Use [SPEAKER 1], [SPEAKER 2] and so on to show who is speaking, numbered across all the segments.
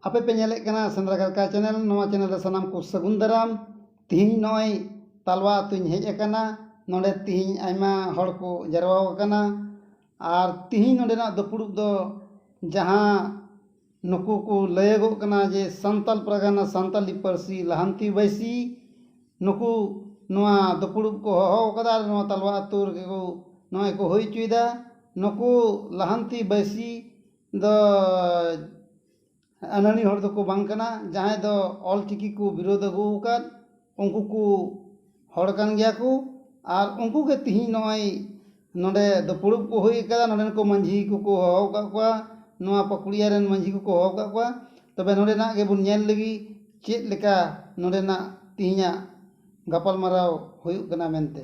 [SPEAKER 1] ᱟᱯᱮ ᱯᱮ ᱧᱮᱞᱮᱫ ᱠᱟᱱᱟ ᱥᱮᱸᱫᱽᱨᱟ ᱠᱟᱨᱠᱟ ᱪᱮᱱᱮᱞ ᱱᱚᱣᱟ ᱪᱮᱱᱮᱞ ᱨᱮ ᱥᱟᱱᱟᱢ ᱠᱚ ᱥᱟᱹᱜᱩᱱ ᱫᱟᱨᱟᱢ ᱛᱮᱦᱮᱧ ᱱᱚᱜᱼᱚᱭ ᱛᱟᱞᱣᱟ ᱟᱹᱛᱩᱧ ᱦᱮᱡ ᱟᱠᱟᱱᱟ ᱱᱚᱰᱮ ᱛᱮᱦᱮᱧ ᱟᱭᱢᱟ ᱦᱚᱲ ᱠᱚ ᱡᱟᱨᱣᱟ ᱟᱠᱟᱱᱟ ᱟᱨ ᱛᱮᱦᱮᱧ ᱱᱚᱰᱮᱱᱟᱜ ᱫᱩᱯᱲᱩᱵ ᱫᱚ ᱡᱟᱦᱟᱸ ᱱᱩᱠᱩ ᱠᱚ ᱞᱟᱹᱭᱟᱹᱜᱚᱜ ᱠᱟᱱᱟ ᱡᱮ ᱥᱟᱱᱛᱟᱲ ᱯᱟᱨᱜᱟᱱᱟ ᱥᱟᱱᱛᱟᱲᱤ ᱯᱟᱹᱨᱥᱤ ᱞᱟᱦᱟᱱᱛᱤ ᱵᱟᱹᱭᱥᱤ ᱱᱩᱠᱩ ᱱᱚᱣᱟ ᱫᱩᱯᱲᱩᱵ ᱠᱚ ᱦᱚᱦᱚ ᱟᱠᱟᱫᱟ ᱟᱨ ᱱᱚᱣᱟ ᱛᱟᱞᱣᱟ ᱟᱹᱛᱩ ᱨᱮᱜᱮ ᱠᱚ ᱱᱚᱜᱼᱚᱭ ᱠᱚ ᱦᱩᱭ ᱦᱚᱪᱚᱭᱮᱫᱟ ᱱᱩᱠᱩ ᱞᱟᱦᱟᱱᱛᱤ ᱵᱟᱹᱭᱥᱤ ᱫᱚ ᱟᱹᱱᱟᱹᱲᱤ ᱦᱚᱲ ᱫᱚᱠᱚ ᱵᱟᱝ ᱠᱟᱱᱟ ᱡᱟᱦᱟᱸᱭ ᱫᱚ ᱚᱞ ᱪᱤᱠᱤ ᱠᱚ ᱵᱤᱨᱳᱫᱷ ᱟᱹᱜᱩ ᱟᱠᱟᱫ ᱩᱱᱠᱩ ᱠᱚ ᱦᱚᱲ ᱠᱟᱱ ᱜᱮᱭᱟ ᱠᱚ ᱟᱨ ᱩᱱᱠᱩ ᱜᱮ ᱛᱤᱦᱤᱧ ᱱᱚᱜᱼᱚᱭ ᱱᱚᱰᱮ ᱫᱩᱯᱲᱩᱵ ᱠᱚ ᱦᱩᱭ ᱟᱠᱟᱱᱟ ᱱᱚᱰᱮᱱ ᱠᱚ ᱢᱟᱹᱡᱷᱤ ᱠᱚᱠᱚ ᱦᱚᱦᱚ ᱟᱠᱟᱫ ᱠᱚᱣᱟ ᱱᱚᱣᱟ ᱯᱟᱹᱠᱩᱲᱤᱭᱟᱹ ᱨᱮᱱ ᱢᱟᱹᱡᱷᱤ ᱠᱚᱠᱚ ᱦᱚᱦᱚ ᱟᱠᱟᱫ ᱠᱚᱣᱟ ᱛᱚᱵᱮ ᱱᱚᱰᱮᱱᱟᱜ ᱜᱮᱵᱚᱱ ᱧᱮᱞ ᱞᱮᱜᱮ ᱪᱮᱫ ᱞᱮᱠᱟ ᱱᱚᱰᱮᱱᱟᱜ ᱛᱤᱦᱤᱧᱟᱜ ᱜᱟᱯᱟᱞ ᱢᱟᱨᱟᱣ ᱦᱩᱭᱩᱜ ᱠᱟᱱᱟ ᱢᱮᱱᱛᱮ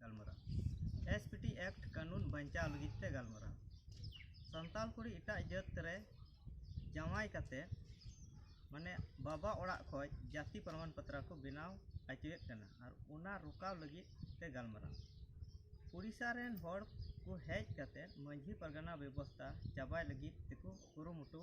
[SPEAKER 2] ᱜᱟᱞᱢᱟᱨᱟᱣ ᱮᱥ ᱯᱤ ᱴᱤ ᱮᱠᱴ ᱠᱟᱹᱱᱩᱱ ᱵᱟᱧᱪᱟᱣ ᱞᱟᱹᱜᱤᱫ ᱛᱮ ᱜᱟᱞᱢᱟᱨᱟᱣ ᱥᱟᱱᱛᱟᱲ ᱠᱩᱲᱤ ᱮᱴᱟᱜ ᱡᱟᱹᱛ ᱨᱮ ᱡᱟᱶᱟᱭ ᱠᱟᱛᱮ ᱢᱟᱱᱮ ᱵᱟᱵᱟ ᱚᱲᱟᱜ ᱠᱷᱚᱱ ᱡᱟᱹᱛᱤ ᱯᱨᱚᱢᱟᱱ ᱯᱚᱛᱨᱚ ᱠᱚ ᱵᱮᱱᱟᱣ ᱦᱚᱪᱚᱭᱮᱫ ᱠᱟᱱᱟ ᱟᱨ ᱚᱱᱟ ᱨᱚᱠᱟᱣ ᱞᱟᱹᱜᱤᱫ ᱛᱮ ᱜᱟᱞᱢᱟᱨᱟᱣ ᱳᱰᱤᱥᱟ ᱨᱮᱱ ᱦᱚᱲ ᱠᱚ ᱦᱮᱡ ᱠᱟᱛᱮ ᱢᱟᱹᱡᱷᱤ ᱯᱟᱨᱜᱟᱱᱟ ᱵᱮᱵᱚᱥᱛᱟ ᱪᱟᱵᱟᱭ ᱞᱟᱹᱜᱤᱫ ᱛᱮᱠᱚ ᱠᱩᱨᱩᱢᱩᱴᱩ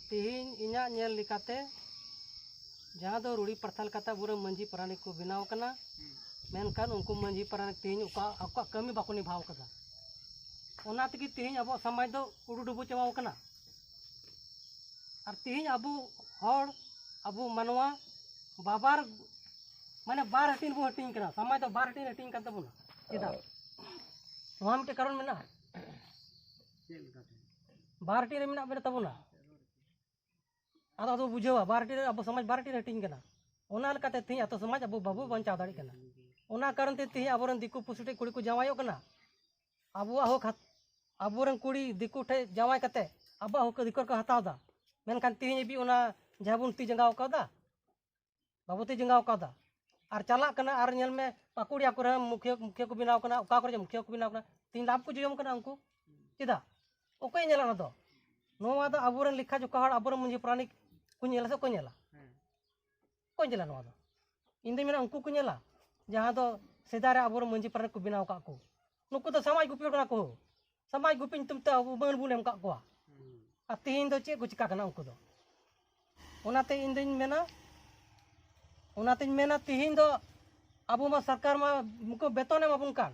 [SPEAKER 3] ᱛᱮᱦᱮᱧ ᱤᱧᱟᱹᱜ ᱧᱮᱞ ᱞᱮᱠᱟᱛᱮ ᱡᱟᱦᱟᱸ ᱫᱚ ᱨᱩᱲᱤ ᱯᱨᱟᱛᱷᱟ ᱞᱮᱠᱟᱛᱮ ᱟᱵᱚᱨᱮᱱ ᱢᱟᱺᱡᱷᱤ ᱯᱟᱨᱟᱱᱤᱠ ᱠᱚ ᱵᱮᱱᱟᱣ ᱠᱟᱱᱟ ᱢᱮᱱᱠᱷᱟᱱ ᱩᱱᱠᱩ ᱢᱟᱺᱡᱷᱤ ᱯᱟᱨᱟᱱᱤᱠ ᱛᱮᱦᱮᱧ ᱚᱠᱟ ᱟᱠᱚᱣᱟᱜ ᱠᱟᱹᱢᱤ ᱵᱟᱠᱚ ᱱᱤᱵᱷᱟᱣ ᱠᱟᱫᱟ ᱚᱱᱟ ᱛᱮᱜᱮ ᱛᱮᱦᱮᱧ ᱟᱵᱚᱣᱟᱜ ᱥᱚᱢᱟᱡᱽ ᱫᱚ ᱩᱰᱩ ᱰᱩᱵᱩ ᱪᱟᱵᱟᱣ ᱠᱟᱱᱟ ᱟᱨ ᱛᱮᱦᱮᱧ ᱟᱵᱚ ᱦᱚᱲ ᱟᱵᱚ ᱢᱟᱱᱣᱟ ᱵᱟᱵᱟᱨ ᱢᱟᱱᱮ ᱵᱟᱨ ᱦᱟᱹᱴᱤᱧ ᱵᱚ ᱦᱟᱹᱴᱤᱧ ᱠᱟᱱᱟ ᱥᱚᱢᱟᱡᱽ ᱫᱚ ᱵᱟᱨ ᱦᱟᱹᱴᱤᱧ ᱦᱟᱹᱴᱤᱧ ᱠᱟᱱ ᱛᱟᱵᱚᱱᱟ ᱪᱮᱫᱟᱜ ᱱᱚᱣᱟ ᱢᱤᱫᱴᱮᱱ ᱠᱟᱨᱚᱱ ᱢᱮᱱᱟᱜᱼᱟ ᱵᱟᱨᱴᱤ ᱨᱮ ᱢᱮᱱᱟᱜ ᱵᱮᱱᱟ ᱛᱟᱵᱚᱱᱟ ᱟᱫᱚ ᱟᱫᱚ ᱵᱩᱡᱷᱟᱹᱣᱟ ᱵᱟᱨᱴᱤ ᱨᱮ ᱟᱵᱚ ᱥᱚᱢᱟᱡᱽ ᱵᱟᱨᱴᱤ ᱨᱮ ᱦᱟᱹᱴᱤᱧ ᱠᱟᱱᱟ ᱚᱱᱟ ᱞᱮᱠᱟᱛᱮ ᱛᱮᱦᱮᱧ ᱟᱛᱳ ᱥᱚᱢᱟᱡᱽ ᱟᱵᱚ ᱵᱟᱵᱚ ᱵᱟᱧᱪᱟᱣ ᱫᱟᱲᱮᱭᱟᱜ ᱠᱟᱱᱟ ᱚᱱᱟ ᱠᱟᱨᱚᱱ ᱛᱮ ᱛᱮᱦᱮᱧ ᱟᱵᱚᱨᱮᱱ ᱫᱤᱠᱩ ᱯᱩᱥᱤ ᱴᱷᱮᱡ ᱠᱩᱲᱤ ᱠᱚ ᱡᱟᱶᱟᱭᱚᱜ ᱠᱟᱱᱟ ᱟᱵᱚᱣᱟᱜ ᱦᱚᱸ ᱠᱷᱟᱛ ᱟᱵᱚᱨᱮᱱ ᱠᱩᱲᱤ ᱫᱤᱠᱩ ᱴᱷᱮᱡ ᱡᱟᱶᱟᱭ ᱠᱟᱛᱮ ᱟᱵᱚᱣᱟᱜ ᱦᱚᱸ ᱫᱤᱠᱩ ᱠᱚ ᱦᱟᱛᱟᱣ ᱮᱫᱟ ᱢᱮᱱᱠᱷᱟᱱ ᱛᱮᱦᱮᱧ ᱦᱟᱹᱵᱤᱡ ᱚᱱᱟ ᱡᱟᱦᱟᱸ ᱵᱚᱱ ᱛᱤ ᱡᱟᱸᱜᱟᱣ ᱠᱟᱣᱫᱟ ᱵᱟᱵᱚᱛᱤ ᱡᱚᱸᱜᱟᱣ ᱠᱟᱣᱫᱟ ᱟᱨ ᱪᱟᱞᱟᱜ ᱠᱟᱱᱟ ᱟᱨ ᱧᱮᱞ ᱢᱮ ᱯᱟᱠᱩᱲᱤᱭᱟ ᱠᱚᱨᱮ ᱢᱩᱠᱷᱤᱭᱟᱹ ᱢᱩᱠᱷᱤᱭᱟᱹ ᱠᱚ ᱵᱮᱱᱟᱣ ᱠᱟᱱᱟ ᱚᱠᱟ ᱠᱚᱨᱮ ᱢᱩᱠᱷᱤᱭᱟᱹ ᱠᱚ ᱵᱮᱱᱟᱣ ᱠᱟᱱᱟ ᱛᱤᱧ ᱞᱟᱵᱷ ᱠᱚ ᱡᱚᱡᱚᱢ ᱠᱟᱱᱟ ᱩᱱᱠᱩ ᱪᱮᱫᱟᱜ ᱚᱠᱚᱭ ᱧᱮᱞᱟ ᱚᱱᱟ ᱫᱚ ᱱᱚᱣᱟ ᱫᱚ ᱟᱵᱚᱨᱮᱱ ᱞᱮᱠᱷᱟ ᱡᱚᱠᱷᱟ ᱦᱚᱲ ᱟᱵᱚᱨᱮᱱ ᱢᱟᱺᱡᱷᱤ ᱯᱨᱟᱱᱤᱠ ᱠᱚ ᱧᱮᱞᱟ ᱥᱮ ᱠᱚ ᱧᱮᱞᱟ ᱠᱚ ᱧᱮᱞᱟ ᱱᱚᱣᱟ ᱫᱚ ᱤᱧ ᱫᱚᱧ ᱢᱮᱱᱟ ᱩᱱᱠᱩ ᱠᱚ ᱧᱮᱞᱟ ᱡᱟᱦᱟᱸ ᱫᱚ ᱥᱮᱫᱟᱭ ᱨᱮ ᱟᱵᱚᱨᱮᱱ ᱢᱟᱺᱡᱷᱤ ᱯᱨᱟᱱᱤᱠ ᱠᱚ ᱵᱮᱱᱟᱣ ᱠᱟᱜ ᱠᱚ ᱱᱩᱠᱩ ᱫᱚ ᱥᱟᱢᱟᱡᱽ ᱜᱩᱯᱤ ᱦᱚᱲ ᱠᱟᱱᱟ ᱠᱚ ᱥᱟᱢᱟᱡᱽ ᱜᱩᱯᱤ ᱧᱩᱛᱩᱢ ᱛᱮ ᱟᱵᱚ ᱵᱟᱹᱱ ᱵᱚᱱ ᱮᱢ ᱠᱟᱜ ᱠᱚᱣᱟ ᱟᱨ ᱛᱮᱦᱮᱧ ᱫᱚ ᱪᱮᱫ ᱠᱚ ᱪᱤᱠᱟ ᱠᱟᱱᱟ ᱩᱱᱠᱩ ᱫᱚ ᱚᱱᱟᱛᱮ ᱤᱧ ᱫᱚᱧ ᱢᱮᱱᱟ ᱚᱱᱟᱛᱮᱧ ᱢᱮᱱᱟ ᱛᱮᱦᱮᱧ ᱫᱚ ᱟᱵᱚ ᱢᱟ ᱥᱚᱨᱠᱟᱨ ᱢᱟ ᱩᱱᱠᱩ ᱵᱮᱛᱚᱱ ᱮᱢᱟᱵᱚᱱ ᱠᱟᱱ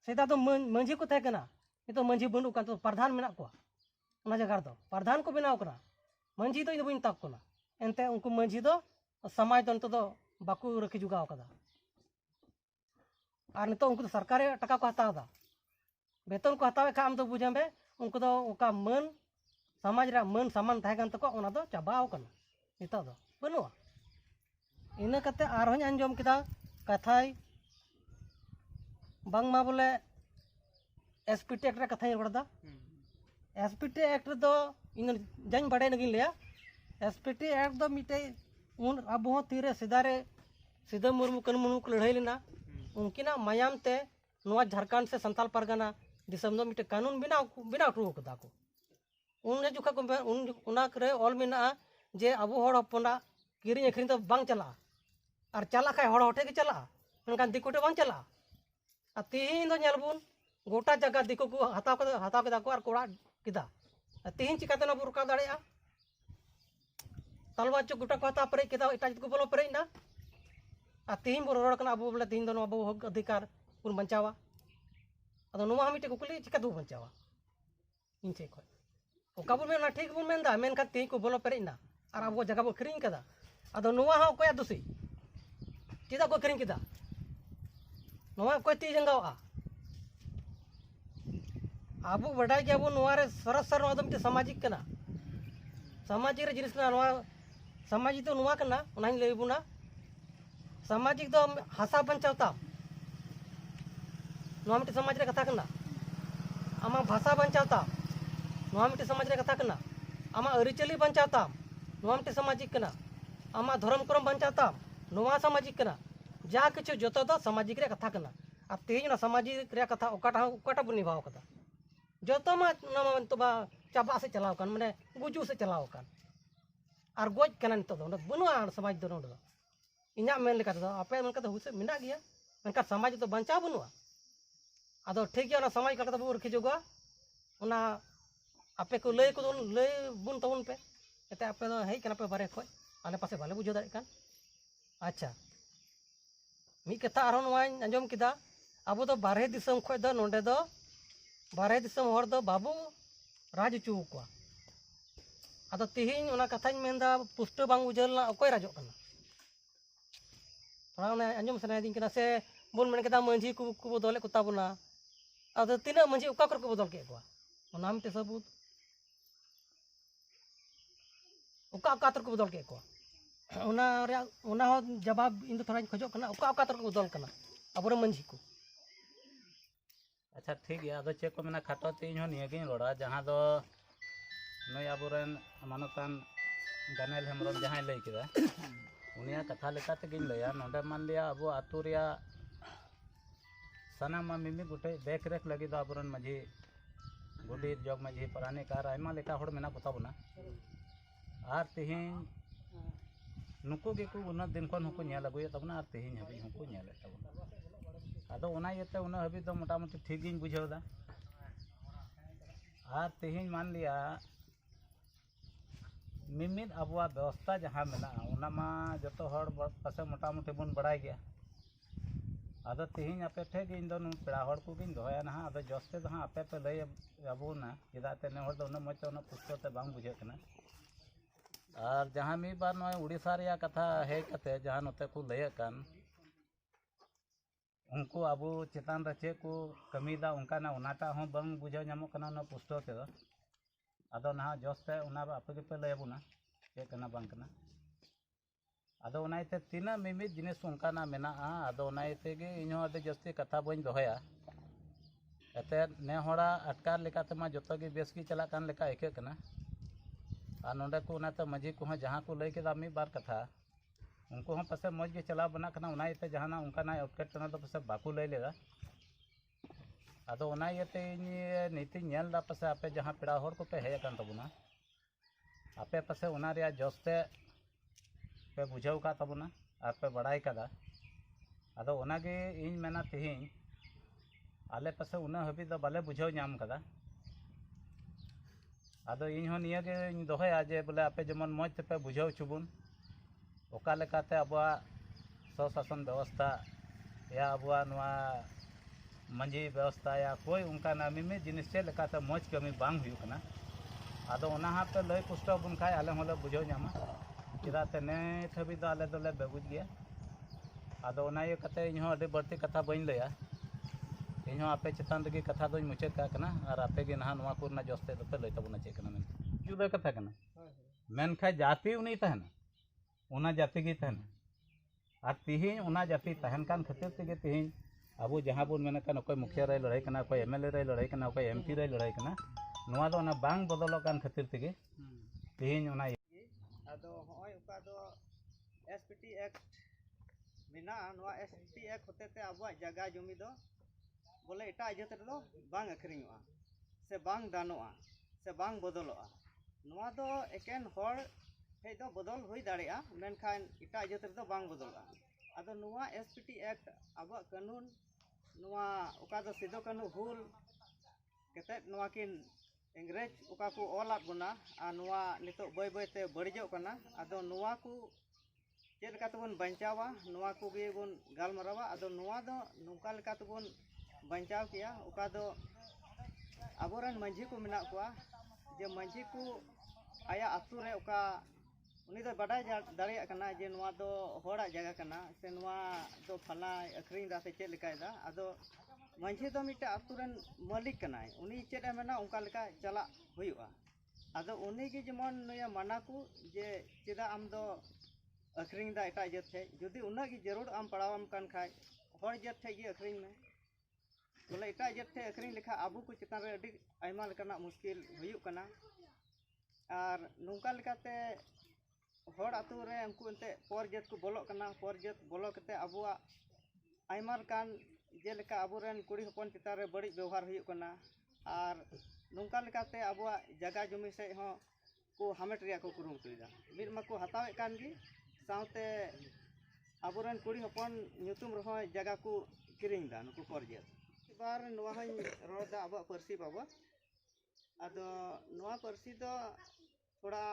[SPEAKER 3] ᱥᱮᱫᱟᱭ ᱫᱚ ᱢᱟᱹᱡᱷᱤ ᱠᱚ ᱛᱟᱦᱮᱸ ᱠᱟᱱᱟ ᱱᱤᱛᱚᱜ ᱢᱟᱹᱡᱷᱤ ᱵᱟᱹᱱᱩᱜ ᱠᱟᱱ ᱛᱚ ᱯᱨᱚᱫᱷᱟᱱ ᱢᱮᱱᱟᱜ ᱠᱚᱣᱟ ᱚᱱᱟ ᱡᱟᱭᱜᱟ ᱨᱮᱫᱚ ᱯᱨᱚᱫᱷᱟᱱ ᱠᱚ ᱵᱮᱱᱟᱣ ᱠᱟᱱᱟ ᱢᱟᱹᱡᱷᱤ ᱫᱚ ᱤᱧ ᱫᱚ ᱵᱟᱹᱧ ᱢᱮᱛᱟ ᱠᱚ ᱠᱟᱱᱟ ᱮᱱᱛᱮ ᱩᱱᱠᱩ ᱢᱟᱹᱡᱷᱤ ᱫᱚ ᱥᱚᱢᱟᱡᱽ ᱫᱚ ᱱᱤᱛᱚᱜ ᱫᱚ ᱵᱟᱠᱚ ᱨᱟᱹᱠᱷᱤ ᱡᱚᱜᱟᱣ ᱠᱟᱫᱟ ᱟᱨ ᱱᱤᱛᱚᱜ ᱩᱱᱠᱩ ᱫᱚ ᱥᱚᱨᱠᱟᱨᱤ ᱴᱟᱠᱟ ᱠᱚ ᱦᱟᱛᱟᱣ ᱮᱫᱟ ᱵᱮᱛᱚᱱ ᱠᱚ ᱦᱟᱛᱟᱣᱮᱫ ᱠᱷᱟᱱ ᱟᱢ ᱫᱚ ᱵᱩᱡᱷᱟᱹᱣ ᱢᱮ ᱩᱱᱠᱩ ᱫᱚ ᱚᱠᱟ ᱢᱟᱹᱱ ᱥᱚᱢᱟᱡᱽ ᱨᱮᱭᱟᱜ ᱢᱟᱹᱱ ᱥᱟᱢᱟᱱ ᱛᱟᱦᱮᱸ ᱠᱟᱱ ᱛᱟᱠᱚᱣᱟ ᱚᱱᱟ ᱫᱚ ᱪᱟᱵᱟᱣ ᱠᱟᱱᱟ ᱱᱤᱛᱚᱜ ᱫᱚ ᱵᱟᱹᱱᱩᱜᱼᱟ ᱤᱱᱟᱹ ᱠᱟᱛᱮ ᱟᱨᱦᱚᱸᱧ ᱟᱸᱡᱚᱢ ᱠᱮᱫᱟ ᱠᱟᱛᱷᱟᱭ ᱵᱟᱝᱢᱟ ᱵᱚᱞᱮ ᱮᱥ ᱯᱤ ᱴᱮᱠ ᱨᱮ ᱠᱟᱛᱷᱟᱧ ᱨᱚᱲ ᱮᱫᱟ ᱮᱥ ᱯᱤ ᱴᱤ ᱮᱠᱴ ᱨᱮᱫᱚ ᱤᱧ ᱫᱚ ᱡᱟᱧ ᱵᱟᱰᱟᱭ ᱞᱟᱹᱜᱤᱫ ᱞᱟᱹᱭᱟ ᱮᱥ ᱯᱤ ᱴᱤ ᱮᱠᱴ ᱫᱚ ᱢᱤᱫᱴᱮᱡ ᱩᱱ ᱟᱵᱚ ᱦᱚᱸ ᱛᱤᱨᱮ ᱥᱮᱫᱟᱭ ᱨᱮ ᱥᱤᱫᱟᱹ ᱢᱩᱨᱢᱩ ᱠᱟᱹᱱᱩ ᱢᱩᱨᱢᱩ ᱠᱚ ᱞᱟᱹᱲᱦᱟᱹᱭ ᱞᱮᱱᱟ ᱩᱱᱠᱤᱱᱟᱜ ᱢᱟᱭᱟᱢ ᱛᱮ ᱱᱚᱣᱟ ᱡᱷᱟᱲᱠᱷᱚᱸᱰ ᱥᱮ ᱥᱟᱱᱛᱟᱲ ᱯᱟᱨᱜᱟᱱᱟ ᱫᱤᱥᱚᱢ ᱫᱚ ᱢᱤᱫᱴᱮᱱ ᱠᱟᱹᱱᱩᱱ ᱵᱮᱱᱟᱣ ᱵᱮᱱᱟᱣ ᱦᱚᱴᱚ ᱠᱟᱫᱟ ᱠᱚ ᱩᱱ ᱡᱚᱠᱷᱚᱱ ᱠᱚ ᱩᱱ ᱚᱱᱟ ᱠᱚᱨᱮ ᱚᱞ ᱢᱮᱱᱟᱜᱼᱟ ᱡᱮ ᱟᱵᱚ ᱦᱚᱲ ᱦᱚᱯᱚᱱᱟᱜ ᱠᱤᱨᱤᱧ ᱟᱹᱠᱷᱨᱤᱧ ᱫᱚ ᱵᱟᱝ ᱪᱟᱞᱟᱜᱼᱟ ᱟᱨ ᱪᱟᱞᱟᱜ ᱠᱷᱟᱱ ᱦᱚᱲ ᱦᱚᱲ ᱴᱷᱮᱱ ᱜᱮ ᱪᱟᱞᱟᱜᱼᱟ ᱢᱮᱱᱠᱷᱟᱱ ᱫᱤᱠᱩ ᱴᱷᱮᱱ ᱵᱟᱝ ᱪᱟᱞᱟᱜᱼᱟ ᱟᱨ ᱛᱮᱦᱮᱧ ᱫᱚ ᱧᱮᱞ ᱵᱚᱱ ᱜᱚᱴᱟ ᱡᱟᱭᱜᱟ ᱫᱤᱠᱩ ᱠᱚ ᱦᱟᱛᱟᱣ ᱠᱮᱫᱟ ᱦᱟᱛᱟᱣ ᱠᱮᱫᱟ ᱠᱚ ᱟᱨ ᱠᱚ ᱚᱲᱟᱜ ᱠᱮᱫᱟ ᱛᱮᱦᱮᱧ ᱪᱤᱠᱟᱛᱮ ᱱᱚᱣᱟ ᱵᱚᱱ ᱨᱟᱠᱟᱵ ᱫᱟᱲᱮᱭᱟᱜᱼᱟ ᱛᱟᱞᱣᱟ ᱪᱚᱠ ᱜᱚᱴᱟ ᱠᱚ ᱦᱟᱛᱟᱣ ᱯᱮᱨᱮᱡ ᱠᱮᱫᱟ ᱮᱴᱟᱜ ᱡᱟᱹᱛ ᱠᱚ ᱵᱚᱞᱚ ᱯᱮᱨᱮᱡ ᱮᱱᱟ ᱟᱨ ᱛᱮᱦᱮᱧ ᱵᱚᱱ ᱨᱚᱲ ᱠᱟᱱᱟ ᱟᱵᱚ ᱵᱚᱞᱮ ᱛᱮᱦᱮᱧ ᱫᱚ ᱱᱚᱣᱟ ᱟᱵᱚ ᱦᱚᱠ ᱚᱫᱷᱤᱠᱟᱨ ᱵᱚᱱ ᱵᱟᱧᱪᱟᱣᱟ ᱟᱫᱚ ᱱᱚᱣᱟ ᱦᱚᱸ ᱢᱤᱫᱴᱮᱱ ᱠᱩᱠᱞᱤ ᱪᱤᱠᱟᱹ ᱛᱮᱵᱚᱱ ᱵᱟᱧᱪᱟᱣᱟ ᱤᱧ ᱴᱷᱮᱡ ᱠᱷᱚᱡ ᱚᱠᱟ ᱵᱚᱱ ᱢᱮᱱᱟ ᱴᱷᱤᱠ ᱵᱚᱱ ᱢᱮᱱᱫᱟ ᱢᱮᱱᱠᱷᱟᱱ ᱛᱮᱦᱮᱧ ᱠᱚ ᱵᱚᱞᱚ ᱯᱮᱨᱮᱡ ᱮᱱᱟ ᱟᱨ ᱟᱵᱚ ᱡᱟᱭᱜᱟ ᱵᱚ ᱟᱹᱠᱷᱨᱤᱧ ᱠᱟᱫᱟ ᱟᱫᱚ ᱱᱚᱣᱟ ᱦᱚᱸ ᱚᱠᱚᱭᱟᱜ ᱫᱩᱥᱤ ᱪᱮᱫᱟᱜ ᱠᱚ ᱟᱹᱠᱷᱨᱤᱧ ᱠᱮᱫᱟ ᱱᱚᱣᱟ ᱚᱠᱚᱭ ᱛᱤ ᱡᱟᱸᱜᱟᱣᱟᱜᱼᱟ ᱟᱵᱚ ᱵᱟᱰᱟᱭ ᱜᱮᱭᱟᱵᱚᱱ ᱱᱚᱣᱟ ᱨᱮ ᱥᱚᱨᱟᱥᱚᱨ ᱱᱚᱣᱟ ᱫᱚ ᱢᱤᱫᱴᱮᱱ ᱥᱟᱢᱟᱡᱤᱠ ᱠᱟᱱᱟ ᱥᱟᱢᱟᱡᱤᱠ ᱨᱮ ᱡᱤᱱᱤᱥ ᱠᱟᱱᱟ ᱱᱚᱣᱟ ᱥᱟᱢᱟᱡᱤᱠ ᱫᱚ ᱱᱚᱣᱟ ᱠᱟᱱᱟ ᱚᱱᱟᱧ ᱞᱟᱹᱭ ᱵᱚᱱᱟ ᱥᱟᱢᱟᱡᱤᱠ ᱫᱚ ᱦᱟᱥᱟ ᱵᱟᱧᱪᱟᱣ ᱛᱟᱢ ᱱᱚᱣᱟ ᱢᱤᱫᱴᱮᱱ ᱥᱚᱢᱟᱡᱽ ᱨᱮ ᱠᱟᱛᱷᱟ ᱠᱟᱱᱟ ᱟᱢᱟᱜ ᱵᱷᱟᱥᱟ ᱵᱟᱧᱪᱟᱣ ᱛᱟᱢ ᱱᱚᱣᱟ ᱢᱤᱫᱴᱮᱱ ᱥᱚᱢᱟᱡᱽ ᱨᱮ ᱠᱟᱛᱷᱟ ᱠᱟᱱᱟ ᱟᱢᱟᱜ ᱟᱹᱨᱤᱪᱟᱹᱞᱤ ᱵᱟᱧᱪᱟᱣ ᱛᱟᱢ ᱱᱚᱣᱟ ᱢᱤᱫᱴᱮᱱ ᱥᱟᱢᱟᱡᱤᱠ ᱠᱟᱱᱟ ᱟᱢᱟᱜ ᱫᱷᱚᱨᱚᱢ ᱠᱚᱨᱚᱢ ᱵᱟᱧᱪᱟᱣ ᱛᱟᱢ ᱱᱚᱣᱟ ᱥᱟᱢᱟᱡᱤᱠ ᱠᱟᱱᱟ ᱡᱟ ᱠᱤᱪᱷᱩ ᱡᱚᱛᱚ ᱫᱚ ᱥᱟᱢᱟᱡᱤᱠ ᱨᱮ ᱠᱟᱛᱷᱟ ᱠᱟᱱᱟ ᱟᱨ ᱛᱮᱦᱮᱧ ᱚᱱᱟ ᱥᱟᱢᱟᱡᱤᱠ ᱨᱮ ᱠᱟᱛᱷᱟ ᱚᱠᱟᱴᱟᱜ ᱚᱠᱟᱴᱟᱜ ᱵᱚᱱ ᱱᱤᱵᱷᱟᱣ ᱠᱟᱫᱟ ᱡᱚᱛᱚ ᱢᱟ ᱚᱱᱟ ᱢᱟ ᱱᱤᱛᱚᱜ ᱢᱟ ᱪᱟᱵᱟᱜ ᱥᱮᱫ ᱪᱟᱞᱟᱣ ᱠᱟᱱ ᱢᱟᱱᱮ ᱜᱩᱡᱩᱜ ᱥᱮᱫ ᱪᱟᱞᱟᱣ ᱠᱟᱱ ᱟᱨ ᱜᱚᱡ ᱠᱟᱱᱟ ᱱᱤᱛᱚᱜ ᱫᱚ ᱚᱸᱰᱮ ᱵᱟᱹᱱᱩᱜᱼᱟ ᱥᱚᱢᱟᱡᱽ ᱫᱚ ᱱᱚᱸᱰᱮ ᱫᱚ ᱤᱧᱟᱹᱜ ᱢᱮᱱ ᱞᱮᱠᱟ ᱛᱮᱫᱚ ᱟᱯᱮ ᱢᱮᱱ ᱠᱟᱛᱮ ᱦᱩᱥᱟᱹᱫ ᱢᱮᱱᱟᱜ ᱜᱮᱭᱟ ᱢᱮᱱᱠᱷᱟᱱ ᱥᱚᱢᱟᱡᱽ ᱫᱚ ᱵᱟᱧᱪᱟᱣ ᱵᱟᱹᱱᱩᱜᱼᱟ ᱟᱫᱚ ᱴᱷᱤᱠ ᱜᱮᱭᱟ ᱚᱱᱟ ᱥᱚᱢᱟᱡᱽ ᱠᱟᱛᱮ ᱵᱚᱱ ᱨᱩᱠᱷᱤ ᱡᱚᱜᱟᱣᱟ ᱚᱱᱟ ᱟᱯᱮ ᱠᱚ ᱞᱟᱹᱭ ᱠᱚᱫᱚ ᱞᱟᱹᱭ ᱵᱚᱱ ᱛᱟᱵᱚᱱ ᱯᱮ ᱮᱱᱛᱮ ᱟᱯᱮ ᱫᱚ ᱦᱮᱡ ᱠᱟᱱᱟ ᱯᱮ ᱵᱟᱨᱦᱮ ᱠᱷᱚᱡ ᱟᱞᱮ ᱯᱟᱥᱮ ᱵᱟᱞᱮ ᱵᱩᱡᱷᱟᱹᱣ ᱫᱟᱲᱮᱭᱟᱜ ᱠᱟᱱ ᱟᱪᱪᱷᱟ ᱢᱤᱫ ᱠᱟᱛᱷᱟ ᱟᱨᱦᱚᱸ ᱱᱚᱣᱟᱧ ᱟᱸᱡᱚᱢ ᱠᱮᱫᱟ ᱟᱵᱚ ᱫᱚ ᱵᱟᱨᱦᱮ ᱫᱤᱥᱚᱢ ᱠᱷᱚᱱ ᱫᱚ ᱱᱚᱸᱰᱮ ᱫᱚ ᱵᱟᱨᱦᱮ ᱫᱤᱥᱚᱢ ᱦᱚᱲ ᱫᱚ ᱵᱟᱵᱚ ᱨᱟᱡᱽ ᱦᱚᱪᱚ ᱟᱠᱚᱣᱟ ᱟᱫᱚ ᱛᱮᱦᱮᱧ ᱚᱱᱟ ᱠᱟᱛᱷᱟᱧ ᱢᱮᱱᱫᱟ ᱯᱩᱥᱴᱟᱹ ᱵᱟᱝ ᱵᱩᱡᱷᱟᱹᱣ ᱞᱮᱱᱟ ᱚᱠᱚᱭ ᱨᱟᱡᱚᱜ ᱠᱟᱱᱟ ᱛᱷᱚᱲᱟ ᱚᱱᱮ ᱟᱸᱡᱚᱢ ᱥᱟᱱᱟᱭᱮᱫᱤᱧ ᱠᱟᱱᱟ ᱥᱮ ᱵᱚᱱ ᱢᱮᱱ ᱠᱮᱫᱟ ᱢᱟᱹᱡᱷᱤ ᱠᱚ ᱠᱚ ᱵᱚᱫᱚᱞᱮᱫ ᱠᱚᱛᱟ ᱵᱚᱱᱟ ᱟᱫᱚ ᱛᱤᱱᱟᱹᱜ ᱢᱟᱹᱡᱷᱤ ᱚᱠᱟ ᱠᱚᱨᱮ ᱠᱚ ᱵᱚᱫᱚᱞ ᱠᱮᱫ ᱠᱚᱣᱟ ᱚᱱᱟ ᱢᱤᱫᱴᱮᱡ ᱥᱟᱹᱵᱩᱫ ᱚᱠᱟ ᱚᱠᱟ ᱟᱛᱳ ᱨᱮᱠᱚ ᱵᱚᱫᱚᱞ ᱠᱮᱫ ᱠᱚᱣᱟ ᱚᱱᱟ ᱨᱮᱭᱟᱜ ᱚᱱᱟ ᱦᱚᱸ ᱡᱟᱵᱟᱵ ᱤᱧ ᱫᱚ ᱛᱷᱚᱲᱟᱧ ᱠᱷᱚᱡᱚᱜ ᱠᱟᱱᱟ ᱚᱠᱟ ᱚᱠᱟ ᱟᱛᱳ ᱨᱮᱠᱚ ᱵᱚᱫᱚᱞ ᱠᱟᱱᱟ ᱟᱵᱚᱨᱮᱱ ᱢᱟᱺᱡᱷᱤ ᱠᱚ ᱟᱪᱪᱷᱟ
[SPEAKER 4] ᱴᱷᱤᱠ ᱜᱮᱭᱟ ᱟᱫᱚ ᱪᱮᱫ ᱠᱚ ᱢᱮᱱᱟ ᱠᱷᱟᱴᱚ ᱛᱮ ᱤᱧ ᱦᱚᱸ ᱱᱤᱭᱟᱹ ᱜᱤᱧ ᱨᱚᱲᱟ ᱡᱟᱦᱟᱸ ᱫᱚ ᱱᱩᱭ ᱟᱵᱚᱨᱮᱱ ᱢᱟᱱᱚᱛᱟᱱ ᱜᱟᱱᱮᱞ ᱦᱮᱢᱵᱨᱚᱢ ᱡᱟᱦᱟᱸᱭ ᱞᱟᱹᱭ ᱠᱮᱫᱟ ᱩᱱᱤᱭᱟᱜ ᱠᱟᱛᱷᱟ ᱞᱮᱠᱟ ᱛᱮᱜᱤᱧ ᱞᱟᱹᱭᱟ ᱱᱚᱰᱮ ᱢᱟᱱ ᱞᱤᱭᱟ ᱟᱵᱚ ᱟᱛᱳ ᱨᱮᱭᱟᱜ ᱥᱟᱱᱟᱢᱟᱜ ᱢᱤᱢᱤᱫ ᱜᱚᱴᱮᱡ ᱫᱮᱠ ᱨᱮᱠ ᱞᱟᱹᱜᱤᱫ ᱫᱚ ᱟᱵᱚᱨᱮᱱ ᱢᱟᱹᱡᱷᱤ ᱜᱚᱰᱮᱛ ᱡᱚᱜᱽ ᱢᱟᱹᱡᱷᱤ ᱯᱟᱨᱟᱱᱤᱠ ᱟᱨ ᱟᱭᱢᱟ ᱞᱮᱠᱟ ᱦᱚᱲ ᱢᱮᱱᱟᱜ ᱠᱚᱛᱟ ᱵᱚᱱᱟ ᱟᱨ ᱛᱮᱦᱮᱧ ᱱᱩᱠᱩ ᱜᱮᱠᱚ ᱩᱱᱟᱹᱜ ᱫᱤᱱ ᱠᱷᱚᱱ ᱦᱚᱸᱠᱚ ᱧᱮᱞ ᱟᱹᱜᱩᱭᱮᱫ ᱛᱟᱵᱚᱱᱟ ᱟᱨ ᱛᱮᱦᱮᱧ ᱦᱟᱹᱵᱤᱡ ᱦᱚᱸᱠᱚ ᱧᱮᱞᱮᱫ ᱛᱟᱵᱚᱱᱟ ᱟᱫᱚ ᱚᱱᱟ ᱤᱭᱟᱹᱛᱮ ᱩᱱᱟᱹᱜ ᱦᱟᱹᱵᱤᱡ ᱫᱚ ᱢᱚᱴᱟᱢᱩᱴᱤ ᱴᱷᱤᱠ ᱜᱤᱧ ᱵᱩᱡᱷᱟᱹᱣᱫᱟ ᱟᱨ ᱛᱮᱦᱮᱧ ᱢᱟᱱᱞᱤᱭᱟ ᱢᱤᱢᱤᱫ ᱟᱵᱚᱣᱟᱜ ᱵᱮᱵᱚᱥᱛᱟ ᱡᱟᱦᱟᱸ ᱢᱮᱱᱟᱜᱼᱟ ᱚᱱᱟ ᱢᱟ ᱡᱚᱛᱚ ᱦᱚᱲ ᱯᱟᱥᱮᱡ ᱢᱚᱴᱟᱢᱩᱴᱤ ᱵᱚᱱ ᱵᱟᱲᱟᱭ ᱜᱮᱭᱟ ᱟᱫᱚ ᱛᱮᱦᱮᱧ ᱟᱯᱮ ᱴᱷᱮᱱ ᱜᱮ ᱤᱧᱫᱚ ᱱᱩᱠᱩ ᱯᱮᱲᱟ ᱦᱚᱲ ᱠᱚᱜᱮᱧ ᱫᱚᱦᱚᱭᱟ ᱱᱟᱦᱟᱜ ᱟᱫᱚ ᱡᱚᱥ ᱛᱮᱫᱚ ᱦᱟᱸᱜ ᱟᱯᱮ ᱯᱮ ᱞᱟᱹᱭ ᱟᱵᱚᱱᱟ ᱪᱮᱫᱟᱜ ᱥᱮ ᱱᱮ ᱦᱚᱲ ᱫᱚ ᱩᱱᱟᱹᱜ ᱢᱚᱡᱽ ᱛᱮ ᱩᱱᱟᱹᱜ ᱯᱩᱥᱴᱟᱹᱣ ᱛᱮ ᱵᱟᱝ ᱵᱩᱡᱷᱟᱹᱜ ᱠᱟᱱᱟ ᱟᱨ ᱡᱟᱦᱟᱸ ᱢᱤᱫ ᱵᱟᱨ ᱱᱚᱜᱼᱚᱭ ᱩᱲᱤᱥᱥᱟ ᱨᱮᱭᱟᱜ ᱠᱟᱛᱷᱟ ᱦᱮᱡ ᱠᱟᱛᱮᱫ ᱡᱟᱦᱟᱸ ᱱᱚᱛᱮ ᱠᱚ ᱞᱟᱹᱭᱮᱫ ᱠᱟᱱ ᱩᱱᱠᱩ ᱟᱵᱚ ᱪᱮᱛᱟᱱ ᱨᱮ ᱪᱮᱫ ᱠᱚ ᱠᱟᱹᱢᱤᱭᱮᱫᱟ ᱚᱱᱠᱟᱱᱟᱜ ᱚᱱᱟᱴᱟᱜ ᱦᱚᱸ ᱵᱟᱝ ᱵᱩᱡᱷᱟᱹᱣ ᱧᱟᱢᱚᱜ ᱠᱟᱱᱟ ᱩᱱᱟᱹᱜ ᱯᱩᱥᱴᱟᱹᱣ ᱛᱮᱫᱚ ᱟᱫᱚ ᱱᱟᱦᱟᱜ ᱡᱚᱥ ᱛᱮ ᱚᱱᱟ ᱟᱯᱮ ᱜᱮᱯᱮ ᱞᱟᱹᱭ ᱟᱵᱚᱱᱟ ᱪᱮᱫ ᱠᱟᱱᱟ ᱵᱟᱝ ᱠᱟᱱᱟ ᱟᱫᱚ ᱚᱱᱟ ᱤᱭᱟᱹᱛᱮ ᱛᱤᱱᱟᱹᱜ ᱢᱤᱢᱤᱫ ᱡᱤᱱᱤᱥ ᱚᱱᱠᱟᱱᱟᱜ ᱢᱮᱱᱟᱜᱼᱟ ᱟᱫᱚ ᱚᱱᱟ ᱤᱭᱟᱹ ᱛᱮᱜᱮ ᱤᱧ ᱦᱚᱸ ᱟᱹᱰᱤ ᱡᱟᱹᱥᱛᱤ ᱠᱟᱛᱷᱟ ᱵᱟᱹᱧ ᱫᱚᱦᱚᱭᱟ ᱮᱱᱛᱮᱫ ᱱᱮ ᱦᱚᱲᱟᱜ ᱟᱴᱠᱟᱨ ᱞᱮᱠᱟ ᱛᱮᱢᱟ ᱡᱚᱛᱚ ᱜᱮ ᱵᱮᱥ ᱜᱮ ᱪᱟᱞᱟᱜ ᱠᱟᱱ ᱞᱮᱠᱟ ᱟᱹᱭᱠᱟᱹᱜ ᱠᱟᱱᱟ ᱟᱨ ᱱᱚᱰᱮ ᱠᱚ ᱚᱱᱟᱛᱮ ᱢᱟᱹᱡᱷᱤ ᱠᱚᱦᱚᱸ ᱡᱟᱦᱟᱸ ᱠᱚ ᱞᱟᱹᱭ ᱠᱮᱫᱟ ᱢᱤᱫ ᱵᱟᱨ ᱠᱟᱛᱷᱟ ᱩᱱᱠᱩ ᱦᱚᱸ ᱯᱟᱥᱮᱡ ᱢᱚᱡᱽ ᱜᱮ ᱪᱟᱞᱟᱣ ᱵᱟᱱᱟᱜ ᱠᱟᱱᱟ ᱚᱱᱟ ᱤᱭᱟᱹᱛᱮ ᱡᱟᱦᱟᱱᱟᱜ ᱚᱱᱠᱟᱱᱟᱜ ᱮᱴᱠᱮᱴᱚᱬᱮ ᱫᱚ ᱯᱟᱥᱮᱡ ᱵᱟᱠᱚ ᱞᱟᱹᱭ ᱞᱮᱫᱟ ᱟᱫᱚ ᱚᱱᱟ ᱤᱭᱟᱹᱛᱮ ᱤᱧ ᱱᱤᱛᱤᱧ ᱧᱮᱞ ᱮᱫᱟ ᱯᱟᱥᱮᱡ ᱟᱯᱮ ᱡᱟᱦᱟᱸ ᱯᱮᱲᱟ ᱦᱚᱲ ᱠᱚᱯᱮ ᱦᱮᱡ ᱟᱠᱟᱱ ᱛᱟᱵᱚᱱᱟ ᱟᱯᱮ ᱯᱟᱥᱮᱡ ᱚᱱᱟ ᱨᱮᱭᱟᱜ ᱡᱚᱥ ᱛᱮ ᱯᱮ ᱵᱩᱡᱷᱟᱹᱣ ᱟᱠᱟᱫ ᱛᱟᱵᱚᱱᱟ ᱟᱨ ᱯᱮ ᱵᱟᱲᱟᱭ ᱟᱠᱟᱫᱟ ᱟᱫᱚ ᱚᱱᱟᱜᱮ ᱤᱧ ᱢᱮᱱᱟ ᱛᱮᱦᱮᱧ ᱟᱞᱮ ᱯᱟᱥᱮ ᱩᱱᱟᱹᱜ ᱦᱟᱹᱵᱤᱡ ᱫᱚ ᱵᱟᱞᱮ ᱵᱩᱡᱷᱟᱹᱣ ᱧᱟᱢ ᱟᱠᱟᱫᱟ ᱟᱫᱚ ᱤᱧ ᱦᱚᱸ ᱱᱤᱭᱟᱹ ᱜᱮᱧ ᱫᱚᱦᱚᱭᱟ ᱡᱮ ᱵᱚᱞᱮ ᱟᱯᱮ ᱡᱮᱢᱚᱱ ᱢᱚᱡᱽ ᱛᱮᱯᱮ ᱵᱩᱡᱷᱟᱹᱣ ᱦᱚᱪᱚ ᱵᱚᱱ ᱚᱠᱟ ᱞᱮᱠᱟᱛᱮ ᱟᱵᱚᱣᱟᱜ ᱥᱚᱼᱥᱟᱥᱚᱱ ᱵᱮᱵᱚᱥᱛᱷᱟ ᱭᱟ ᱟᱵᱚᱣᱟᱜ ᱱᱚᱣᱟ ᱢᱟᱺᱡᱷᱤ ᱵᱮᱵᱚᱥᱛᱷᱟ ᱭᱟ ᱠᱳᱭ ᱚᱱᱠᱟᱱᱟᱜ ᱢᱤᱢᱤᱫ ᱡᱤᱱᱤᱥ ᱪᱮᱫ ᱞᱮᱠᱟᱛᱮ ᱢᱚᱡᱽ ᱠᱟᱹᱢᱤ ᱵᱟᱝ ᱦᱩᱭᱩᱜ ᱠᱟᱱᱟ ᱟᱫᱚ ᱚᱱᱟ ᱦᱟᱸᱜ ᱯᱮ ᱞᱟᱹᱭ ᱯᱩᱥᱴᱟᱹᱣ ᱟᱵᱚᱱ ᱠᱷᱟᱱ ᱟᱞᱮ ᱦᱚᱸᱞᱮ ᱵᱩᱡᱷᱟᱹᱣ ᱧᱟᱢᱟ ᱪᱮᱫᱟᱜ ᱥᱮ ᱱᱤᱛ ᱦᱟᱹᱵᱤᱡ ᱫᱚ ᱟᱞᱮ ᱫᱚᱞᱮ ᱵᱮᱵᱩᱡᱽ ᱜᱮᱭᱟ ᱟᱫᱚ ᱚᱱᱟ ᱤᱭᱟᱹ ᱠᱟᱛᱮ ᱤᱧ ᱦᱚᱸ ᱟᱹᱰᱤ ᱵᱟᱹᱲᱛᱤ ᱠᱟᱛᱷᱟ ᱵᱟᱹᱧ ᱞᱟᱹᱭᱟ ᱤᱧ ᱦᱚᱸ ᱟᱯᱮ ᱪᱮᱛᱟᱱ ᱨᱮᱜᱮ ᱠᱟᱛᱷᱟ ᱫᱚᱧ ᱢᱩᱪᱟᱹᱫ ᱠᱟᱜ ᱠᱟᱱᱟ ᱟᱨ ᱟᱯᱮ ᱜᱮ ᱱᱟᱦᱟᱜ ᱱᱚᱣᱟ ᱠᱚᱨᱮᱱᱟᱜ ᱡᱚᱥ ᱛᱮᱫ ᱫᱚᱯᱮ ᱞᱟᱹᱭ ᱛᱟᱵᱚᱱᱟ ᱪᱮᱫ ᱠᱟᱱᱟ ᱢᱮᱱᱛᱮ ᱡᱩᱫᱟᱹ ᱠᱟᱛᱷᱟ ᱠᱟᱱᱟ ᱢᱮᱱᱠᱷᱟᱱ ᱡᱟᱹᱛᱤ ᱩᱱᱤ ᱛᱟᱦᱮᱱᱟ ᱚᱱᱟ ᱡᱟᱹᱛᱤ ᱜᱮ ᱛᱟᱦᱮᱱᱟ ᱟᱨ ᱛᱤᱦᱤᱧ ᱚᱱᱟ ᱡᱟᱹᱛᱤ ᱛᱟᱦᱮᱱ ᱠᱟᱱ ᱠᱷᱟᱹᱛᱤᱨ ᱛᱮᱜᱮ ᱛᱤᱦᱤᱧ ᱟᱵᱚ ᱡᱟᱦᱟᱸ ᱵᱚᱱ ᱢᱮᱱᱮᱫ ᱠᱟᱱ ᱚᱠᱚᱭ ᱢᱩᱠᱷᱤᱭᱟᱹ ᱨᱮᱭ ᱞᱟᱹᱲᱦᱟᱹᱭ ᱠᱟᱱᱟ ᱚᱠᱚᱭ ᱮᱢ ᱮᱞ ᱮ ᱨᱮᱭ ᱞᱟᱹᱲᱦᱟᱹᱭ ᱠᱟᱱᱟ ᱚᱠᱚᱭ ᱮᱢ ᱯᱤ ᱨᱮᱭ ᱞᱟᱹᱲᱦᱟᱹᱭ ᱠᱟᱱᱟ ᱱᱚᱣᱟ ᱫᱚ ᱚᱱᱟ ᱵᱟᱝ ᱵᱚᱫᱚᱞᱚᱜ ᱠᱟᱱ ᱠᱷᱟᱹᱛᱤᱨ ᱛᱮᱜᱮ ᱛᱤᱦᱤᱧ ᱚᱱᱟ
[SPEAKER 2] ᱮᱥ ᱯᱤ ᱴᱤ ᱮᱠᱴ ᱢᱮᱱᱟᱜᱼᱟ ᱱᱚᱣᱟ ᱮᱥ ᱯᱤ ᱴᱤ ᱮᱠᱴ ᱦᱚᱛᱮ ᱛᱮ ᱟᱵᱚᱣᱟᱜ ᱡᱟᱭᱜᱟ ᱡᱚᱢᱤ ᱫᱚ ᱵᱚᱞᱮ ᱮᱴᱟᱜ ᱡᱟᱹᱛ ᱨᱮᱫᱚ ᱵᱟᱝ ᱟᱹᱠᱷᱨᱤᱧᱚᱜᱼᱟ ᱥᱮ ᱵᱟᱝ ᱫᱟᱱᱚᱜᱼᱟ ᱥᱮ ᱵᱟᱝ ᱵᱚᱫᱚᱞᱚᱜᱼᱟ ᱱᱚᱣᱟ ᱫᱚ ᱮᱠᱮᱱ ᱦᱚᱲ ᱴᱷᱮᱱ ᱫᱚ ᱵᱚᱫᱚᱞ ᱦᱩᱭ ᱫᱟᱲᱮᱭᱟᱜᱼᱟ ᱢᱮᱱᱠᱷᱟᱱ ᱮᱴᱟᱜ ᱡᱟᱹᱛ ᱨᱮᱫᱚ ᱵᱟᱝ ᱵᱚᱫᱚᱞᱚᱜᱼᱟ ᱟᱫᱚ ᱱᱚᱣᱟ ᱮᱥ ᱯᱤ ᱴᱤ ᱮᱠᱴ ᱟᱵᱚᱣᱟᱜ ᱠᱟᱹᱱᱩᱱ ᱱᱚᱣᱟ ᱚᱠᱟ ᱫᱚ ᱥᱤᱫᱩ ᱠᱟᱹᱱᱦᱩ ᱦᱩᱞ ᱠᱟᱛᱮᱫ ᱱᱚᱣᱟ ᱠᱤᱱ ᱤᱝᱨᱮᱡᱽ ᱚᱠᱟ ᱠᱚ ᱚᱞᱟᱫ ᱵᱚᱱᱟ ᱟᱨ ᱱᱚᱣᱟ ᱱᱤᱛᱚᱜ ᱵᱟᱹᱭ ᱵᱟᱹᱭᱛᱮ ᱵᱟᱹᱲᱤᱡᱚᱜ ᱠᱟᱱᱟ ᱟᱫᱚ ᱱᱚᱣᱟ ᱠᱚ ᱪᱮᱫ ᱞᱮᱠᱟ ᱛᱮᱵᱚᱱ ᱵᱟᱧᱪᱟᱣᱟ ᱱᱚᱣᱟ ᱠᱚᱜᱮ ᱵᱚᱱ ᱜᱟᱞᱢᱟᱨᱟᱣᱟ ᱟᱫᱚ ᱱᱚᱣᱟ ᱫᱚ ᱱᱚᱝᱠᱟ ᱞᱮᱠᱟ ᱛᱮᱵᱚᱱ ᱵᱟᱧᱪᱟᱣ ᱠᱮᱭᱟ ᱚᱠᱟ ᱫᱚ ᱟᱵᱚᱨᱮᱱ ᱢᱟᱹᱡᱷᱤ ᱠᱚ ᱢᱮᱱᱟᱜ ᱠᱚᱣᱟ ᱡᱮ ᱢᱟᱹᱡᱷᱤ ᱠᱚ ᱟᱭᱟᱜ ᱟᱹᱛᱩ ᱨᱮ ᱚᱠᱟ ᱩᱱᱤ ᱫᱚ ᱵᱟᱰᱟᱭ ᱫᱟᱲᱮᱭᱟᱜ ᱠᱟᱱᱟ ᱡᱮ ᱱᱚᱣᱟ ᱫᱚ ᱦᱚᱲᱟᱜ ᱡᱟᱭᱜᱟ ᱠᱟᱱᱟ ᱥᱮ ᱱᱚᱣᱟ ᱫᱚ ᱯᱷᱟᱞᱟᱭ ᱟᱹᱠᱷᱨᱤᱧ ᱫᱟ ᱥᱮ ᱪᱮᱫ ᱞᱮᱠᱟᱭ ᱫᱟ ᱟᱫᱚ ᱢᱟᱹᱡᱷᱤ ᱫᱚ ᱢᱤᱫᱴᱮᱱ ᱟᱛᱳ ᱨᱮᱱ ᱢᱟᱹᱞᱤᱠ ᱠᱟᱱᱟᱭ ᱩᱱᱤ ᱪᱮᱫ ᱮ ᱢᱮᱱᱟ ᱚᱱᱠᱟ ᱞᱮᱠᱟ ᱪᱟᱞᱟᱜ ᱦᱩᱭᱩᱜᱼᱟ ᱟᱫᱚ ᱩᱱᱤ ᱜᱮ ᱡᱮᱢᱚᱱ ᱱᱩᱭᱮ ᱢᱟᱱᱟ ᱠᱚ ᱡᱮ ᱪᱮᱫᱟᱜ ᱟᱢ ᱫᱚ ᱟᱹᱠᱷᱨᱤᱧ ᱫᱟ ᱮᱴᱟᱜ ᱡᱟᱹᱛ ᱴᱷᱮᱡ ᱡᱩᱫᱤ ᱩᱱᱟᱹᱜ ᱜᱮ ᱡᱟᱹᱨᱩᱲ ᱟᱢ ᱯᱟᱲᱟᱣᱟᱢ ᱠᱟᱱ ᱠᱷᱟᱡ ᱦᱚᱲ ᱡᱟᱹᱛ ᱴᱷᱮᱡ ᱜᱮ ᱟᱹᱠᱷᱨᱤᱧ ᱢᱮ ᱵᱚᱞᱮ ᱮᱴᱟᱜ ᱡᱟᱹᱛ ᱴᱷᱮᱱ ᱟᱹᱠᱷᱨᱤᱧ ᱞᱮᱠᱷᱟᱱ ᱟᱵᱚ ᱠᱚ ᱪᱮᱛᱟᱱ ᱨᱮ ᱟᱹᱰᱤ ᱟᱭᱢᱟ ᱞᱮᱠᱟᱱᱟᱜ ᱢᱩᱥᱠᱤᱞ ᱦᱩᱭᱩᱜ ᱠᱟᱱᱟ ᱟᱨ ᱱᱚᱝᱠᱟ ᱞᱮᱠᱟᱛᱮ ᱦᱚᱲ ᱟᱹᱛᱩ ᱨᱮ ᱩᱱᱠᱩ ᱮᱱᱛᱮᱫ ᱯᱚᱨ ᱡᱟᱹᱛ ᱠᱚ ᱵᱚᱞᱚᱜ ᱠᱟᱱᱟ ᱯᱚᱨ ᱡᱟᱹᱛ ᱵᱚᱞᱚ ᱠᱟᱛᱮᱫ ᱟᱵᱚᱣᱟᱜ ᱟᱭᱢᱟ ᱞᱮᱠᱟᱱ ᱡᱮᱞᱮᱠᱟ ᱟᱵᱚ ᱨᱮᱱ ᱠᱩᱲᱤ ᱦᱚᱯᱚᱱ ᱪᱮᱛᱟᱱ ᱨᱮ ᱵᱟᱹᱲᱤᱡ ᱵᱮᱵᱚᱦᱟᱨ ᱦᱩᱭᱩᱜ ᱠᱟᱱᱟ ᱟᱨ ᱱᱚᱝᱠᱟ ᱞᱮᱠᱟᱛᱮ ᱟᱵᱚᱣᱟᱜ ᱡᱟᱭᱜᱟ ᱡᱩᱢᱤ ᱥᱮᱫ ᱦᱚᱸ ᱠᱚ ᱦᱟᱢᱮᱴ ᱨᱮᱭᱟᱜ ᱠᱚ ᱠᱩᱨᱩᱢᱩᱴᱩᱭᱮᱫᱟ ᱢᱤᱫ ᱢᱟᱠᱚ ᱦᱟᱛᱟᱣᱮᱫ ᱠᱟᱱ ᱜᱮ ᱥᱟᱶᱛᱮ ᱟᱵᱚᱨᱮᱱ ᱠᱩᱲᱤ ᱦᱚᱯᱚᱱ ᱧᱩᱛᱩᱢ ᱨᱮᱦᱚᱸ ᱡᱟᱭᱜᱟ ᱠᱚ ᱠᱤᱨᱤᱧ ᱮᱫᱟ ᱱᱩᱠᱩ ᱠᱚᱨᱡᱮᱛ ᱮᱵᱟᱨ ᱱᱚᱣᱟ ᱦᱚᱧ ᱨᱚᱲᱫᱟ ᱟᱵᱚᱣᱟᱜ ᱯᱟᱹᱨᱥᱤ ᱵᱟᱵᱚᱫ ᱟᱫᱚ ᱱᱚᱣᱟ ᱯᱟᱹᱨᱥᱤ ᱫᱚ ᱛᱷᱚᱲᱟ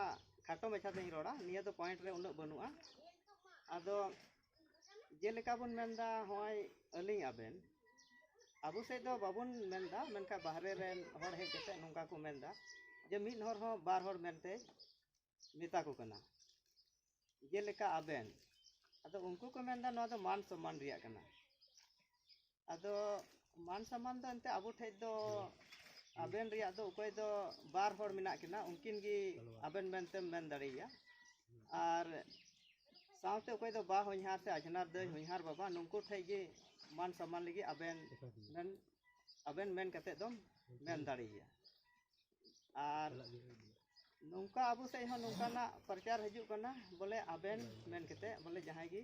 [SPEAKER 2] ᱠᱷᱟᱴᱚ ᱢᱟᱪᱷᱟ ᱛᱤᱧ ᱨᱚᱲᱟ ᱱᱤᱭᱟᱹ ᱫᱚ ᱯᱚᱭᱮᱱᱴ ᱨᱮ ᱩᱱᱟᱹᱜ ᱵᱟᱹᱱᱩᱜᱼᱟ ᱟᱫᱚ ᱡᱮᱞᱮᱠᱟ ᱵᱚᱱ ᱢᱮᱱᱫᱟ ᱦᱚᱸᱜᱼᱚᱭ ᱟᱹᱞᱤᱧ ᱟᱵᱮᱱ ᱟᱵᱚ ᱥᱮᱫ ᱫᱚ ᱵᱟᱵᱚᱱ ᱢᱮᱱᱫᱟ ᱢᱮᱱᱠᱷᱟᱱ ᱵᱟᱦᱨᱮ ᱨᱮᱱ ᱦᱚᱲ ᱦᱮᱡ ᱠᱟᱛᱮ ᱱᱚᱝᱠᱟ ᱠᱚ ᱢᱮᱱᱫᱟ ᱡᱮ ᱢᱤᱫ ᱦᱚᱲ ᱦᱚᱸ ᱵᱟᱨ ᱦᱚᱲ ᱢᱮᱱᱛᱮ ᱢᱮᱛᱟ ᱠᱚ ᱠᱟᱱᱟ ᱡᱮᱞᱮᱠᱟ ᱟᱵᱮᱱ ᱟᱫᱚ ᱩᱱᱠᱩ ᱠᱚ ᱢᱮᱱᱫᱟ ᱱᱚᱣᱟ ᱫᱚ ᱢᱟᱱ ᱥᱚᱱᱢᱟᱱ ᱨᱮᱭᱟᱜ ᱠᱟᱱᱟ ᱟᱫᱚ ᱢᱟᱱ ᱥᱚᱱᱢᱟᱱ ᱫᱚ ᱮᱱᱛᱮ ᱟᱵᱚ ᱴᱷᱮᱡ ᱫᱚ ᱟᱵᱮᱱ ᱨᱮᱭᱟᱜ ᱫᱚ ᱚᱠᱚᱭ ᱫᱚ ᱵᱟᱨ ᱦᱚᱲ ᱢᱮᱱᱟᱜ ᱠᱤᱱᱟ ᱩᱱᱠᱤᱱ ᱜᱮ ᱟᱵᱮᱱ ᱢᱮᱱᱛᱮᱢ ᱢᱮᱱ ᱫᱟᱲᱮᱭᱟᱭᱟ ᱟᱨ ᱥᱟᱶᱛᱮ ᱚᱠᱚᱭ ᱫᱚ ᱵᱟ ᱦᱚᱧᱦᱟᱨ ᱥᱮ ᱟᱡᱷᱱᱟᱨ ᱫᱟᱹᱭ ᱦᱚᱧᱦᱟᱨ ᱵᱟᱵᱟ ᱱᱩᱠᱩ ᱴᱷᱮᱡ ᱜᱮ ᱢᱟᱱ ᱥᱚᱱᱢᱟᱱ ᱞᱟᱹᱜᱤᱫ ᱟᱵᱮᱱ ᱢᱮᱱ ᱟᱵᱮᱱ ᱢᱮᱱ ᱠᱟᱛᱮ ᱫᱚᱢ ᱢᱮᱱ ᱫᱟᱲᱮᱭᱟᱭᱟ ᱟᱨ ᱱᱚᱝᱠᱟ ᱟᱵᱚ ᱥᱮᱡ ᱦᱚᱸ ᱱᱚᱝᱠᱟᱱᱟᱜ ᱯᱨᱚᱪᱟᱨ ᱦᱤᱡᱩᱜ ᱠᱟᱱᱟ ᱵᱚᱞᱮ ᱟᱵᱮᱱ ᱢᱮᱱ ᱠᱟᱛᱮ ᱵᱚᱞᱮ ᱡᱟᱦᱟᱸᱭ ᱜᱮ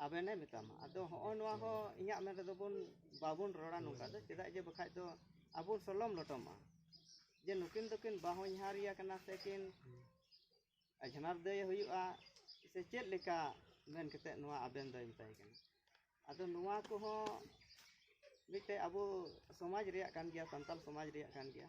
[SPEAKER 2] ᱟᱵᱮᱱᱮ ᱢᱮᱛᱟᱢᱟ ᱟᱫᱚ ᱦᱚᱸᱜᱼᱚ ᱱᱚᱣᱟ ᱦᱚᱸ ᱤᱧᱟᱹᱜ ᱢᱮᱱ ᱨᱮᱫᱚ ᱵᱚᱱ ᱵᱟᱵᱚᱱ ᱨᱚᱲᱟ ᱱᱚᱝᱠᱟ ᱫᱚ ᱪᱮᱫᱟᱜ ᱡᱮ ᱵᱟᱠᱷᱟᱡ ᱫᱚ ᱟᱵᱚ ᱥᱚᱞᱚᱢ ᱞᱚᱴᱚᱢᱚᱜᱼᱟ ᱡᱮ ᱱᱩᱠᱤᱱ ᱫᱚᱠᱤᱱ ᱵᱟᱦᱚᱧᱦᱟᱨᱤᱭᱟ ᱠᱟᱱᱟ ᱥᱮ ᱠᱤᱱ ᱟᱡᱷᱱᱟᱨ ᱫᱟᱹᱭᱮ ᱦᱩᱭᱩᱜᱼᱟ ᱥᱮ ᱪᱮᱫ ᱞᱮᱠᱟ ᱢᱮᱱ ᱠᱟᱛᱮᱫ ᱱᱚᱣᱟ ᱟᱵᱮᱱ ᱫᱚᱭ ᱢᱮᱛᱟᱭ ᱠᱟᱱᱟ ᱟᱫᱚ ᱱᱚᱣᱟ ᱠᱚᱦᱚᱸ ᱢᱤᱫᱴᱮᱡ ᱟᱵᱚ ᱥᱚᱢᱟᱡᱽ ᱨᱮᱭᱟᱜ ᱠᱟᱱ ᱜᱮᱭᱟ ᱥᱟᱱᱛᱟᱞ ᱥᱚᱢᱟᱡᱽ ᱨᱮᱭᱟᱜ ᱠᱟᱱ ᱜᱮᱭᱟ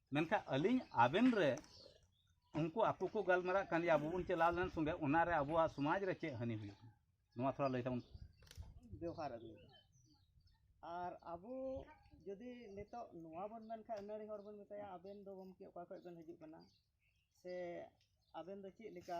[SPEAKER 4] ᱢᱮᱱᱠᱷᱟᱱ ᱟᱹᱞᱤᱧ ᱟᱵᱮᱱ ᱨᱮ ᱩᱱᱠᱩ ᱟᱠᱚ ᱠᱚ ᱜᱟᱞᱢᱟᱨᱟᱜ ᱠᱟᱱ ᱜᱮᱭᱟ ᱟᱵᱚ ᱵᱚᱱ ᱪᱟᱞᱟᱣ ᱞᱮᱱ ᱥᱚᱸᱜᱮ ᱚᱱᱟᱨᱮ ᱟᱵᱚᱣᱟᱜ ᱥᱚᱢᱟᱡᱽ ᱨᱮ ᱪᱮᱫ ᱦᱟᱹᱱᱤ ᱦᱩᱭᱩᱜ ᱠᱟᱱᱟ ᱱᱚᱣᱟ ᱛᱷᱚᱲᱟ ᱞᱟᱹᱭ ᱛᱟᱵᱚᱱ ᱵᱮᱣᱦᱟᱨ
[SPEAKER 2] ᱟᱹᱜᱩ ᱟᱨ ᱟᱵᱚ ᱡᱩᱫᱤ ᱱᱤᱛᱚᱜ ᱱᱚᱣᱟ ᱵᱚᱱ ᱢᱮᱱᱠᱷᱟᱱ ᱟᱹᱱᱟᱹᱲᱤ ᱦᱚᱲ ᱵᱚᱱ ᱢᱮᱛᱟᱭᱟ ᱟᱵᱮᱱ ᱫᱚ ᱜᱚᱢᱠᱮ ᱚᱠᱟ ᱠᱷᱚᱱ ᱵᱮᱱ ᱦᱤᱡᱩᱜ ᱠᱟᱱᱟ ᱥᱮ ᱟᱵᱮᱱ ᱫᱚ ᱪᱮᱫ ᱞᱮᱠᱟ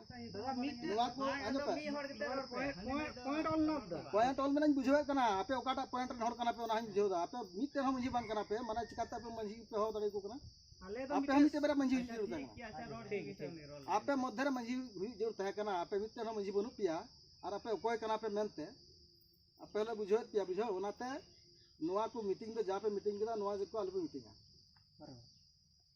[SPEAKER 5] ᱯᱚᱭᱮᱱᱴ ᱚᱞ ᱢᱮᱱᱟᱧ ᱵᱩᱡᱷᱟᱹᱣᱮᱫ ᱠᱟᱱᱟ ᱟᱯᱮ ᱚᱠᱟᱴᱟᱜ ᱯᱚᱭᱮᱱᱴ ᱨᱮᱱ ᱦᱚᱲ ᱠᱟᱱᱟ ᱯᱮ ᱚᱱᱟ ᱦᱚᱸᱧ ᱵᱩᱡᱷᱟᱹᱣ ᱫᱟ ᱟᱯᱮ ᱢᱤᱫᱴᱮᱱ ᱦᱚᱸ ᱢᱟᱺᱡᱷᱤ ᱵᱟᱝ ᱠᱟᱱᱟ ᱯᱮ ᱢᱟᱱᱮ ᱪᱤᱠᱟᱛᱮ ᱟᱯᱮ ᱢᱟᱺᱡᱷᱤ ᱯᱮ ᱦᱚᱦᱚ ᱫᱟᱲᱮ ᱟᱠᱚ ᱠᱟᱱᱟ ᱟᱯᱮ ᱦᱚᱸ ᱢᱤᱫᱴᱮᱱ ᱵᱟᱨᱭᱟ ᱢᱟᱺᱡᱷᱤ ᱦᱩᱭᱩᱜ ᱡᱟᱹᱨᱩᱲ ᱛᱟᱦᱮᱸ ᱟᱯᱮ ᱢᱚᱫᱽᱫᱷᱮ ᱨᱮ ᱢᱟᱺᱡᱷᱤ ᱦᱩᱭᱩᱜ ᱡᱟᱹᱨᱩᱲ ᱛᱟᱦᱮᱸ ᱠᱟᱱᱟ ᱟᱯᱮ ᱢᱤᱫᱴᱮᱱ ᱦᱚᱸ ᱢᱟᱺᱡᱷᱤ ᱵᱟᱹᱱᱩᱜ ᱯᱮᱭᱟ ᱟᱨ ᱟᱯᱮ ᱚᱠᱚᱭ ᱠᱟᱱᱟ ᱯᱮ ᱢᱮᱱᱛᱮ ᱟᱯᱮ ᱦᱚᱸᱞᱮ ᱵᱩᱡᱷᱟᱹᱣᱮᱫ ᱯᱮᱭᱟ ᱵᱩᱡᱷᱟᱹᱣ ᱚᱱᱟᱛᱮ ᱱᱚᱣᱟ ᱠᱚ ᱢᱤᱴᱤᱝ ᱫᱚ ᱡᱟ ᱯᱮ ᱢᱤᱴᱤᱝ ᱠᱮᱫᱟ ᱱᱚᱣᱟ ᱜᱮᱠᱚ ᱟᱞᱚᱯᱮ ᱢᱤᱴᱤᱝᱟ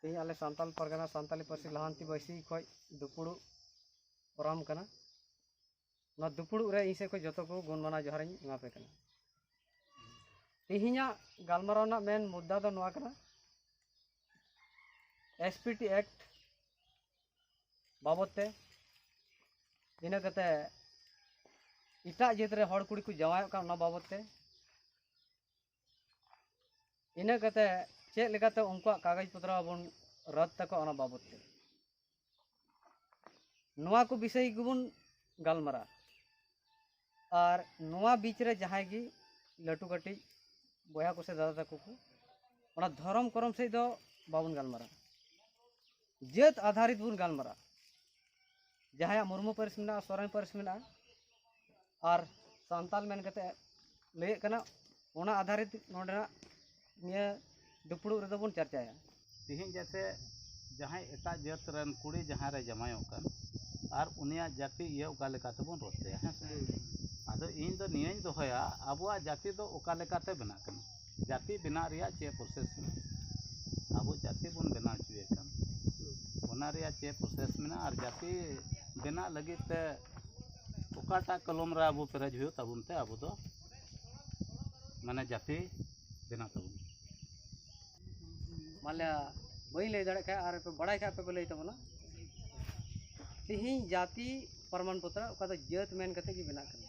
[SPEAKER 2] ᱛᱮᱦᱮᱧ ᱟᱞᱮ ᱥᱟᱱᱛᱟᱞ ᱯᱟᱨᱜᱟᱱᱟ ᱥᱟᱱᱛᱟᱞᱤ ᱯᱟᱹᱨᱥᱤ ᱞᱟᱦᱟᱱᱛᱤ ᱵᱟᱹᱭᱥᱤ ᱠᱷᱚᱡ ᱫᱩᱯᱩᱲᱩᱵ ᱯᱨᱳᱜᱨᱟᱢ ᱠᱟᱱᱟ ᱱᱚᱣᱟ ᱫᱩᱯᱩᱲᱩᱵ ᱨᱮ ᱤᱧ ᱥᱮᱫ ᱠᱷᱚᱡ ᱡᱚᱛᱚ ᱠᱚ ᱜᱩᱱ ᱢᱟᱱᱟᱣ ᱡᱚᱦᱟᱨᱤᱧ ᱮᱢᱟᱯᱮ ᱠᱟᱱᱟ ᱛᱮᱦᱮᱧᱟᱜ ᱜᱟᱞᱢᱟᱨᱟᱣ ᱨᱮᱱᱟᱜ ᱢᱮᱱ ᱢᱩᱫᱽᱫᱟ ᱫᱚ ᱱᱚᱣᱟ ᱠᱟᱱᱟ ᱮᱥ ᱯᱤ ᱴᱤ ᱮᱠᱴ ᱵᱟᱵᱚᱫ ᱛᱮ ᱤᱱᱟᱹ ᱠᱟᱛᱮ ᱮᱴᱟᱜ ᱡᱟᱹᱛ ᱨᱮ ᱦᱚᱲ ᱠᱩᱲᱤ ᱠᱚ ᱡᱟᱶᱟᱭᱚᱜ ᱠᱟᱱ ᱚᱱᱟ ᱵᱟᱵᱚᱫ ᱛᱮ ᱤᱱᱟᱹ ᱠᱟᱛᱮ ᱪᱮᱫ ᱞᱮᱠᱟᱛᱮ ᱩᱱᱠᱩᱣᱟᱜ ᱠᱟᱜᱚᱡᱽ ᱯᱚᱛᱨᱚ ᱵᱚᱱ ᱨᱚᱫ ᱛᱟᱠᱚᱣᱟ ᱚᱱᱟ ᱵᱟᱵᱚᱫ ᱛᱮ ᱱᱚᱣᱟ ᱠᱚ ᱵᱤᱥᱚᱭ ᱜᱮᱵᱚᱱ ᱜᱟᱞᱢᱟᱨᱟᱜᱼᱟ ᱟᱨ ᱱᱚᱣᱟ ᱵᱤᱪ ᱨᱮ ᱡᱟᱦᱟᱸᱭ ᱜᱮ ᱞᱟᱹᱴᱩ ᱠᱟᱹᱴᱤᱡ ᱵᱚᱭᱦᱟ ᱠᱚᱥᱮ ᱫᱟᱫᱟ ᱛᱟᱠᱚ ᱠᱚ ᱚᱱᱟ ᱫᱷᱚᱨᱚᱢ ᱠᱚᱨᱚᱢ ᱥᱮᱫ ᱫᱚ ᱵᱟᱵᱚᱱ ᱜᱟᱞᱢᱟᱨᱟᱜᱼᱟ ᱡᱟᱹᱛ ᱟᱫᱷᱟᱨᱤᱛ ᱵᱚᱱ ᱜᱟᱞᱢᱟᱨᱟᱜᱼᱟ ᱡᱟᱦᱟᱸᱭᱟᱜ ᱢᱩᱨᱢᱩ ᱯᱟᱹᱨᱤᱥ ᱢᱮᱱᱟᱜᱼᱟ ᱥᱚᱨᱮᱱ ᱯᱟᱹᱨᱤᱥ ᱢᱮᱱᱟᱜᱼᱟ ᱟᱨ ᱥᱟᱱᱛᱟᱞ ᱢᱮᱱ ᱠᱟᱛᱮ ᱞᱟᱹᱭᱮᱫ ᱠᱟᱱᱟ ᱚᱱᱟ ᱟᱫᱷᱟᱨᱤᱛ ᱱᱚᱰᱮᱱᱟᱜ ᱱᱤᱭᱟᱹ ᱫᱩᱯᱲᱩᱵ ᱨᱮᱫᱚ ᱵᱚᱱ ᱪᱟᱨᱪᱟᱭᱟ ᱛᱮᱦᱮᱧ ᱡᱟᱛᱮ
[SPEAKER 4] ᱡᱟᱦᱟᱸᱭ ᱮᱴᱟᱜ ᱡᱟᱹᱛ ᱨᱮᱱ ᱠᱩᱲᱤ ᱡᱟᱦᱟᱸ ᱨᱮ ᱡᱟᱢᱟᱭᱚᱜ ᱠᱟᱱ ᱟᱨ ᱩᱱᱤᱭᱟᱜ ᱡᱟᱹᱛᱤ ᱤᱭᱟᱹ ᱚᱠᱟ ᱞᱮᱠᱟ ᱛᱮᱵᱚᱱ ᱨᱚᱲ ᱛᱟᱭᱟ ᱦᱮᱸ ᱥᱮ ᱟᱫᱚ ᱤᱧ ᱫᱚ ᱱᱤᱭᱟᱹᱧ ᱫᱚᱦᱚᱭᱟ ᱟᱵᱚᱣᱟᱜ ᱡᱟᱹᱛᱤ ᱫᱚ ᱚᱠᱟ ᱞᱮᱠᱟᱛᱮ ᱵᱮᱱᱟᱜ ᱠᱟᱱᱟ ᱡᱟᱹᱛᱤ ᱵᱮᱱᱟᱜ ᱨᱮᱭᱟᱜ ᱪᱮᱫ ᱯᱨᱚᱥᱮᱥ ᱢᱮᱱᱟᱜᱼᱟ ᱟᱵᱚ ᱡᱟᱹᱛᱤ ᱵᱚᱱ ᱵᱮᱱᱟᱣ ᱦᱚᱪᱚᱭᱮ ᱠᱟᱱ ᱚᱱᱟ ᱨᱮᱭᱟᱜ ᱪᱮᱫ ᱯᱨᱚᱥᱮᱥ ᱢᱮᱱᱟᱜᱼᱟ ᱟᱨ ᱡᱟᱹᱛᱤ ᱵᱮᱱᱟᱜ ᱞᱟᱹᱜᱤᱫ ᱛᱮ ᱚᱠᱟᱴᱟᱜ ᱠᱚᱞᱚᱢ ᱨᱮ ᱟᱵᱚ ᱯᱮᱨᱮᱡ ᱦᱩᱭᱩᱜ ᱛᱟᱵᱚᱱ ᱛᱮ ᱟᱵᱚ ᱫᱚ ᱢᱟᱱᱮ ᱡᱟᱹᱛᱤ ᱵᱮᱱᱟᱜ ᱛᱟᱵᱚᱱᱟ
[SPEAKER 2] ᱢᱟᱱᱞᱤᱭᱟ ᱵᱟᱹᱧ ᱞᱟᱹᱭ ᱫᱟᱲᱮᱭᱟᱜ ᱠᱷᱟᱱ ᱟᱨ ᱯᱮ ᱵᱟᱲᱟᱭ ᱠᱷᱟᱱ ᱟᱯᱮ ᱯᱮ ᱞᱟᱹᱭ ᱛᱟᱵᱚᱱᱟ ᱛᱤᱦᱤᱧ ᱡᱟᱹᱛᱤ ᱯᱨᱚᱢᱟᱱ ᱯᱚᱛᱨᱚ ᱚᱠᱟ ᱫᱚ ᱡᱟᱹᱛ ᱢᱮᱱ ᱠᱟᱛᱮᱫ ᱜᱮ ᱵᱮᱱᱟᱜ ᱠᱟᱱᱟ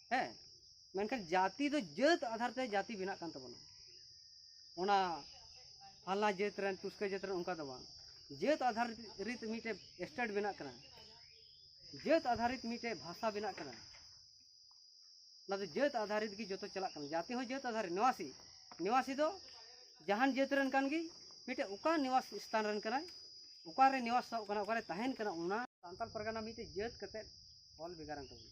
[SPEAKER 2] ᱦᱮᱸ ᱢᱮᱱᱠᱷᱟᱱ ᱡᱟᱹᱛᱤ ᱫᱚ ᱡᱟᱹᱛ ᱟᱫᱷᱟᱨ ᱛᱮ ᱡᱟᱹᱛᱤ ᱵᱮᱱᱟᱜ ᱠᱟᱱ ᱛᱟᱵᱚᱱᱟ ᱚᱱᱟ ᱯᱷᱟᱞᱱᱟ ᱡᱟᱹᱛ ᱨᱮᱱ ᱴᱩᱥᱠᱟᱹ ᱡᱟᱹᱛ ᱨᱮᱱ ᱚᱱᱠᱟ ᱫᱚ ᱵᱟᱝ ᱡᱟᱹᱛ ᱟᱫᱷᱟᱨᱤᱛ ᱢᱤᱫᱴᱮᱡ ᱥᱴᱮᱴ ᱵᱮᱱᱟᱜ ᱠᱟᱱᱟ ᱡᱟᱹᱛ ᱟᱫᱷᱟᱨᱤᱛ ᱢᱤᱫᱴᱮᱡ ᱵᱷᱟᱥᱟ ᱵᱮᱱᱟᱜ ᱠᱟᱱᱟ ᱚᱱᱟ ᱫᱚ ᱡᱟᱹᱛ ᱟᱫᱷᱟᱨᱤᱛ ᱜᱮ ᱡᱚᱛᱚ ᱪᱟᱞᱟᱜ ᱠᱟᱱᱟ ᱡᱟᱹᱛᱤ ᱦᱚᱸ ᱡᱟᱹᱛ ᱟᱫᱷᱟᱨᱤᱛ ᱱᱤᱣᱟᱥᱤ ᱱᱤᱣᱟᱥᱤ ᱫᱚ ᱡᱟᱦᱟᱱ ᱡᱟᱹᱛ ᱨᱮᱱ ᱠᱟᱱ ᱜᱮ ᱢᱤᱫᱴᱮᱡ ᱚᱠᱟ ᱱᱤᱣᱟᱥ ᱥᱛᱷᱟᱱ ᱨᱮᱱ ᱠᱟᱱᱟᱭ ᱚᱠᱟᱨᱮ ᱱᱤᱣᱟᱥᱚᱜ ᱠᱟᱱᱟ ᱚᱠᱟᱨᱮ ᱛᱟᱦᱮᱱ ᱠᱟᱱᱟ ᱚᱱᱟ ᱥᱟᱱᱛᱟᱲ ᱯᱟᱨᱜᱟᱱᱟ ᱢᱤᱫᱴᱮᱡ ᱡᱟᱹᱛ ᱠᱟᱛᱮᱫ ᱚᱞ ᱵᱷᱮᱜᱟᱨᱮᱱ ᱛᱟᱵᱚᱱᱟ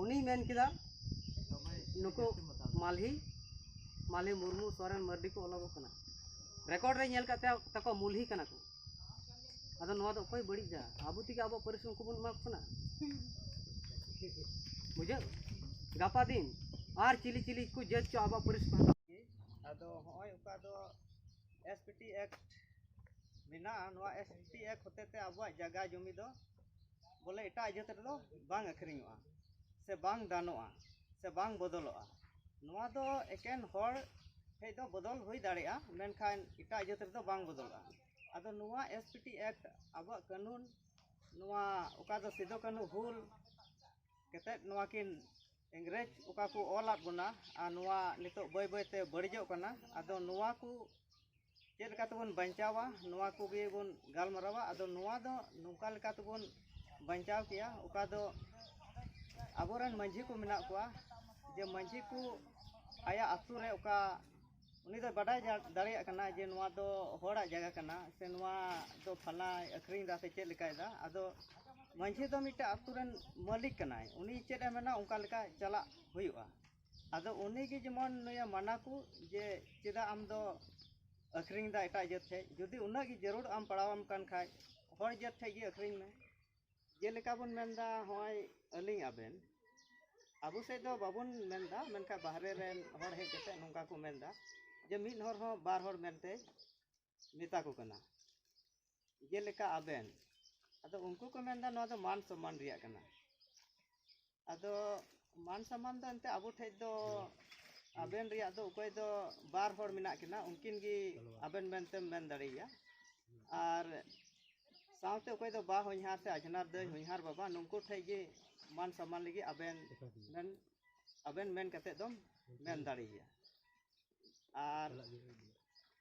[SPEAKER 2] ᱩᱱᱤ ᱢᱮᱱ ᱠᱮᱫᱟ ᱱᱩᱠᱩ ᱢᱟᱞᱦᱤ ᱢᱟᱞᱦᱤ ᱢᱩᱨᱢᱩ ᱥᱚᱨᱮᱱ ᱢᱟᱨᱰᱤ ᱠᱚ ᱚᱞᱚᱜᱚᱜ ᱠᱟᱱᱟ ᱨᱮᱠᱚᱨᱰ ᱨᱮ ᱧᱮᱞ ᱠᱟᱛᱮ ᱛᱟᱠᱚ ᱢᱩᱞᱦᱤ ᱠᱟᱱᱟ ᱠᱚ ᱟᱫᱚ ᱱᱚᱣᱟ ᱫᱚ ᱚᱠᱚᱭ ᱵᱟᱹᱲᱤᱡ ᱫᱟ ᱟᱵᱚ ᱛᱮᱜᱮ ᱟᱵᱚ ᱯᱟᱹᱨᱤᱥ ᱩᱱᱠᱩ ᱵᱚᱱ ᱮᱢᱟ ᱠᱚ ᱠᱟᱱᱟ ᱵᱩᱡᱷᱟᱹᱣ ᱜᱟᱯᱟ ᱫᱤᱱ ᱟᱨ ᱪᱤᱞᱤ ᱪᱤᱞᱤ ᱠᱚ ᱡᱟᱹᱛ ᱪᱚ ᱟᱵᱚ ᱯᱟᱹᱨᱤᱥ ᱠᱚ ᱟᱫᱚ ᱦᱚᱸᱜᱼᱚᱭ ᱚᱠᱟ ᱫᱚ ᱮᱥ ᱯᱤ ᱴᱤ ᱮᱠᱴ ᱢᱮᱱᱟᱜᱼᱟ ᱱᱚᱣᱟ ᱮᱥ ᱯᱤ ᱴᱤ ᱮᱠᱴ ᱦᱚᱛᱮᱛᱮ ᱟᱵᱚᱣᱟᱜ ᱡᱟᱭᱜᱟ ᱡᱚᱢᱤ ᱫᱚ ᱵᱚᱞᱮ ᱮᱴᱟᱜ ᱡᱟᱹᱛ ᱨᱮᱫᱚ ᱵᱟᱝ ᱟᱹᱠᱷᱨᱤᱧᱚᱜᱼᱟ ᱥᱮ ᱵᱟᱝ ᱫᱟᱱᱚᱜᱼᱟ ᱥᱮ ᱵᱟᱝ ᱵᱚᱫᱚᱞᱚᱜᱼᱟ ᱱᱚᱣᱟ ᱫᱚ ᱮᱠᱮᱱ ᱦᱚᱲ ᱴᱷᱮᱱ ᱫᱚ ᱵᱚᱫᱚᱞ ᱦᱩᱭ ᱫᱟᱲᱮᱭᱟᱜᱼᱟ ᱢᱮᱱᱠᱷᱟᱱ ᱮᱴᱟᱜ ᱡᱟᱹᱛ ᱨᱮᱫᱚ ᱵᱟᱝ ᱵᱚᱫᱚᱞᱚᱜᱼᱟ ᱟᱫᱚ ᱱᱚᱣᱟ ᱮᱥ ᱯᱤ ᱴᱤ ᱮᱠᱴ ᱟᱵᱚᱣᱟᱜ ᱠᱟᱹᱱᱩᱱ ᱱᱚᱣᱟ ᱚᱠᱟ ᱫᱚ ᱥᱤᱫᱩ ᱠᱟᱹᱱᱦᱩ ᱦᱩᱞ ᱠᱟᱛᱮᱫ ᱱᱚᱣᱟ ᱠᱤᱱ ᱤᱝᱨᱮᱡᱽ ᱚᱠᱟ ᱠᱚ ᱚᱞᱟᱫ ᱵᱚᱱᱟ ᱟᱨ ᱱᱚᱣᱟ ᱱᱤᱛᱚᱜ ᱵᱟᱹᱭ ᱵᱟᱹᱭ ᱛᱮ ᱵᱟᱹᱲᱤᱡᱚᱜ ᱠᱟᱱᱟ ᱟᱫᱚ ᱱᱚᱣᱟ ᱠᱚ ᱪᱮᱫ ᱞᱮᱠᱟ ᱛᱮᱵᱚᱱ ᱵᱟᱧᱪᱟᱣᱟ ᱱᱚᱣᱟ ᱠᱚᱜᱮ ᱵᱚᱱ ᱜᱟᱞᱢᱟᱨᱟᱣᱟ ᱟᱫᱚ ᱱᱚᱣᱟ ᱫᱚ ᱱᱚᱝᱠᱟ ᱞᱮᱠᱟ ᱛᱮᱵᱚᱱ ᱵᱟᱧᱪᱟᱣ ᱠᱮᱭᱟ ᱚᱠᱟ ᱫᱚ ᱟᱵᱚᱨᱮᱱ ᱢᱟᱺᱡᱷᱤ ᱠᱚ ᱢᱮᱱᱟᱜ ᱠᱚᱣᱟ ᱡᱮ ᱢᱟᱺᱡᱷᱤ ᱠᱚ ᱟᱭᱟᱜ ᱟᱛᱳ ᱨᱮ ᱚᱠᱟ ᱩᱱᱤ ᱫᱚ ᱵᱟᱰᱟᱭ ᱫᱟᱲᱮᱭᱟᱜ ᱠᱟᱱᱟ ᱡᱮ ᱱᱚᱣᱟ ᱫᱚ ᱦᱚᱲᱟᱜ ᱡᱟᱭᱜᱟ ᱠᱟᱱᱟ ᱥᱮ ᱱᱚᱣᱟ ᱫᱚ ᱯᱷᱟᱞᱱᱟᱭ ᱟᱹᱠᱷᱨᱤᱧ ᱮᱫᱟ ᱥᱮ ᱪᱮᱫ ᱞᱮᱠᱟᱭᱮᱫᱟ ᱟᱫᱚ ᱢᱟᱺᱡᱷᱤ ᱫᱚ ᱢᱤᱫᱴᱮᱱ ᱟᱛᱳ ᱨᱮᱱ ᱢᱟᱹᱞᱤᱠ ᱠᱟᱱᱟᱭ ᱩᱱᱤ ᱪᱮᱫ ᱮ ᱢᱮᱱᱟ ᱚᱱᱠᱟ ᱞᱮᱠᱟ ᱪᱟᱞᱟᱜ ᱦᱩᱭᱩᱜᱼᱟ ᱟᱫᱚ ᱩᱱᱤ ᱜᱮ ᱡᱮᱢᱚᱱ ᱱᱩᱭᱮ ᱢᱟᱱᱟ ᱠᱚ ᱡᱮ ᱪᱮᱫᱟᱜ ᱟᱢ ᱫᱚ ᱟᱹᱠᱷᱨᱤᱧ ᱮᱫᱟ ᱮᱴᱟᱜ ᱡᱟᱹᱛ ᱴᱷᱮᱱ ᱡᱩᱫᱤ ᱩᱱᱟᱹᱜ ᱜᱮ ᱡᱟᱹᱨᱩᱲ ᱟᱢ ᱯᱟᱲᱟᱣ ᱟᱢ ᱠᱟᱱ ᱠᱷᱟᱱ ᱦᱚᱲ ᱡᱟᱹᱛ ᱴᱷᱮᱱ ᱜᱮ ᱟᱹᱠᱷᱨᱤᱧ ᱢᱮ ᱡᱮᱞᱮᱠᱟ ᱵᱚᱱ ᱢᱮᱱ ᱮᱫᱟ ᱦᱚᱸᱜᱼᱚᱭ ᱟᱹᱞᱤᱧ ᱟᱵᱮᱱ ᱟᱵᱚ ᱥᱮᱫ ᱫᱚ ᱵᱟᱵᱚᱱ ᱢᱮᱱ ᱮᱫᱟ ᱢᱮᱱᱠᱷᱟᱱ ᱵᱟᱦᱨᱮ ᱨᱮᱱ ᱦᱚᱲ ᱦᱮᱡ ᱠᱟᱛᱮᱫ ᱱᱚᱝᱠᱟ ᱠᱚ ᱢᱮᱱ ᱮᱫᱟ ᱡᱮ ᱢᱤᱫ ᱦᱚᱲ ᱦᱚᱸ ᱵᱟᱨ ᱦᱚᱲ ᱢᱮᱱᱛᱮ ᱢᱮᱛᱟ ᱠᱚ ᱠᱟᱱᱟ ᱡᱮᱞᱮᱠᱟ ᱟᱵᱮᱱ ᱟᱫᱚ ᱩᱱᱠᱩ ᱠᱚ ᱢᱮᱱᱫᱟ ᱱᱚᱣᱟ ᱫᱚ ᱢᱟᱱ ᱥᱚᱢᱢᱟᱱ ᱨᱮᱭᱟᱜ ᱠᱟᱱᱟ ᱟᱫᱚ ᱢᱟᱱ ᱥᱚᱢᱢᱟᱱ ᱫᱚ ᱮᱱᱛᱮ ᱟᱵᱚ ᱴᱷᱮᱡ ᱫᱚ ᱟᱵᱮᱱ ᱨᱮᱭᱟᱜ ᱫᱚ ᱚᱠᱚᱭ ᱫᱚ ᱵᱟᱨ ᱦᱚᱲ ᱢᱮᱱᱟᱜ ᱠᱤᱱᱟ ᱩᱱᱠᱤᱱ ᱜᱮ ᱟᱵᱮᱱ ᱢᱮᱱᱛᱮᱢ ᱢᱮᱱ ᱫᱟᱲᱮᱭᱟᱭᱟ ᱟᱨ ᱥᱟᱶᱛᱮ ᱚᱠᱚᱭ ᱫᱚ ᱵᱟ ᱦᱚᱧᱦᱟᱨ ᱥᱮ ᱟᱡᱷᱱᱟᱨ ᱫᱟᱹᱭ ᱦᱚᱧᱦᱟᱨ ᱵᱟᱵᱟ ᱱᱩᱠᱩ ᱴᱷᱮᱡ ᱜᱮ ᱢᱟᱱ ᱥᱚᱢᱢᱟᱱ ᱞᱟᱹᱜᱤᱫ ᱟᱵᱮᱱ ᱢᱮᱱ ᱟᱵᱮᱱ ᱢᱮᱱ ᱠᱟᱛᱮᱫ ᱫᱚᱢ ᱢᱮᱱ ᱫᱟᱲᱮᱭᱟᱭᱟ ᱟᱨ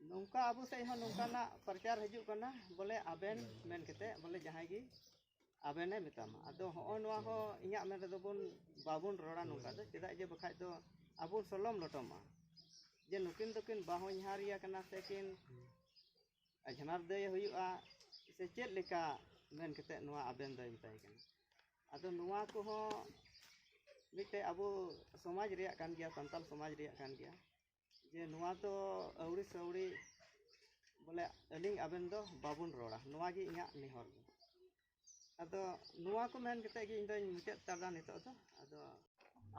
[SPEAKER 2] ᱱᱚᱝᱠᱟ ᱟᱵᱚ ᱥᱮᱫ ᱦᱚᱸ ᱱᱚᱝᱠᱟᱱᱟᱜ ᱯᱨᱚᱪᱟᱨ ᱦᱤᱡᱩᱜ ᱠᱟᱱᱟ ᱵᱚᱞᱮ ᱟᱵᱮᱱ ᱢᱮᱱ ᱠᱟᱛᱮᱫ ᱵᱚᱞᱮ ᱡᱟᱦᱟᱸᱭ ᱜᱮ ᱟᱵᱮᱱᱮ ᱢᱮᱛᱟᱢᱟ ᱟᱫᱚ ᱦᱚᱸᱜᱼᱚ ᱱᱚᱣᱟ ᱦᱚᱸ ᱤᱧᱟᱹᱜ ᱢᱮᱱ ᱨᱮᱫᱚ ᱵᱚᱱ ᱵᱟᱵᱚᱱ ᱨᱚᱲᱟ ᱱᱚᱝᱠᱟ ᱫᱚ ᱪᱮᱫᱟᱜ ᱡᱮ ᱵᱟᱠᱷᱟᱡ ᱫᱚ ᱟᱵᱚ ᱥᱚᱞᱚᱢ ᱞᱚᱴᱚᱢᱟ ᱡᱮ ᱱᱩᱠᱤᱱ ᱫᱚᱠᱤᱱ ᱵᱟᱦᱚᱧᱦᱟᱨᱤᱭᱟ ᱠᱟᱱᱟ ᱥᱮ ᱠᱤᱱ ᱟᱡᱷᱱᱟᱨ ᱫᱟᱹᱭ ᱦᱩᱭᱩᱜᱼᱟ ᱥᱮ ᱪᱮᱫ ᱞᱮᱠᱟ ᱢᱮᱱ ᱠᱟᱛᱮᱫ ᱱᱚᱣᱟ ᱟᱵᱮᱱ ᱫᱚᱭ ᱢᱮᱛᱟᱭ ᱠᱟᱱᱟ ᱟᱫᱚ ᱱᱚᱣᱟ ᱠᱚᱦᱚᱸ ᱢᱤᱫᱴᱮᱡ ᱟᱵᱚ ᱥᱚᱢᱟᱡᱽ ᱨᱮᱭᱟᱜ ᱠᱟᱱ ᱜᱮᱭᱟ ᱥᱟᱱᱛᱟᱲ ᱥᱚᱢᱟᱡᱽ ᱨᱮᱭᱟᱜ ᱠᱟᱱ ᱜᱮᱭᱟ ᱡᱮ ᱱᱚᱣᱟ ᱫᱚ ᱟᱹᱣᱲᱤ ᱥᱮ ᱟᱹᱣᱲᱤ ᱵᱚᱞᱮ ᱟᱹᱞᱤᱧ ᱟᱵᱮᱱ ᱫᱚ ᱵᱟᱵᱚᱱ ᱨᱚᱲᱟ ᱱᱚᱣᱟ ᱜᱮ ᱤᱧᱟᱹᱜ ᱱᱮᱦᱚᱨ ᱫᱚ ᱟᱫᱚ ᱱᱚᱣᱟ ᱠᱚ ᱢᱮᱱ ᱠᱟᱛᱮ ᱜᱮ ᱤᱧ ᱫᱚᱧ ᱢᱩᱪᱟᱹᱫ ᱦᱟᱛᱟᱲᱫᱟ ᱱᱤᱛᱚᱜ ᱫᱚ ᱟᱫᱚ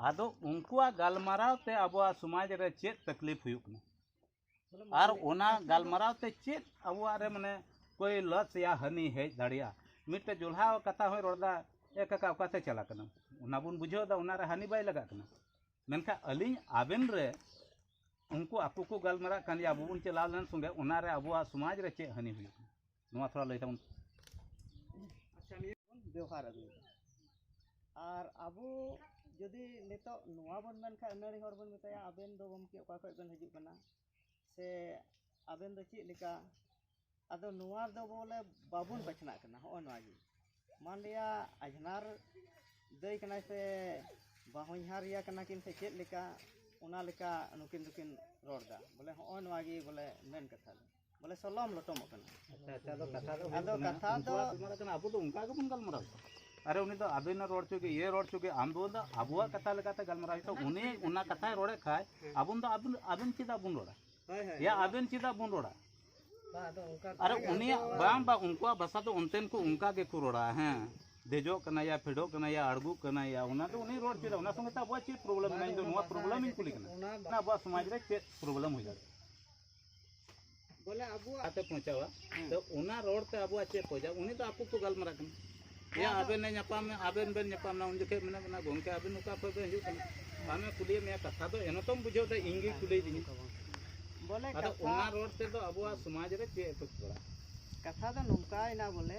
[SPEAKER 2] ᱟᱫᱚ
[SPEAKER 4] ᱩᱱᱠᱩᱣᱟᱜ ᱜᱟᱞᱢᱟᱨᱟᱣ ᱛᱮ ᱟᱵᱚᱣᱟᱜ ᱥᱚᱢᱟᱡᱽ ᱨᱮ ᱪᱮᱫ ᱛᱟᱠᱞᱤᱯ ᱦᱩᱭᱩᱜ ᱠᱟᱱᱟ ᱟᱨ ᱚᱱᱟ ᱜᱟᱞᱢᱟᱨᱟᱣ ᱛᱮ ᱪᱮᱫ ᱟᱵᱚᱣᱟᱜ ᱨᱮ ᱢᱟᱱᱮ ᱠᱚᱭ ᱞᱚᱥ ᱭᱟ ᱦᱟᱹᱱᱤ ᱦᱮᱡ ᱫᱟᱲᱮᱭᱟᱜᱼᱟ ᱢᱤᱫᱴᱮᱡ ᱡᱚᱞᱦᱟ ᱠᱟᱛᱷᱟ ᱦᱚᱸᱭ ᱨᱚᱲᱫᱟ ᱮ ᱠᱟᱠᱟ ᱚᱠᱟᱛᱮ ᱪᱟᱞᱟᱜ ᱠᱟᱱᱟ ᱚᱱᱟ ᱵᱚᱱ ᱵᱩᱡᱷᱟᱹᱣ ᱮᱫᱟ ᱚᱱᱟᱨᱮ ᱦᱟᱹᱱᱤ ᱵᱟᱭ ᱞᱟᱜᱟᱜ ᱠᱟᱱᱟ ᱢᱮᱱᱠᱷᱟᱱ ᱟᱹᱞᱤᱧ ᱟᱵᱮᱱ ᱨᱮ ᱩᱱᱠᱩ ᱟᱠᱚ ᱠᱚ ᱜᱟᱞᱢᱟᱨᱟᱜ ᱠᱟᱱ ᱜᱮᱭᱟ ᱟᱵᱚ ᱵᱚᱱ ᱪᱟᱞᱟᱣ ᱞᱮᱱ ᱥᱚᱸᱜᱮ ᱚᱱᱟᱨᱮ ᱟᱵᱚᱣᱟᱜ ᱥᱚᱢᱟᱡᱽ ᱨᱮ ᱪᱮᱫ ᱦᱟᱹᱱᱤ ᱦᱩᱭᱩᱜ ᱠᱟᱱᱟ ᱱᱚᱣᱟ ᱛᱷᱚᱲᱟ ᱞᱟᱹᱭ ᱛᱟᱵᱚᱱ
[SPEAKER 2] ᱟᱪᱪᱷᱟ ᱱᱤᱭᱟᱹ ᱵᱚᱱ ᱵᱮᱣᱦᱟᱨ ᱟᱹᱜᱩᱭᱮᱫᱟ ᱟᱨ ᱟᱵᱚ ᱡᱩᱫᱤ ᱱᱤᱛᱚᱜ ᱱᱚᱣᱟ ᱵᱚᱱ ᱢᱮᱱᱠᱷᱟᱱ ᱟᱹᱱᱟᱹᱲᱤ ᱦᱚᱲ ᱵᱚᱱ ᱢᱮᱛᱟᱭᱟ ᱟᱵᱮᱱ ᱫᱚ ᱜᱚᱢᱠᱮ ᱚᱠᱟ ᱠᱷᱚᱱ ᱵᱮᱱ ᱦᱤᱡᱩᱜ ᱠᱟᱱᱟ ᱥᱮ ᱟᱵᱮᱱ ᱫᱚ ᱪᱮᱫ ᱞᱮᱠᱟ ᱟᱫᱚ ᱱᱚᱣᱟ ᱫᱚ ᱵᱚᱞᱮ ᱵᱟᱵᱚᱱ ᱵᱟᱪᱷᱱᱟᱜ ᱠᱟᱱᱟ ᱦᱚᱸᱜᱼᱚ ᱱᱚᱣᱟ ᱜᱮ ᱢᱟᱱ ᱞᱤᱭᱟ ᱟᱡᱷᱱᱟᱨ ᱫᱟᱹᱭ ᱠᱟᱱᱟᱭ ᱥᱮ ᱵᱟᱦᱚᱧᱦᱟᱨ ᱤᱭᱟᱹ ᱠᱟᱱᱟ ᱠᱤᱱ ᱥᱮ ᱪᱮᱫ ᱞᱮᱠᱟ ᱚᱱᱟ ᱞᱮᱠᱟ ᱱᱩᱠᱤᱱ ᱫᱚᱠᱤᱱ ᱨᱚᱲᱫᱟ ᱵᱚᱞᱮ ᱦᱚᱸᱜᱼᱚ ᱱᱚᱣᱟ ᱜᱮ ᱵᱚᱞᱮ ᱢᱮᱱ ᱠᱟᱛᱷᱟ ᱫᱚ ᱵᱚᱞᱮ ᱥᱚᱞᱚᱢ ᱞᱚᱴᱚᱢᱚᱜ ᱠᱟᱱᱟ
[SPEAKER 4] ᱟᱫᱚ ᱠᱟᱛᱷᱟ ᱫᱚ
[SPEAKER 2] ᱟᱵᱚ ᱫᱚ ᱚᱱᱠᱟ
[SPEAKER 4] ᱜᱮᱵᱚᱱ ᱜᱟᱞᱢᱟᱨᱟᱣ ᱟᱨᱮ ᱩᱱᱤ ᱫᱚ ᱟᱵᱮᱱ ᱨᱚᱲ ᱪᱚᱜᱮ ᱤᱭᱟᱹ ᱨᱚᱲ ᱪᱚᱜᱮ ᱟᱢ ᱫᱚ ᱟᱵᱚᱣᱟᱜ ᱠᱟᱛᱷᱟ ᱞᱮᱠᱟᱛᱮ ᱜᱟᱞᱢᱟᱨᱟᱣ ᱦᱩᱭᱩᱜ ᱩᱱᱤ ᱚᱱᱟ ᱠᱟᱛᱷᱟᱭ ᱨᱚᱲᱮᱫ ᱠᱷᱟᱡ ᱟᱵᱚᱱ ᱫᱚ ᱟᱵᱮᱱ ᱟᱵᱮᱱ ᱪᱮᱫᱟᱜ ᱵᱚᱱ ᱨᱚᱲᱟ ᱭᱟ ᱟᱵᱮᱱ ᱪᱮᱫᱟᱜ ᱵᱚᱱ ᱨᱚᱲᱟ ᱟᱨᱮ ᱩᱱᱤᱭᱟᱜ ᱵᱟᱝ ᱵᱟᱝ ᱩᱱᱠᱩᱣᱟᱜ ᱵᱷᱟᱥᱟ ᱫᱚ ᱚᱱᱛᱮᱱ ᱠᱚ ᱚᱱᱠᱟ ᱜᱮᱠᱚ ᱨᱚᱲᱟ ᱦᱮᱸ ᱫᱮᱡᱚᱜ ᱠᱟᱱᱟ ᱭᱟ ᱯᱷᱮᱰᱚᱜ ᱠᱟᱱᱟ ᱭᱟ ᱟᱲᱜᱩᱜ ᱠᱟᱱᱟ ᱭᱟ ᱚᱱᱟ ᱫᱚ ᱩᱱᱤ ᱨᱚᱲ ᱪᱮᱫᱟ ᱚᱱᱟ ᱥᱚᱸᱜᱮ ᱛᱮ ᱟᱵᱚᱣᱟᱜ ᱪᱮᱫ ᱯᱨᱚᱵᱞᱮᱢ ᱢᱮᱱᱟᱜᱼᱟ ᱤᱧ ᱫᱚ ᱱᱚᱣᱟ ᱯᱨᱚᱵᱞᱮᱢ ᱤᱧ ᱠᱩᱞᱤ ᱠᱟᱱᱟ ᱟᱵᱚᱣᱟᱜ ᱥᱚᱢᱟᱡᱽ ᱨᱮ ᱪᱮᱫ ᱯᱨᱚᱵᱞᱮᱢ ᱦᱩᱭ ᱫᱟᱲᱮᱭᱟᱜᱼᱟ
[SPEAKER 2] ᱵᱚᱞᱮ ᱟᱵᱚᱣᱟᱜ ᱟᱛᱮ ᱯᱚᱸᱪᱟᱣᱟ
[SPEAKER 4] ᱛᱚ ᱚᱱᱟ ᱨᱚᱲ ᱛᱮ ᱟᱵᱚᱣᱟᱜ ᱪᱮᱫ ᱯᱚᱸᱪᱟᱣ ᱩᱱᱤ ᱫᱚ ᱟᱠᱚ ᱠᱚ ᱜᱟᱞᱢᱟᱨᱟᱜ ᱠᱟᱱᱟ ᱭᱟ ᱟᱵᱮᱱ ᱮ ᱧᱟᱯᱟᱢ ᱢᱮ ᱟᱵᱮᱱ ᱵᱮᱱ ᱧᱟᱯᱟᱢ ᱱᱟ ᱩᱱ ᱡᱚᱠᱷᱮᱡ ᱢᱮᱱᱟᱜ ᱵᱮᱱᱟ ᱜᱚᱝᱠᱮ ᱟᱵᱮᱱ ᱚᱠᱟ ᱠᱷᱚᱡ ᱵᱮᱱ ᱦᱤᱡᱩᱜ ᱠᱟᱱᱟ ᱟᱢᱮ ᱠᱩᱞᱤᱭᱮᱫ ᱢᱮᱭᱟ ᱠᱟᱛᱷᱟ ᱫᱚ ᱮᱱᱚ ᱛᱚᱢ ᱵᱩᱡᱷᱟᱹᱣ ᱫᱟ ᱤᱧ ᱜᱮ ᱠᱩᱞᱤᱭ ᱫᱤᱧ ᱵᱚᱞᱮ
[SPEAKER 2] ᱟᱫᱚ ᱚᱱᱟ ᱨᱚᱲ
[SPEAKER 4] ᱛᱮᱫᱚ ᱟᱵᱚᱣᱟᱜ ᱥᱚᱢᱟᱡᱽ ᱨᱮ ᱪᱮᱫ ᱮ ᱯᱚᱪ ᱵᱟᱲᱟᱜᱼᱟ ᱠᱟᱛᱷᱟ ᱫᱚ
[SPEAKER 2] ᱱᱚᱝᱠᱟᱭᱮᱱᱟ ᱵᱚᱞᱮ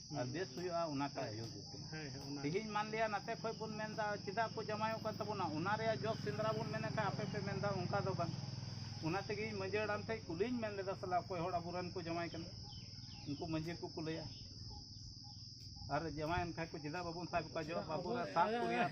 [SPEAKER 4] ᱟᱨ ᱵᱮᱥ ᱦᱩᱭᱩᱜᱼᱟ ᱚᱱᱟ ᱠᱟᱡ ᱦᱩᱭᱩᱜ ᱠᱟᱱᱟ ᱦᱮᱸ ᱦᱮᱸ ᱚᱱᱟ ᱛᱮᱦᱮᱧ ᱢᱟᱱ ᱞᱤᱭᱟ ᱱᱟᱛᱮ ᱠᱷᱚᱡ ᱵᱚᱱ ᱢᱮᱱᱫᱟ ᱪᱮᱫᱟᱜ ᱠᱚ ᱡᱟᱢᱟᱭᱚᱜ ᱠᱟᱱ ᱛᱟᱵᱚᱱᱟ ᱚᱱᱟ ᱨᱮᱭᱟᱜ ᱡᱚᱥ ᱥᱮᱸᱫᱽᱨᱟ ᱵᱚᱱ ᱢᱮᱱᱮᱫ ᱠᱷᱟᱡ ᱟᱯᱮ ᱯᱮ ᱢᱮᱱᱫᱟ ᱚᱱᱠᱟ ᱫᱚ ᱵᱟᱝ ᱚᱱᱟ ᱛᱮᱜᱮ ᱤᱧ ᱢᱟᱺᱡᱷᱤ ᱦᱟᱲᱟᱢ ᱴᱷᱮᱡ ᱠᱩᱞᱤᱧ ᱢᱮᱱ ᱞᱮᱫᱟ ᱥᱟᱞᱟ ᱚᱠᱚᱭ ᱦᱚᱲ ᱟᱵᱚᱨᱮᱱ ᱠᱚ ᱡᱟᱢᱟᱭ ᱠᱟᱱᱟ ᱩᱱᱠᱩ ᱢᱟᱺᱡᱷᱤ ᱠᱚ ᱠᱩᱞᱟᱹᱭᱟ ᱟᱨ ᱡᱟᱢᱟᱭᱮᱱ ᱠᱷᱟᱡ ᱠᱚ ᱪᱮᱫᱟᱜ ᱵᱟᱵᱚᱱ ᱥᱟᱵ ᱠᱚᱣᱟ ᱡᱚ ᱵᱟᱵᱚᱱ ᱥᱟᱵ ᱠᱚ ᱨᱮᱭᱟᱜ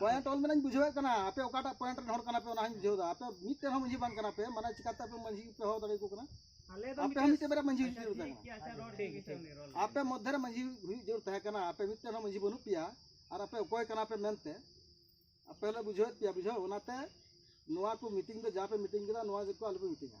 [SPEAKER 5] ᱯᱚᱭᱮᱱᱴ ᱚᱞ ᱢᱮᱱᱟᱧ ᱵᱩᱡᱷᱟᱹᱣᱮᱫ ᱠᱟᱱᱟ ᱟᱯᱮ ᱚᱠᱟᱴᱟᱜ ᱯᱚᱭᱮᱱᱴ ᱨᱮᱱ ᱦᱚᱲ ᱠᱟᱱᱟ ᱯᱮ ᱚᱱᱟ ᱦᱚᱸᱧ ᱵᱩᱡᱷᱟᱹᱣ ᱫᱟ ᱟᱯᱮ ᱢᱤᱫᱴᱮᱱ ᱦᱚᱸ ᱢᱟᱹᱡᱷᱤ ᱵᱟᱝ ᱠᱟᱱᱟ ᱯᱮ ᱢᱟᱱᱮ ᱪᱤᱠᱟᱛᱮ ᱟᱯᱮ ᱢᱟᱹᱡᱷᱤ ᱯᱮ ᱦᱚᱦᱚ ᱫᱟᱲᱮ ᱟᱠᱚ ᱠᱟᱱᱟ ᱟᱯᱮ ᱦᱚᱸ
[SPEAKER 2] ᱢᱤᱫᱴᱮᱱ ᱵᱟᱨᱭᱟ ᱢᱟᱹᱡᱷᱤ ᱦᱩᱭᱩᱜ ᱡᱟᱹᱨᱩᱲ
[SPEAKER 5] ᱛᱟᱦᱮᱸ
[SPEAKER 2] ᱟᱯᱮ ᱢᱚᱫᱽᱫᱷᱮ ᱨᱮ ᱢᱟᱹᱡᱷᱤ
[SPEAKER 5] ᱦᱩᱭᱩᱜ ᱡᱟᱹᱨᱩᱲ ᱛᱟᱦᱮᱸ ᱠᱟᱱᱟ ᱟᱯᱮ ᱢᱤᱫᱴᱮᱱ ᱦᱚᱸ ᱢᱟᱹᱡᱷᱤ ᱵᱟᱹᱱᱩᱜ ᱯᱮᱭᱟ ᱟᱨ ᱟᱯᱮ ᱚᱠᱚᱭ ᱠᱟᱱᱟ ᱯᱮ ᱢᱮᱱᱛᱮ ᱟᱯᱮ ᱦᱚᱸᱞᱮ ᱵᱩᱡᱷᱟᱹᱣᱮᱫ ᱯᱮᱭᱟ ᱵᱩᱡᱷᱟᱹᱣ ᱚᱱᱟᱛᱮ ᱱᱚᱣᱟ ᱠᱚ ᱢᱤᱴᱤᱝ ᱫᱚ ᱡᱟ ᱯᱮ ᱢᱤᱴᱤᱝ ᱠᱮᱫᱟ ᱱᱚᱣᱟ ᱜᱮᱠᱚ ᱟᱞᱚᱯᱮ ᱢᱤᱴᱤᱝᱟ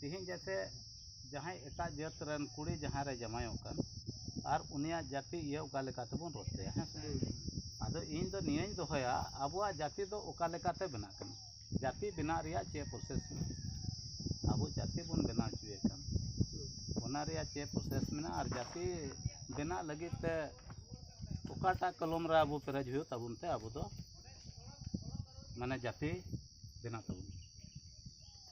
[SPEAKER 5] ᱛᱮᱦᱮᱧ ᱡᱮᱭᱥᱮ
[SPEAKER 4] ᱡᱟᱦᱟᱸᱭ ᱮᱴᱟᱜ ᱡᱟᱹᱛ ᱨᱮᱱ ᱠᱩᱲᱤ ᱡᱟᱦᱟᱸ ᱨᱮ ᱡᱟᱶᱟᱭᱚᱜ ᱠᱟᱱ ᱟᱨ ᱩᱱᱤᱭᱟᱜ ᱡᱟᱹᱛᱤ ᱤᱭᱟᱹ ᱚᱠᱟ ᱞᱮᱠᱟ ᱛᱮᱵᱚᱱ ᱨᱚᱲ ᱛᱟᱭᱟ ᱦᱮᱸ ᱥᱮ ᱟᱫᱚ ᱤᱧ ᱫᱚ ᱱᱤᱭᱟᱹᱧ ᱫᱚᱦᱚᱭᱟ ᱟᱵᱚᱣᱟᱜ ᱡᱟᱹᱛᱤ ᱫᱚ ᱚᱠᱟ ᱞᱮᱠᱟᱛᱮ ᱵᱮᱱᱟᱜ ᱠᱟᱱᱟ ᱡᱟᱹᱛᱤ ᱵᱮᱱᱟᱜ ᱨᱮᱭᱟᱜ ᱪᱮᱫ ᱯᱨᱚᱥᱮᱥ ᱢᱮᱱᱟᱜᱼᱟ ᱟᱵᱚ ᱡᱟᱹᱛᱤ ᱵᱚᱱ ᱵᱮᱱᱟᱣ ᱦᱚᱪᱚᱭᱮ ᱠᱟᱱ ᱚᱱᱟ ᱨᱮᱭᱟᱜ ᱪᱮᱫ ᱯᱨᱚᱥᱮᱥ ᱢᱮᱱᱟᱜᱼᱟ ᱟᱨ ᱡᱟᱹᱛᱤ ᱵᱮᱱᱟᱜ ᱞᱟᱹᱜᱤᱫ ᱛᱮ ᱚᱠᱟᱴᱟᱜ ᱠᱚᱞᱚᱢ ᱨᱮ ᱟᱵᱚ ᱯᱮᱨᱮᱡ ᱦᱩᱭᱩᱜ ᱛᱟᱵᱚᱱ ᱛᱮ ᱟᱵᱚ ᱫᱚ ᱢᱟᱱᱮ ᱡᱟᱹᱛᱤ ᱵᱮᱱᱟᱜ ᱛᱟᱵᱚᱱᱟ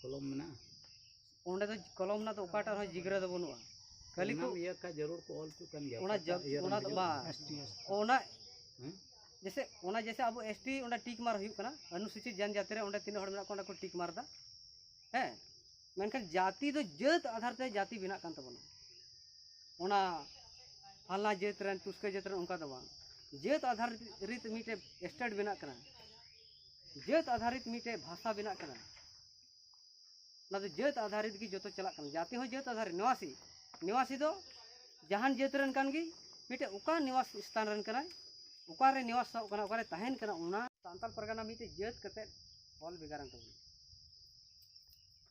[SPEAKER 4] ᱠᱚᱞᱚᱢ ᱢᱮᱱᱟᱜᱼᱟ ᱚᱸᱰᱮ ᱫᱚ
[SPEAKER 3] ᱠᱚᱞᱚᱢ ᱨᱮᱱᱟᱜ ᱫᱚ ᱚᱠᱟᱴᱟᱜ ᱨᱮᱦᱚᱸ ᱡᱤᱜᱽᱨᱟᱹ ᱫᱚ ᱵᱟᱹᱱᱩᱜᱼᱟ ᱠᱷᱟᱹᱞᱤ ᱠᱚ ᱤᱭᱟᱹ ᱠᱷᱟᱡ ᱡᱟᱹᱨᱩᱲ ᱠᱚ ᱚᱞ
[SPEAKER 4] ᱦᱚᱪᱚᱜ ᱠᱟᱱ ᱜᱮᱭᱟ ᱚᱱᱟ ᱚᱱᱟ ᱫᱚ
[SPEAKER 3] ᱵᱟᱝ ᱚᱱᱟ ᱡᱮᱥᱮ ᱚᱱᱟ ᱡᱮᱥᱮ ᱟᱵᱚ ᱮᱥ ᱴᱤ ᱚᱸᱰᱮ ᱴᱤᱠ ᱢᱟᱨ ᱦᱩᱭᱩᱜ ᱠᱟᱱᱟ ᱚᱱᱩᱥᱩᱪᱤᱛ ᱡᱟᱱᱡᱟᱛᱤ ᱨᱮ ᱚᱸᱰᱮ ᱛᱤᱱᱟᱹᱜ ᱦᱚᱲ ᱢᱮᱱᱟᱜ ᱠᱚᱣᱟ ᱚᱸᱰᱮ ᱠᱚ ᱴᱤᱠ ᱢᱟᱨ ᱮᱫᱟ ᱦᱮᱸ ᱢᱮᱱᱠᱷᱟᱱ ᱡᱟᱹᱛᱤ ᱫᱚ ᱡᱟᱹᱛ ᱟᱫᱷᱟᱨ ᱛᱮ ᱡᱟᱹᱛᱤ ᱵᱮᱱᱟᱜ ᱠᱟᱱ ᱛᱟᱵᱚᱱᱟ ᱚᱱᱟ ᱯᱷᱟᱞᱱᱟ ᱡᱟᱹᱛ ᱨᱮᱱ ᱛᱩᱥᱠᱟᱹ ᱡᱟᱹᱛ ᱨᱮᱱ ᱚᱱᱠᱟ ᱫᱚ ᱵᱟᱝ ᱡᱟᱹᱛ ᱟᱫᱷᱟᱨ ᱨᱤᱛ ᱢᱤᱫᱴᱮᱡ ᱥᱴᱮᱴ ᱵᱮᱱᱟᱜ ᱠᱟᱱᱟ ᱡᱟᱹᱛ ᱟᱫᱷᱟᱨᱤᱛ ᱢᱤᱫᱴᱮᱡ ᱵᱷᱟᱥᱟ ᱵᱮᱱᱟᱜ ᱠᱟᱱᱟ ᱚᱱᱟ ᱫᱚ ᱡᱟᱹᱛ ᱟᱫᱷᱟᱨᱤᱛ ᱜᱮ ᱡᱚᱛᱚ ᱪᱟᱞᱟᱜ ᱠᱟᱱᱟ ᱡᱟᱛᱤ ᱦᱚᱸ ᱡᱟᱹᱛ ᱟᱫᱷᱟᱨᱤᱛ ᱱᱤᱣᱟᱥᱤ ᱱᱤᱣᱟᱥᱤ ᱫᱚ ᱡᱟᱦᱟᱱ ᱡᱟᱹᱛ ᱨᱮᱱ ᱠᱟᱱ ᱜᱮ ᱢᱤᱫᱴᱮᱡ ᱚᱠᱟ ᱱᱤᱣᱟᱥ ᱥᱛᱷᱟᱱ ᱨᱮᱱ ᱠᱟᱱᱟᱭ ᱚᱠᱟᱨᱮ ᱱᱤᱣᱟᱥᱚᱜ ᱠᱟᱱᱟ ᱚᱠᱟᱨᱮ ᱛᱟᱦᱮᱱ ᱠᱟᱱᱟ ᱚᱱᱟ ᱥᱟᱱᱛᱟᱲ ᱯᱟᱨᱜᱟᱱᱟ ᱢᱤᱫᱴᱮᱡ ᱡᱟᱹᱛ ᱠᱟᱛᱮᱫ ᱚᱞ ᱵᱷᱮᱜᱟᱨᱮᱱ ᱛᱟᱵᱚᱱᱟ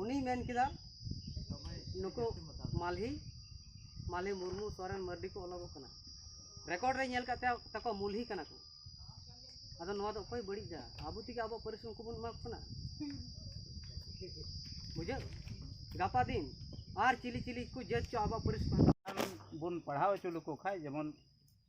[SPEAKER 3] ᱩᱱᱤᱭ ᱢᱮᱱ ᱠᱮᱫᱟ ᱱᱩᱠᱩ ᱢᱟᱞᱦᱤ ᱢᱟᱞᱦᱤ ᱢᱩᱨᱢᱩ ᱥᱚᱨᱮᱱ ᱢᱟᱨᱰᱤ ᱠᱚ ᱚᱞᱚᱜᱚᱜ ᱠᱟᱱᱟ ᱨᱮᱠᱚᱨᱰ ᱨᱮ ᱧᱮᱞ ᱠᱟᱛᱮ ᱛᱟᱠᱚ ᱢᱩᱞᱦᱤ ᱠᱟᱱᱟ ᱠᱚ ᱟᱫᱚ ᱱᱚᱣᱟ ᱫᱚ ᱚᱠᱚᱭ ᱵᱟᱹᱲᱤᱡ ᱫᱟ ᱟᱵᱚ ᱛᱮᱜᱮ ᱟᱵᱚ ᱯᱟᱹᱨᱤᱥ ᱩᱱᱠᱩ ᱵᱚᱱ ᱮᱢᱟ ᱠᱚ ᱠᱟᱱᱟ ᱵᱩᱡᱷᱟᱹᱣ ᱜᱟᱯᱟ ᱫᱤᱱ ᱟᱨ ᱪᱤᱞᱤ ᱪᱤᱞᱤ ᱠᱚ ᱡᱟᱹᱛ ᱪᱚ ᱟᱵᱚ ᱯᱟᱹᱨᱤᱥ ᱵᱚᱱ ᱯᱟᱲᱦᱟᱣ
[SPEAKER 4] ᱦᱚᱪᱚ ᱞᱮᱠᱚ ᱠᱷᱟᱱ ᱡᱮᱢᱚᱱ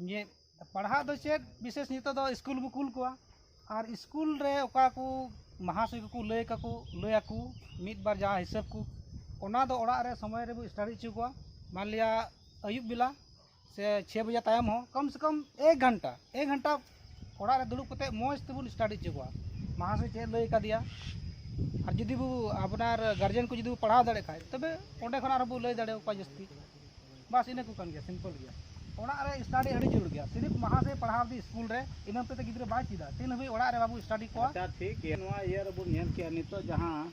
[SPEAKER 6] ᱤᱧᱟᱹᱜ ᱯᱟᱲᱦᱟᱜ ᱫᱚ ᱪᱮᱫ ᱵᱤᱥᱮᱥ ᱱᱤᱛᱚᱜ ᱫᱚ ᱤᱥᱠᱩᱞ ᱠᱚ ᱠᱩᱞ ᱠᱚᱣᱟ ᱟᱨ ᱤᱥᱠᱩᱞ ᱨᱮ ᱚᱠᱟ ᱠᱚ ᱢᱟᱦᱟᱥᱚᱭ ᱠᱚᱠᱚ ᱞᱟᱹᱭ ᱠᱟᱠᱚ ᱞᱟᱹᱭ ᱟᱠᱚ ᱢᱤᱫ ᱵᱟᱨ ᱡᱟᱦᱟᱸ ᱦᱤᱥᱟᱹᱵ ᱠᱚ ᱚᱱᱟ ᱫᱚ ᱚᱲᱟᱜ ᱨᱮ ᱥᱚᱢᱚᱭ ᱨᱮᱵᱚ ᱥᱴᱟᱰᱤ ᱦᱚᱪᱚ ᱠᱚᱣᱟ ᱢᱟᱱᱞᱤᱭᱟ ᱟᱹᱭᱩᱵ ᱵᱮᱞᱟ ᱥᱮ ᱪᱷᱚᱭ ᱵᱟᱡᱮ ᱛᱟᱭᱚᱢ ᱦᱚᱸ ᱠᱚᱢ ᱥᱮ ᱠᱚᱢ ᱮᱠ ᱜᱷᱚᱱᱴᱟ ᱮᱠ ᱜᱷᱚᱱᱴᱟ ᱚᱲᱟᱜ ᱨᱮ ᱫᱩᱲᱩᱵ ᱠᱟᱛᱮ ᱢᱚᱡᱽ ᱛᱮᱵᱚᱱ ᱥᱴᱟᱰᱤ ᱦᱚᱪᱚ ᱠᱚᱣᱟ ᱢᱟᱦᱟᱥᱚᱭ ᱪᱮᱫ ᱞᱟᱹᱭ ᱠᱟᱫᱮᱭᱟ ᱟᱨ ᱡᱩᱫᱤ ᱵᱚ ᱟᱯᱱᱟᱨ ᱜᱟᱨᱡᱮᱱ ᱠᱚ ᱡᱩᱫᱤ ᱵᱚ ᱯᱟᱲᱦᱟᱣ ᱫᱟᱲᱮᱭᱟᱜ ᱠᱷᱟᱡ ᱛᱚᱵᱮ ᱚᱸᱰᱮ ᱠᱷᱚᱱ ᱟᱨᱦᱚᱸ ᱵᱚ ᱞᱟᱹᱭ ᱫᱟᱲᱮ ᱟᱠᱚᱣᱟ ᱡᱟᱹᱥᱛᱤ ᱵᱟᱥ ᱤᱱᱟᱹ ᱠᱚ ᱠᱟᱱ ᱜᱮᱭᱟ ᱥᱤᱢᱯᱚᱞ ᱜᱮᱭᱟ ᱚᱲᱟᱜ ᱨᱮ ᱥᱴᱟᱰᱤ ᱟᱹᱰᱤ ᱡᱟᱹᱨᱩᱲ ᱜᱮᱭᱟ ᱥᱤᱨᱤᱯ ᱢᱟᱦᱟᱥᱚᱭ ᱯᱟᱲᱦᱟᱣ ᱫᱤ ᱥᱠᱩᱞ ᱨᱮ ᱤᱱᱟᱹ ᱦᱚᱛᱮᱡ ᱛᱮ ᱜᱤᱫᱽᱨᱟᱹ ᱵᱟᱭ ᱪᱮᱫᱟ ᱛᱤᱱ ᱦᱟᱹᱵᱤᱡ ᱚᱲᱟᱜ ᱨᱮ ᱵᱟᱵᱚ ᱥᱴᱟᱰᱤ ᱠᱚᱣᱟ ᱟᱪᱪᱷᱟ ᱴᱷᱤᱠ ᱜᱮᱭᱟ ᱱᱚᱣᱟ ᱤᱭᱟᱹ
[SPEAKER 4] ᱨᱮᱵᱚᱱ ᱧᱮᱞ ᱠᱮᱜᱼᱟ ᱱᱤᱛᱚᱜ ᱡᱟᱦᱟᱸ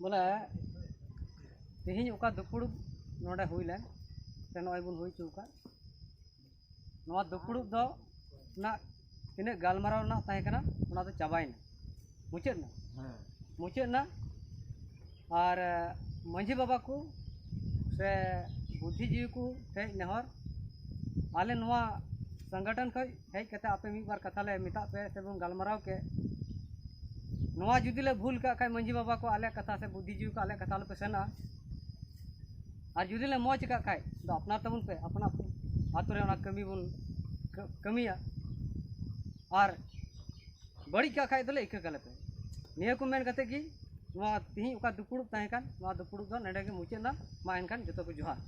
[SPEAKER 3] ᱵᱚᱞᱮ ᱛᱮᱦᱮᱧ ᱚᱠᱟ ᱫᱩᱯᱲᱩᱵ ᱱᱚᱰᱮ ᱦᱩᱭ ᱞᱮᱱ ᱥᱮ ᱱᱚᱜᱼᱚᱭ ᱵᱚᱱ ᱦᱩᱭ ᱦᱚᱪᱚ ᱟᱠᱟᱫ ᱱᱚᱣᱟ ᱫᱩᱯᱲᱩᱵ ᱫᱚ ᱨᱮᱱᱟᱜ ᱛᱤᱱᱟᱹᱜ ᱜᱟᱞᱢᱟᱨᱟᱣ ᱨᱮᱱᱟᱜ ᱛᱟᱦᱮᱸ ᱠᱟᱱᱟ ᱚᱱᱟ ᱫᱚ ᱪᱟᱵᱟᱭᱮᱱᱟ ᱢᱩᱪᱟᱹᱫ ᱮᱱᱟ ᱢᱩᱪᱟᱹᱫ ᱮᱱᱟ ᱟᱨ ᱢᱟᱺᱡᱷᱤ ᱵᱟᱵᱟ ᱠᱚ ᱥᱮ ᱵᱩᱫᱽᱫᱷᱤᱡᱤᱵᱤ ᱠᱚ ᱴᱷᱮᱡ ᱱᱮᱦᱚᱨ ᱟᱞᱮ ᱱᱚᱣᱟ ᱥᱚᱝᱜᱚᱴᱷᱚᱱ ᱠᱷᱚᱡ ᱦᱮᱡ ᱠᱟᱛᱮ ᱟᱯᱮ ᱢᱤᱫ ᱵᱟᱨ ᱠᱟᱛᱷᱟ ᱞᱮ ᱢᱮᱛᱟᱜ ᱯᱮ ᱥᱮᱵᱚᱱ ᱜᱟᱞᱢᱟᱨᱟᱣ ᱠᱮᱫ ᱱᱚᱣᱟ ᱡᱩᱫᱤ ᱞᱮ ᱵᱷᱩᱞ ᱠᱟᱜ ᱠᱷᱟᱡ ᱢᱟᱺᱡᱷᱤ ᱵᱟᱵᱟ ᱠᱚ ᱟᱞᱮ ᱠᱟᱛᱷᱟ ᱥᱮ ᱵᱩᱫᱷᱤ ᱡᱤᱣᱤ ᱠᱚ ᱟᱞᱮ ᱠᱟᱛᱷᱟ ᱟᱞᱚᱯᱮ ᱥᱮᱱᱟ ᱟᱨ ᱡᱩᱫᱤ ᱞᱮ ᱢᱚᱡᱽ ᱠᱟᱜ ᱠᱷᱟᱡ ᱫᱚ ᱟᱯᱱᱟᱨ ᱛᱟᱵᱚᱱ ᱯᱮ ᱟᱯᱱᱟᱨ ᱟᱛᱳ ᱨᱮ ᱚᱱᱟ ᱠᱟᱹᱢᱤ ᱵᱚᱱ ᱠᱟᱹᱢᱤᱭᱟ ᱟᱨ ᱵᱟᱹᱲᱤᱡ ᱠᱟᱜ ᱠᱷᱟᱡ ᱫᱚᱞᱮ ᱤᱠᱟᱹ ᱠᱟᱞᱮ ᱯᱮ ᱱᱤᱭᱟᱹ ᱠᱚ ᱢᱮᱱ ᱠᱟᱛᱮ ᱜᱮ ᱱᱚᱣᱟ ᱛᱤᱦᱤᱧ ᱚᱠᱟ ᱫᱩᱯᱩᱲᱩᱵ ᱛᱟᱦᱮᱸ ᱠᱟᱱ ᱱᱚᱣᱟ ᱫᱩᱯᱩᱲᱩᱵ ᱫᱚ ᱱᱚᱰᱮ ᱜᱮ ᱢᱩᱪᱟᱹᱫ ᱮᱱᱟ ᱢᱟ ᱮᱱᱠᱷᱟᱱ ᱡᱚᱛᱚ ᱠᱚ ᱡᱚᱦᱟᱨ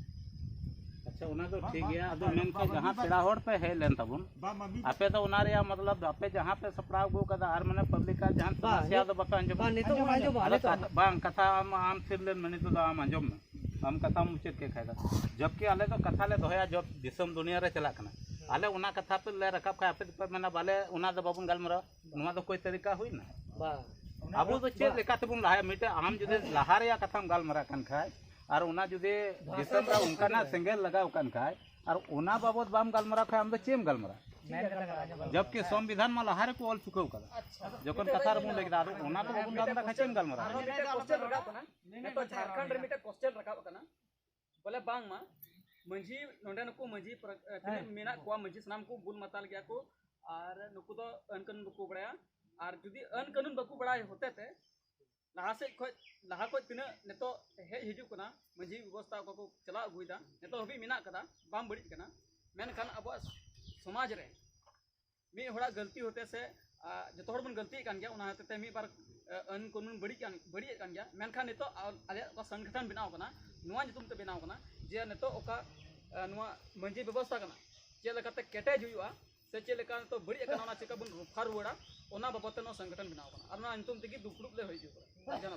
[SPEAKER 3] ᱟᱪᱪᱷᱟ
[SPEAKER 4] ᱚᱱᱟ ᱫᱚ ᱴᱷᱤᱠ ᱜᱮᱭᱟ ᱟᱫᱚ ᱢᱮᱱᱠᱷᱟᱱ ᱡᱟᱦᱟᱸ ᱯᱮᱲᱟ ᱦᱚᱲ ᱯᱮ ᱦᱮᱡ ᱞᱮᱱ ᱛᱟᱵᱚᱱ ᱟᱯᱮ ᱫᱚ ᱚᱱᱟ ᱨᱮᱭᱟᱜ ᱢᱚᱛᱞᱚᱵ ᱟᱯᱮ ᱡᱟᱦᱟᱸ ᱯᱮ ᱥᱟᱯᱲᱟᱣ ᱟᱹᱜᱩ ᱠᱟᱫᱟ ᱟᱨ ᱢᱟᱱᱮ ᱯᱟᱵᱽᱞᱤᱠ ᱟᱜ ᱡᱟᱦᱟᱱ ᱥᱚᱢᱚᱥᱥᱟ ᱫᱚ ᱵᱟᱯᱮ ᱟᱸᱡᱚᱢᱟ ᱱᱤᱛᱚᱜ ᱟᱸᱡᱚᱢᱟ ᱵᱟᱝ ᱠᱟᱛᱷᱟ ᱟᱢ ᱟᱢ ᱛᱷᱤᱨ ᱞᱮᱱ ᱢᱮ ᱱᱤᱛᱚᱜ ᱫᱚ ᱟᱢ ᱟᱸᱡᱚᱢ ᱢᱮ ᱟᱢ ᱠᱟᱛᱷᱟ ᱢᱩᱪᱟᱹᱫ ᱠᱮᱫ ᱠᱷᱟᱡ ᱫᱚ ᱡᱚᱵᱠᱤ ᱟᱞᱮ ᱫᱚ ᱠᱟᱛᱷᱟ ᱞᱮ ᱫᱚᱦᱚᱭᱟ ᱡᱚᱵ ᱫᱤᱥᱚᱢ ᱫᱩᱱᱤᱭᱟᱹ ᱨᱮ ᱪᱟᱞᱟᱜ ᱠᱟᱱᱟ ᱟᱞᱮ ᱚᱱᱟ ᱠᱟᱛᱷᱟ ᱯᱮ ᱞᱮ ᱨᱟᱠᱟᱵ ᱠᱷᱟᱡ ᱟᱯᱮ ᱫᱚᱯᱮ ᱢᱮᱱᱟ ᱵᱟᱞᱮ ᱚᱱᱟ ᱫᱚ ᱵᱟᱵᱚᱱ ᱜᱟᱞᱢᱟᱨᱟᱣᱟ ᱱᱚᱣᱟ ᱫᱚ ᱠᱚᱭ ᱛᱟᱹᱨᱤᱠᱟ ᱦᱩᱭᱱᱟ
[SPEAKER 3] ᱟᱵᱚ ᱫᱚ ᱪᱮᱫ
[SPEAKER 4] ᱞᱮᱠᱟ ᱛᱮᱵᱚᱱ ᱞᱟᱦᱟᱭᱟ ᱢᱤᱫᱴᱮᱡ ᱟᱢ ᱡᱩᱫᱤ ᱞᱟᱦᱟ ᱨᱮᱭᱟᱜ ᱠᱟᱛᱷᱟᱢ ᱜᱟᱞᱢᱟᱨᱟᱜ ᱠᱟᱱ ᱠᱷᱟᱡ ᱟᱨ ᱚᱱᱟ ᱡᱩᱫᱤ ᱫᱤᱥᱚᱢ ᱨᱮ ᱚᱱᱠᱟᱱᱟᱜ ᱥᱮᱸᱜᱮᱞ ᱞᱟᱜᱟᱣ ᱠᱟᱱ ᱠᱷᱟᱡ ᱟᱨ ᱚᱱᱟ ᱵᱟᱵᱚᱫ ᱵᱟᱢ ᱜᱟᱞᱢᱟᱨᱟᱣ ᱠᱷᱟᱡ ᱟᱢ ᱫᱚ ᱪᱮᱫ ᱮᱢ ᱜᱟᱞᱢᱟᱨᱟᱣᱟ ᱡᱚᱵᱠᱤ ᱥᱚᱝᱵᱤᱫᱷᱟᱱ ᱢᱟ ᱞᱟᱦᱟ ᱨᱮᱠᱚ ᱚᱞ ᱪᱩᱠᱟᱹᱣ ᱠᱟᱫᱟ ᱡᱚᱠᱷᱚᱱ ᱠᱟᱛᱷᱟ ᱨᱮᱵᱚᱱ ᱞᱟᱹᱭ ᱠᱮᱫᱟ ᱟᱫᱚ ᱚᱱᱟ ᱠᱚ ᱵᱟᱵᱚᱱ ᱜᱟᱞᱢᱟᱨᱟᱣ ᱠᱷᱟᱡ ᱪᱮᱫ ᱮᱢ ᱜᱟᱞᱢᱟᱨᱟᱣᱟ
[SPEAKER 7] ᱱᱤᱛᱚᱜ ᱡᱷᱟᱲᱠᱷᱚᱸᱰ ᱨᱮ ᱢᱤᱫᱴᱮᱱ ᱠᱚᱥᱪᱮᱱ ᱨᱟᱠᱟᱵ ᱟᱠᱟᱱᱟ ᱵᱚᱞᱮ ᱵᱟᱝ ᱢᱟ ᱢᱟᱹᱡᱷᱤ ᱱᱚᱰᱮ ᱱᱩᱠᱩ ᱢᱟᱹᱡᱷᱤ ᱛᱤᱱᱟᱹᱜ ᱢᱮᱱᱟᱜ ᱠᱚᱣᱟ ᱢᱟᱹᱡᱷᱤ ᱥᱟᱱᱟᱢ ᱠᱚ ᱵᱩᱞ ᱢᱟᱛᱟᱞ ᱜᱮᱭᱟ ᱠᱚ ᱟᱨ ᱱᱩᱠᱩ ᱫᱚ ᱟᱹᱱ ᱠᱟᱹᱱᱩᱱ ᱵᱟᱠᱚ ᱵᱟᱲᱟᱭᱟ ᱟᱨ ᱡᱩᱫᱤ ᱟᱹᱱ ᱠᱟᱹᱱᱩᱱ ᱵᱟᱠᱚ ᱵᱟᱲᱟᱭ ᱦᱚᱛᱮ ᱛᱮ ᱞᱟᱦᱟ ᱥᱮᱫ ᱠᱷᱚᱡ ᱞᱟᱦᱟ ᱠᱷᱚᱡ ᱛᱤᱱᱟᱹᱜ ᱱᱤᱛᱚᱜ ᱦᱮᱡ ᱦᱤᱡᱩᱜ ᱠᱟᱱᱟ ᱢᱟᱹᱡᱷᱤ ᱵᱮᱵᱚᱥᱛᱷᱟ ᱚᱠᱟ ᱠᱚ ᱪᱟᱞᱟᱣ ᱟᱹᱜᱩᱭᱮᱫᱟ ᱱᱤᱛᱚᱜ ᱦᱟᱹᱵᱤᱡ ᱢᱮᱱᱟᱜ ᱠᱟᱫᱟ ᱵᱟᱝ ᱵᱟᱹᱲᱤᱡ ᱠᱟᱱᱟ ᱢᱮᱱᱠᱷᱟᱱ ᱟᱵᱚᱣᱟᱜ ᱥᱚᱢᱟᱡᱽ ᱨᱮ ᱢᱤᱫ ᱦᱚᱲᱟᱜ ᱜᱟᱹᱞᱛᱤ ᱦᱚᱛᱮ ᱥᱮ ᱡᱚᱛᱚ ᱦᱚᱲ ᱵᱚᱱ ᱜᱟᱹᱞᱛᱤᱭᱮᱫ ᱠᱟᱱ ᱜᱮᱭᱟ ᱚᱱᱟ ᱦᱚᱛᱮ ᱛᱮ ᱢᱤᱫ ᱵᱟᱨ ᱟᱹᱱ ᱠᱟᱹᱱᱩᱱ ᱵᱟᱹᱲᱤᱡ ᱠᱟᱱ ᱵᱟᱹᱲᱤᱡᱮᱫ ᱠᱟᱱ ᱜᱮᱭᱟ ᱢᱮᱱᱠᱷᱟᱱ ᱱᱤᱛᱚᱜ ᱟᱞᱮᱭᱟᱜ ᱚᱠᱟ ᱥᱚᱝᱜᱚᱴᱷᱚᱱ ᱵᱮᱱᱟᱣ ᱠᱟᱱᱟ ᱱᱚᱣᱟ ᱧᱩᱛᱩᱢ ᱛᱮ ᱵᱮᱱᱟᱣ ᱠᱟᱱᱟ ᱡᱮ ᱱᱤᱛᱚᱜ ᱚᱠᱟ ᱱᱚᱣᱟ ᱢᱟᱹᱡᱷᱤ ᱵᱮᱵᱚᱥᱛᱷᱟ ᱠᱟᱱᱟ ᱪᱮᱫ ᱞᱮᱠᱟᱛᱮ ᱠᱮᱴᱮᱡ ᱦᱩᱭᱩᱜᱼᱟ ᱥᱮ ᱪᱮᱫ ᱞᱮᱠᱟ ᱱᱤᱛᱚᱜ ᱵᱟᱹᱲᱤᱡ ᱠᱟᱱᱟ ᱚᱱᱟ ᱪᱮᱠᱟ ᱵᱚᱱ ᱨᱚᱯᱷᱟ ᱨᱩᱣᱟᱹᱲᱟ ᱚᱱᱟ ᱵᱟᱵᱚᱫ ᱛᱮ ᱱᱚᱣᱟ ᱥᱚᱝᱜᱚᱴᱷᱚᱱ ᱵᱮᱱᱟᱣ ᱠᱟᱱᱟ ᱟᱨ ᱱᱚᱣᱟ ᱧᱩᱛᱩᱢ ᱛᱮᱜᱮ ᱫᱩᱯᱲᱩᱵ ᱞᱮ ᱦᱩᱭ ᱦᱚᱪᱚ ᱠᱟᱱᱟ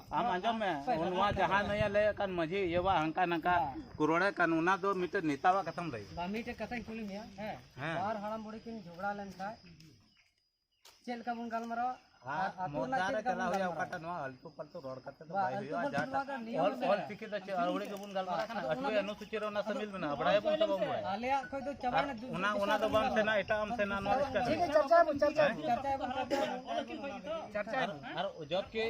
[SPEAKER 4] ᱟᱢ ᱟᱸᱡᱚᱢ ᱢᱮ ᱱᱚᱣᱟ ᱡᱟᱦᱟᱸ ᱱᱚᱭᱟ ᱞᱟᱹᱭ ᱠᱟᱱ ᱢᱟᱹᱡᱷᱤ ᱤᱭᱟᱹᱣᱟ ᱦᱟᱱᱠᱟ ᱱᱟᱝᱠᱟ ᱠᱩᱨᱚᱲᱮ ᱠᱟᱱ ᱚᱱᱟ ᱫᱚ ᱢᱤᱫᱴᱮᱱ ᱱᱮᱛᱟᱣᱟᱜ ᱠᱟᱛᱷᱟᱢ ᱞᱟᱹᱭ ᱵᱟ ᱢᱤᱫᱴᱮᱱ ᱠᱟᱛᱷᱟᱧ ᱠᱩᱞᱤ ᱢᱮᱭᱟ ᱦᱮᱸ ᱵᱟᱨ ᱦᱟᱲᱟᱢ ᱵᱩᱲᱦᱤ ᱠᱤᱱ ᱡᱷᱚᱜᱽᱲᱟ
[SPEAKER 3] ᱞᱮᱱ ᱠᱷᱟᱡ ᱪᱮᱫ
[SPEAKER 4] ᱞᱮᱠᱟ ᱵᱚᱱ ᱜᱟᱞᱢᱟᱨᱟᱣᱟ ᱪᱟᱨᱪᱟᱭ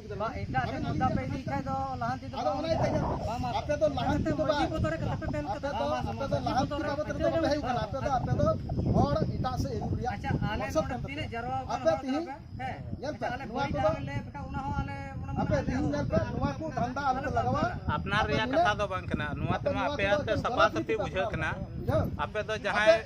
[SPEAKER 5] ᱟᱯᱱᱟᱨ ᱨᱮᱭᱟᱜ ᱠᱟᱛᱷᱟ
[SPEAKER 4] ᱫᱚ ᱵᱟᱝ ᱠᱟᱱᱟ ᱱᱚᱣᱟ ᱛᱮᱢᱟ ᱟᱯᱮ ᱥᱟᱯᱷᱟ ᱥᱟᱹᱯᱷᱤ ᱵᱩᱡᱷᱟᱹᱜ ᱠᱟᱱᱟ ᱟᱯᱮ ᱫᱚ ᱡᱟᱦᱟᱸᱭ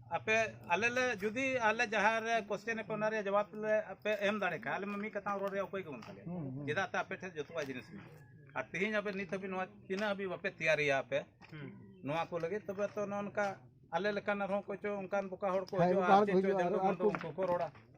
[SPEAKER 4] ᱟᱯᱮ ᱟᱞᱮ ᱞᱮ ᱡᱩᱫᱤ ᱟᱞᱮ ᱡᱟᱦᱟᱸ ᱨᱮ ᱠᱚᱥᱪᱮᱱ ᱯᱮ ᱚᱱᱟ ᱨᱮᱭᱟᱜ ᱡᱚᱵᱟᱵ ᱞᱮ ᱟᱯᱮ ᱮᱢ ᱫᱟᱲᱮ ᱠᱷᱟᱱ ᱟᱞᱮ ᱢᱟ ᱢᱤᱫ ᱠᱟᱛᱷᱟ ᱨᱚᱲ ᱨᱮᱭᱟᱜ ᱚᱠᱚᱭ ᱜᱮ ᱵᱟᱹᱱᱩᱜ ᱛᱟᱞᱮᱭᱟ ᱪᱮᱫᱟᱜ ᱛᱮ ᱟᱯᱮ ᱴᱷᱮᱱ ᱡᱚᱛᱚᱣᱟᱜ ᱡᱤᱱᱤᱥ ᱢᱮᱱᱟᱜᱼᱟ ᱟᱨ ᱛᱮᱦᱮᱧ ᱟᱯᱮ ᱱᱤᱛ ᱦᱟᱹᱵᱤᱡ ᱱᱚᱣᱟ ᱛᱤᱱᱟᱹᱜ ᱦᱟᱹᱵᱤᱡ ᱵᱟᱯᱮ ᱛᱮᱭᱟᱨᱤᱭᱟ ᱟᱯᱮ ᱱᱚᱣᱟ ᱠᱚ ᱞᱟᱹᱜᱤᱫ ᱛᱚᱵᱮ ᱛᱚ ᱱᱚᱜᱼᱚ ᱱᱚᱝᱠᱟ ᱟᱞᱮ ᱞᱮᱠᱟᱱ ᱟᱨᱦᱚᱸ ᱚᱠᱚᱭ ᱪᱚ ᱚᱱᱠᱟᱱ ᱵᱚᱠᱟ ᱦᱚᱲ ᱠᱚ ᱦᱤᱡᱩᱜᱼᱟ ᱟᱨ ᱪᱮᱫ ᱪᱚ ᱡᱟᱦᱟᱸ ᱫᱚ ᱩᱱᱠᱩ ᱠᱚ ᱨᱚᱲᱟ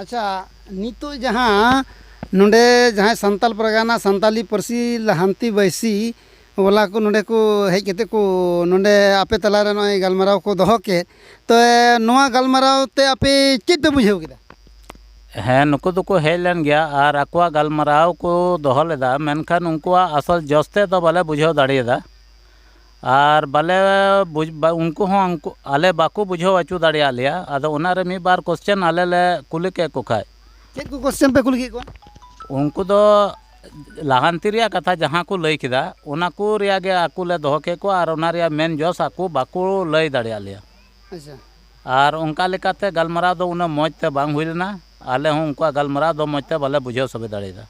[SPEAKER 4] ᱟᱪᱪᱷᱟ
[SPEAKER 1] ᱱᱤᱛᱚᱜ ᱡᱟᱦᱟᱸ ᱱᱚᱰᱮ ᱡᱟᱦᱟᱸᱭ ᱥᱟᱱᱛᱟᱲ ᱯᱟᱨᱜᱟᱱᱟ ᱥᱟᱱᱛᱟᱲᱤ ᱯᱟᱹᱨᱥᱤ ᱞᱟᱦᱟᱱᱛᱤ ᱵᱟᱹᱭᱥᱤ ᱵᱟᱞᱟ ᱠᱚ ᱱᱚᱰᱮ ᱠᱚ ᱦᱮᱡ ᱠᱟᱛᱮ ᱠᱚ ᱱᱚᱰᱮ ᱟᱯᱮ ᱛᱟᱞᱟ ᱨᱮ ᱱᱚᱜᱼᱚᱭ ᱜᱟᱞᱢᱟᱨᱟᱣ ᱠᱚ ᱫᱚᱦᱚ ᱠᱮᱫ ᱛᱚ ᱱᱚᱣᱟ ᱜᱟᱞᱢᱟᱨᱟᱣ ᱛᱮ ᱟᱯᱮ ᱪᱮᱫ ᱯᱮ ᱵᱩᱡᱷᱟᱹᱣ ᱠᱮᱫᱟ ᱦᱮᱸ
[SPEAKER 4] ᱱᱩᱠᱩ ᱫᱚᱠᱚ ᱦᱮᱡ ᱞᱮᱱ ᱜᱮᱭᱟ ᱟᱨ ᱟᱠᱚᱣᱟᱜ ᱜᱟᱞᱢᱟᱨᱟᱣ ᱠᱚ ᱫᱚᱦᱚ ᱞᱮᱫᱟ ᱢᱮᱱᱠᱷᱟᱱ ᱩᱱᱠᱩᱣᱟᱜ ᱟᱥᱚᱞ ᱡᱚᱥ ᱛᱮᱫ ᱫᱚ ᱵᱟᱞᱮ ᱵᱩᱡᱷᱟᱹᱣ ᱫᱟᱲᱮᱭᱟᱫᱟ ᱟᱨ ᱵᱟᱞᱮ ᱩᱱᱠᱩ ᱦᱚᱸ ᱩᱱᱠᱩ ᱟᱞᱮ ᱵᱟᱠᱚ ᱵᱩᱡᱷᱟᱹᱣ ᱚᱪᱚ ᱫᱟᱲᱮᱭᱟᱫ ᱞᱮᱭᱟ ᱟᱫᱚ ᱚᱱᱟ ᱨᱮ ᱢᱤᱫ ᱵᱟᱨ ᱠᱚᱥᱪᱟᱱ ᱟᱞᱮ ᱞᱮ ᱠᱩᱞᱤ ᱠᱮᱫ ᱠᱚ ᱠᱷᱟᱱ ᱪᱮᱫ ᱠᱚ ᱠᱚᱥᱪᱟᱱ ᱯᱮ
[SPEAKER 1] ᱠᱩᱞᱤ ᱠᱮᱫ ᱠᱚᱣᱟ ᱩᱱᱠᱩ ᱫᱚ
[SPEAKER 4] ᱞᱟᱦᱟᱱᱛᱤ ᱨᱮᱭᱟᱜ ᱠᱟᱛᱷᱟ ᱡᱟᱦᱟᱸ ᱠᱚ ᱞᱟᱹᱭ ᱠᱮᱫᱟ ᱚᱱᱟ ᱠᱚ ᱨᱮᱭᱟᱜ ᱜᱮ ᱟᱠᱚ ᱞᱮ ᱫᱚᱦᱚ ᱠᱮᱫ ᱠᱚᱣᱟ ᱟᱨ ᱚᱱᱟ ᱨᱮᱭᱟᱜ ᱢᱮᱱ ᱡᱚᱥ ᱟᱠᱚ ᱵᱟᱠᱚ ᱞᱟᱹᱭ ᱫᱟᱲᱮᱭᱟᱫ ᱞᱮᱭᱟ ᱟᱪᱪᱷᱟ
[SPEAKER 1] ᱟᱨ ᱚᱱᱠᱟ
[SPEAKER 4] ᱞᱮᱠᱟᱛᱮ ᱜᱟᱞᱢᱟᱨᱟᱣ ᱫᱚ ᱩᱱᱟᱹᱜ ᱢᱚᱡᱽ ᱛᱮ ᱵᱟᱝ ᱦᱩᱭ ᱞᱮᱱᱟ ᱟᱞᱮ ᱦᱚᱸ ᱩᱱᱠᱩᱣᱟᱜ ᱜᱟᱞᱢᱟᱨᱟᱣ ᱫᱚ ᱢᱚᱡᱽ ᱛᱮ ᱵᱟᱞᱮ ᱵᱩᱡᱷᱟᱹᱣ ᱥᱟᱵᱮ ᱫᱟᱲᱮᱭᱟᱫᱟ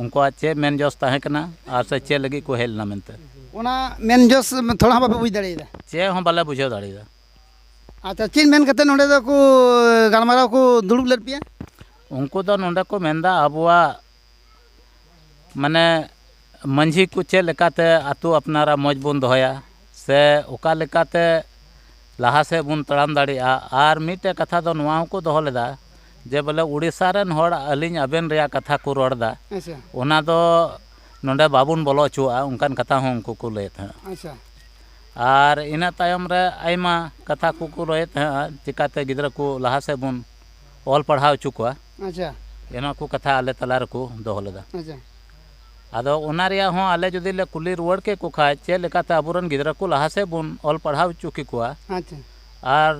[SPEAKER 4] ᱩᱱᱠᱩᱣᱟᱜ ᱪᱮᱫ ᱢᱮᱱ ᱡᱚᱥ ᱛᱟᱦᱮᱸ ᱠᱟᱱᱟ ᱟᱨ ᱥᱮ ᱪᱮᱫ ᱞᱟᱹᱜᱤᱫ ᱠᱚ ᱦᱮᱡ ᱞᱮᱱᱟ ᱢᱮᱱᱛᱮ ᱚᱱᱟ ᱢᱮᱱ
[SPEAKER 1] ᱡᱚᱥ ᱛᱷᱚᱲᱟ ᱦᱚᱸ ᱵᱟᱯᱮ ᱵᱩᱡᱽ ᱫᱟᱲᱮᱭᱟᱫᱟ ᱪᱮᱫ ᱦᱚᱸ ᱵᱟᱞᱮ ᱵᱩᱡᱷᱟᱹᱣ
[SPEAKER 4] ᱫᱟᱲᱮᱭᱟᱫᱟ ᱟᱪᱪᱷᱟ
[SPEAKER 1] ᱪᱮᱫ ᱢᱮᱱ ᱠᱟᱛᱮᱫ ᱱᱚᱰᱮ ᱫᱚᱠᱚ ᱜᱟᱞᱢᱟᱨᱟᱣ ᱠᱚ ᱫᱩᱲᱩᱵ ᱞᱮᱫ ᱯᱮᱭᱟ ᱩᱱᱠᱩ ᱫᱚ
[SPEAKER 4] ᱱᱚᱰᱮ ᱠᱚ ᱢᱮᱱᱫᱟ ᱟᱵᱚᱣᱟᱜ ᱢᱟᱱᱮ ᱢᱟᱺᱡᱷᱤ ᱠᱚ ᱪᱮᱫ ᱞᱮᱠᱟᱛᱮ ᱟᱹᱛᱩ ᱟᱯᱱᱟᱨᱟᱜ ᱢᱚᱡᱽ ᱵᱚᱱ ᱫᱚᱦᱚᱭᱟ ᱥᱮ ᱚᱠᱟ ᱞᱮᱠᱟᱛᱮ ᱞᱟᱦᱟ ᱥᱮᱫ ᱵᱚᱱ ᱛᱟᱲᱟᱢ ᱫᱟᱲᱮᱭᱟᱜᱼᱟ ᱟᱨ ᱢᱤᱫᱴᱮᱱ ᱠᱟᱛᱷᱟ ᱫᱚ ᱱᱚᱣᱟ ᱦᱚᱸᱠᱚ ᱫᱚᱦᱚ ᱞᱮᱫᱟ ᱡᱮ ᱵᱚᱞᱮ ᱳᱰᱤᱥᱟ ᱨᱮᱱ ᱦᱚᱲ ᱟᱹᱞᱤᱧ ᱟᱵᱮᱱ ᱨᱮᱭᱟᱜ ᱠᱟᱛᱷᱟ ᱠᱚ ᱨᱚᱲ ᱮᱫᱟ ᱚᱱᱟ ᱫᱚ ᱱᱚᱰᱮ ᱵᱟᱵᱚᱱ ᱵᱚᱞᱚ ᱦᱚᱪᱚᱣᱟᱜᱼᱟ ᱚᱱᱠᱟᱱ ᱠᱟᱛᱷᱟ ᱦᱚᱸ ᱩᱱᱠᱩ ᱠᱚ ᱞᱟᱹᱭᱮᱫ ᱛᱟᱦᱮᱱᱟ
[SPEAKER 1] ᱟᱨ
[SPEAKER 4] ᱤᱱᱟᱹ ᱛᱟᱭᱚᱢ ᱨᱮ ᱟᱭᱢᱟ ᱠᱟᱛᱷᱟ ᱠᱚᱠᱚ ᱞᱟᱹᱭᱮᱫ ᱛᱟᱦᱮᱱᱟ ᱪᱤᱠᱟᱹᱛᱮ ᱜᱤᱫᱽᱨᱟᱹ ᱠᱚ ᱞᱟᱦᱟ ᱥᱮᱫ ᱵᱚᱱ ᱚᱞ ᱯᱟᱲᱦᱟᱣ ᱦᱚᱪᱚ ᱠᱚᱣᱟ ᱚᱱᱟ
[SPEAKER 1] ᱠᱚ ᱠᱟᱛᱷᱟ
[SPEAKER 4] ᱟᱞᱮ ᱛᱟᱞᱟ ᱨᱮᱠᱚ ᱫᱚᱦᱚ ᱞᱮᱫᱟ
[SPEAKER 1] ᱟᱫᱚ
[SPEAKER 4] ᱚᱱᱟ ᱨᱮᱭᱟᱜ ᱦᱚᱸ ᱟᱞᱮ ᱡᱩᱫᱤ ᱞᱮ ᱠᱩᱞᱤ ᱨᱩᱣᱟᱹᱲ ᱠᱮ ᱠᱚ ᱠᱷᱟᱡ ᱪᱮᱫ ᱞᱮᱠᱟᱛᱮ ᱟᱵᱚ ᱨᱮᱱ ᱜᱤᱫᱽᱨᱟᱹ ᱠᱚ ᱞᱟᱦᱟ ᱥᱮᱫ ᱵᱚᱱ ᱚᱞ ᱯᱟᱲᱦᱟᱣ ᱦᱚᱪᱚ ᱠᱮ ᱠᱚᱣᱟ ᱟᱪᱪᱷᱟ
[SPEAKER 1] ᱟᱨ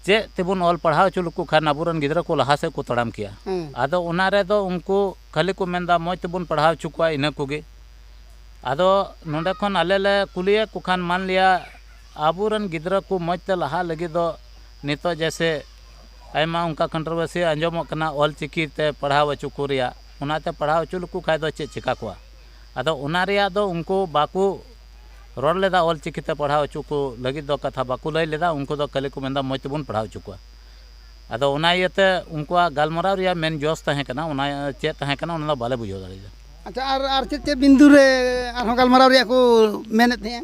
[SPEAKER 4] ᱪᱮᱫ ᱛᱮᱵᱚᱱ ᱚᱞ ᱯᱟᱲᱦᱟᱣ ᱦᱚᱪᱚ ᱞᱮᱠᱚ ᱠᱷᱟᱱ ᱟᱵᱚ ᱨᱮᱱ ᱜᱤᱫᱽᱨᱟᱹ ᱠᱚ ᱞᱟᱦᱟ ᱥᱮᱫ ᱠᱚ ᱛᱟᱲᱟᱢ ᱠᱮᱭᱟ ᱦᱮᱸ ᱟᱫᱚ ᱚᱱᱟ ᱨᱮᱫᱚ ᱩᱱᱠᱩ ᱠᱷᱟᱹᱞᱤ ᱠᱚ ᱢᱮᱱ ᱮᱫᱟ ᱢᱚᱡᱽ ᱛᱮᱵᱚᱱ ᱯᱟᱲᱦᱟᱣ ᱦᱚᱪᱚ ᱠᱚᱣᱟ ᱤᱱᱟᱹ ᱠᱚᱜᱮ ᱟᱫᱚ ᱱᱚᱰᱮ ᱠᱷᱚᱱ ᱟᱞᱮ ᱞᱮ ᱠᱩᱞᱤᱭᱮᱫ ᱠᱚ ᱠᱷᱟᱱ ᱢᱟᱱ ᱞᱤᱭᱟ ᱟᱵᱚ ᱨᱮᱱ ᱜᱤᱫᱽᱨᱟᱹ ᱠᱚ ᱢᱚᱡᱽ ᱛᱮ ᱞᱟᱦᱟᱜ ᱞᱟᱹᱜᱤᱫ ᱫᱚ ᱱᱤᱛᱚᱜ ᱡᱮᱭᱥᱮ ᱟᱭᱢᱟ ᱚᱱᱠᱟ ᱠᱚᱱᱴᱨᱚᱵᱟᱹᱨᱥᱤ ᱟᱸᱡᱚᱢᱚᱜ ᱠᱟᱱᱟ ᱚᱞ ᱪᱤᱠᱤ ᱛᱮ ᱯᱟᱲᱦᱟᱣ ᱦᱚᱪᱚ ᱠᱚ ᱨᱮᱭᱟᱜ ᱚᱱᱟᱛᱮ ᱯᱟᱲᱦᱟᱣ ᱚᱪᱚ ᱞᱮᱠᱚ ᱠᱷᱟᱱ ᱫᱚ ᱪᱮᱫ ᱪᱤᱠᱟᱹ ᱠᱚᱜᱼᱟ ᱟᱫᱚ ᱚᱱᱟ ᱨᱮᱭᱟᱜ ᱫᱚ ᱩᱱᱠᱩ ᱵᱟᱠᱚ ᱨᱚᱲ ᱞᱮᱫᱟ ᱚᱞ ᱪᱤᱠᱤ ᱛᱮ ᱯᱟᱲᱦᱟᱣ ᱚᱪᱚ ᱠᱚ ᱞᱟᱹᱜᱤᱫ ᱫᱚ ᱠᱟᱛᱷᱟ ᱵᱟᱠᱚ ᱞᱟᱹᱭ ᱞᱮᱫᱟ ᱩᱱᱠᱩ ᱫᱚ ᱠᱷᱟᱹᱞᱤ ᱠᱚ ᱢᱮᱱᱫᱟ ᱢᱚᱡᱽ ᱛᱮᱵᱚᱱ ᱯᱟᱲᱦᱟᱣ ᱚᱪᱚ ᱠᱚᱣᱟ ᱟᱫᱚ ᱚᱱᱟ ᱤᱭᱟᱹᱛᱮ ᱩᱱᱠᱩᱣᱟᱜ ᱜᱟᱞᱢᱟᱨᱟᱣ ᱨᱮᱭᱟᱜ ᱢᱮᱱ ᱡᱚᱥ ᱛᱟᱦᱮᱸ ᱠᱟᱱᱟ ᱚᱱᱟ ᱪᱮᱫ ᱛᱟᱦᱮᱸ ᱠᱟᱱᱟ ᱚᱱᱟ ᱫᱚ ᱵᱟᱞᱮ ᱵᱩᱡᱷᱟᱹᱣ ᱫᱟᱲᱮᱭᱟᱫᱟ ᱟᱪᱪᱷᱟ ᱟᱨ ᱟᱨ ᱪᱮᱫ
[SPEAKER 1] ᱪᱮᱫ ᱵᱤᱱᱫᱩ ᱨᱮ ᱟᱨᱦᱚᱸ ᱜᱟᱞᱢᱟᱨᱟᱣ ᱨᱮᱭᱟᱜ ᱠᱚ ᱢᱮᱱᱮᱫ ᱛᱟᱦᱮᱸᱜᱼᱟ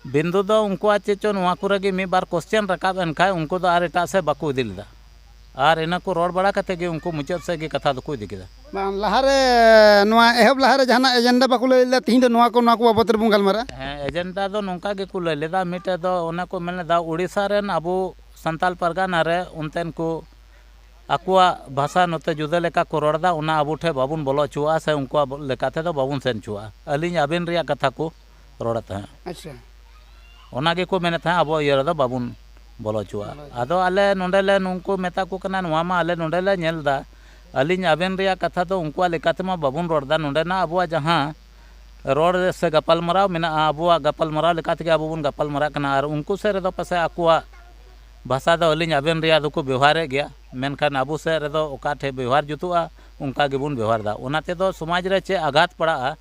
[SPEAKER 1] ᱵᱤᱱᱫᱩ
[SPEAKER 4] ᱫᱚ ᱩᱱᱠᱩᱣᱟᱜ ᱪᱮᱫ ᱪᱚ ᱱᱚᱶᱟ ᱠᱚᱨᱮ ᱜᱮ ᱢᱤᱫ ᱵᱟᱨ ᱠᱚᱥᱪᱮᱱ ᱨᱟᱠᱟᱵ ᱮᱱ ᱠᱷᱟᱱ ᱩᱱᱠᱩ ᱫᱚ ᱟᱨ ᱮᱴᱟᱜ ᱥᱮᱫ ᱵᱟᱠᱚ ᱤᱫᱤ ᱞᱮᱫᱟ ᱟᱨ ᱤᱱᱟᱹ ᱠᱚ ᱨᱚᱲ ᱵᱟᱲᱟ ᱠᱟᱛᱮᱫ ᱜᱮ ᱩᱱᱠᱩ ᱢᱩᱪᱟᱹᱫ ᱥᱮᱫ ᱜᱮ ᱠᱟᱛᱷᱟ ᱫᱚᱠᱚ ᱤᱫᱤ ᱠᱮᱫᱟ᱾ ᱵᱟᱝ ᱞᱟᱦᱟ ᱨᱮ
[SPEAKER 1] ᱱᱚᱶᱟ ᱮᱦᱚᱵ ᱞᱟᱦᱟ ᱨᱮ ᱡᱟᱦᱟᱱᱟᱜ ᱮᱡᱮᱱᱰᱟ ᱵᱟᱠᱚ ᱞᱟᱹᱭ ᱞᱮᱫᱟ ᱛᱮᱦᱮᱧ ᱫᱚ ᱱᱚᱶᱟ ᱠᱚ ᱱᱚᱶᱟ ᱠᱚ ᱵᱟᱵᱚᱛ ᱨᱮᱵᱚᱱ ᱜᱟᱞᱢᱟᱨᱟᱜᱼᱟ? ᱦᱮᱸ ᱮᱡᱮᱱᱰᱟ ᱫᱚ
[SPEAKER 4] ᱱᱚᱝᱠᱟ ᱜᱮ ᱠᱚ ᱞᱟᱹᱭ ᱞᱮᱫᱟ ᱢᱤᱫᱴᱮᱱ ᱫᱚ ᱚᱱᱮ ᱠᱚ ᱢᱮᱱ ᱞᱮᱫᱟ ᱳᱰᱤᱥᱟ ᱨᱮᱱ ᱟᱵᱚ ᱥᱟᱱᱛᱟᱲ ᱯᱟᱨᱜᱟᱱᱟ ᱨᱮ ᱚᱱᱛᱮᱱ ᱠᱚ ᱟᱠᱚᱣᱟᱜ ᱵᱷᱟᱥᱟ ᱱᱚᱛᱮ ᱡᱩᱫᱟᱹ ᱞᱮᱠᱟ ᱠᱚ ᱨᱚᱲ ᱮᱫᱟ ᱚᱱᱟ ᱟᱵᱚ ᱴᱷᱮᱱ ᱵᱟᱵᱚᱱ ᱵᱚᱞᱚ ᱚᱪᱚᱣᱟᱜᱼᱟ ᱥᱮ ᱩᱱᱠᱩᱣᱟᱜ ᱞᱮᱠᱟ ᱛᱮᱫᱚ ᱵᱟᱵᱚᱱ ᱥᱮᱱ ᱚᱪᱚᱣᱟᱜᱼᱟ ᱟᱹᱞᱤᱧ ᱟᱹᱵᱤᱱ ᱨᱮᱭᱟᱜ ᱠᱟᱛᱷᱟ ᱠᱚ ᱨᱚᱲᱮᱫ ᱛᱟᱦᱮᱸᱫ ᱟᱪᱪᱷᱟ
[SPEAKER 1] ᱚᱱᱟ
[SPEAKER 4] ᱜᱮᱠᱚ ᱢᱮᱱᱮᱫ ᱛᱟᱦᱮᱸᱫ ᱟᱵᱚ ᱤᱭᱟᱹ ᱨᱮᱫᱚ ᱵᱟᱵᱚᱱ ᱵᱚᱞᱚ ᱦᱚᱪᱚᱣᱟᱜᱼᱟ ᱟᱫᱚ ᱟᱞᱮ ᱱᱚᱸᱰᱮ ᱞᱮ ᱱᱩᱠᱩ ᱢᱮᱛᱟ ᱠᱚ ᱠᱟᱱᱟ ᱱᱚᱣᱟ ᱢᱟ ᱟᱞᱮ ᱱᱚᱸᱰᱮ ᱞᱮ ᱧᱮᱞ ᱮᱫᱟ ᱟᱹᱞᱤᱧ ᱟᱵᱮᱱ ᱨᱮᱭᱟᱜ ᱠᱟᱛᱷᱟ ᱫᱚ ᱩᱱᱠᱩᱣᱟᱜ ᱞᱮᱠᱟ ᱛᱮᱢᱟ ᱵᱟᱵᱚᱱ ᱨᱚᱲ ᱮᱫᱟ ᱱᱚᱸᱰᱮᱱᱟᱜ ᱟᱵᱚᱣᱟᱜ ᱡᱟᱦᱟᱸ ᱨᱚᱲ ᱨᱮ ᱥᱮ ᱜᱟᱯᱟᱞᱢᱟᱨᱟᱣ ᱢᱮᱱᱟᱜᱼᱟ ᱟᱵᱚᱣᱟᱜ ᱜᱟᱯᱟᱞᱢᱟᱨᱟᱣ ᱞᱮᱠᱟ ᱛᱮᱜᱮ ᱟᱵᱚ ᱵᱚᱱ ᱜᱟᱯᱟᱞᱢᱟᱨᱟᱜ ᱠᱟᱱᱟ ᱟᱨ ᱩᱱᱠᱩ ᱥᱮᱫ ᱨᱮᱫᱚ ᱯᱟᱥᱮᱡ ᱟᱠᱚᱣᱟᱜ ᱵᱷᱟᱥᱟ ᱫᱚ ᱟᱹᱞᱤᱧ ᱟᱵᱮᱱ ᱨᱮᱭᱟᱜ ᱫᱚᱠᱚ ᱵᱮᱵᱚᱦᱟᱨᱮᱫ ᱜᱮᱭᱟ ᱢᱮᱱᱠᱷᱟᱱ ᱟᱵᱚ ᱥᱮᱫ ᱨᱮᱫᱚ ᱚᱠᱟ ᱴᱷᱮᱱ ᱵᱮᱵᱚᱦᱟᱨ ᱡᱩᱛᱩᱜᱼᱟ ᱚᱱᱠᱟ ᱜᱮᱵᱚᱱ ᱵᱮᱵᱚᱦᱟᱨᱫᱟ ᱚᱱᱟ ᱛᱮᱫᱚ ᱥᱚᱢᱟᱡᱽ ᱨᱮ ᱪᱮᱫ ᱟᱜᱷᱟᱛ ᱯᱟᱲᱟᱜᱼᱟ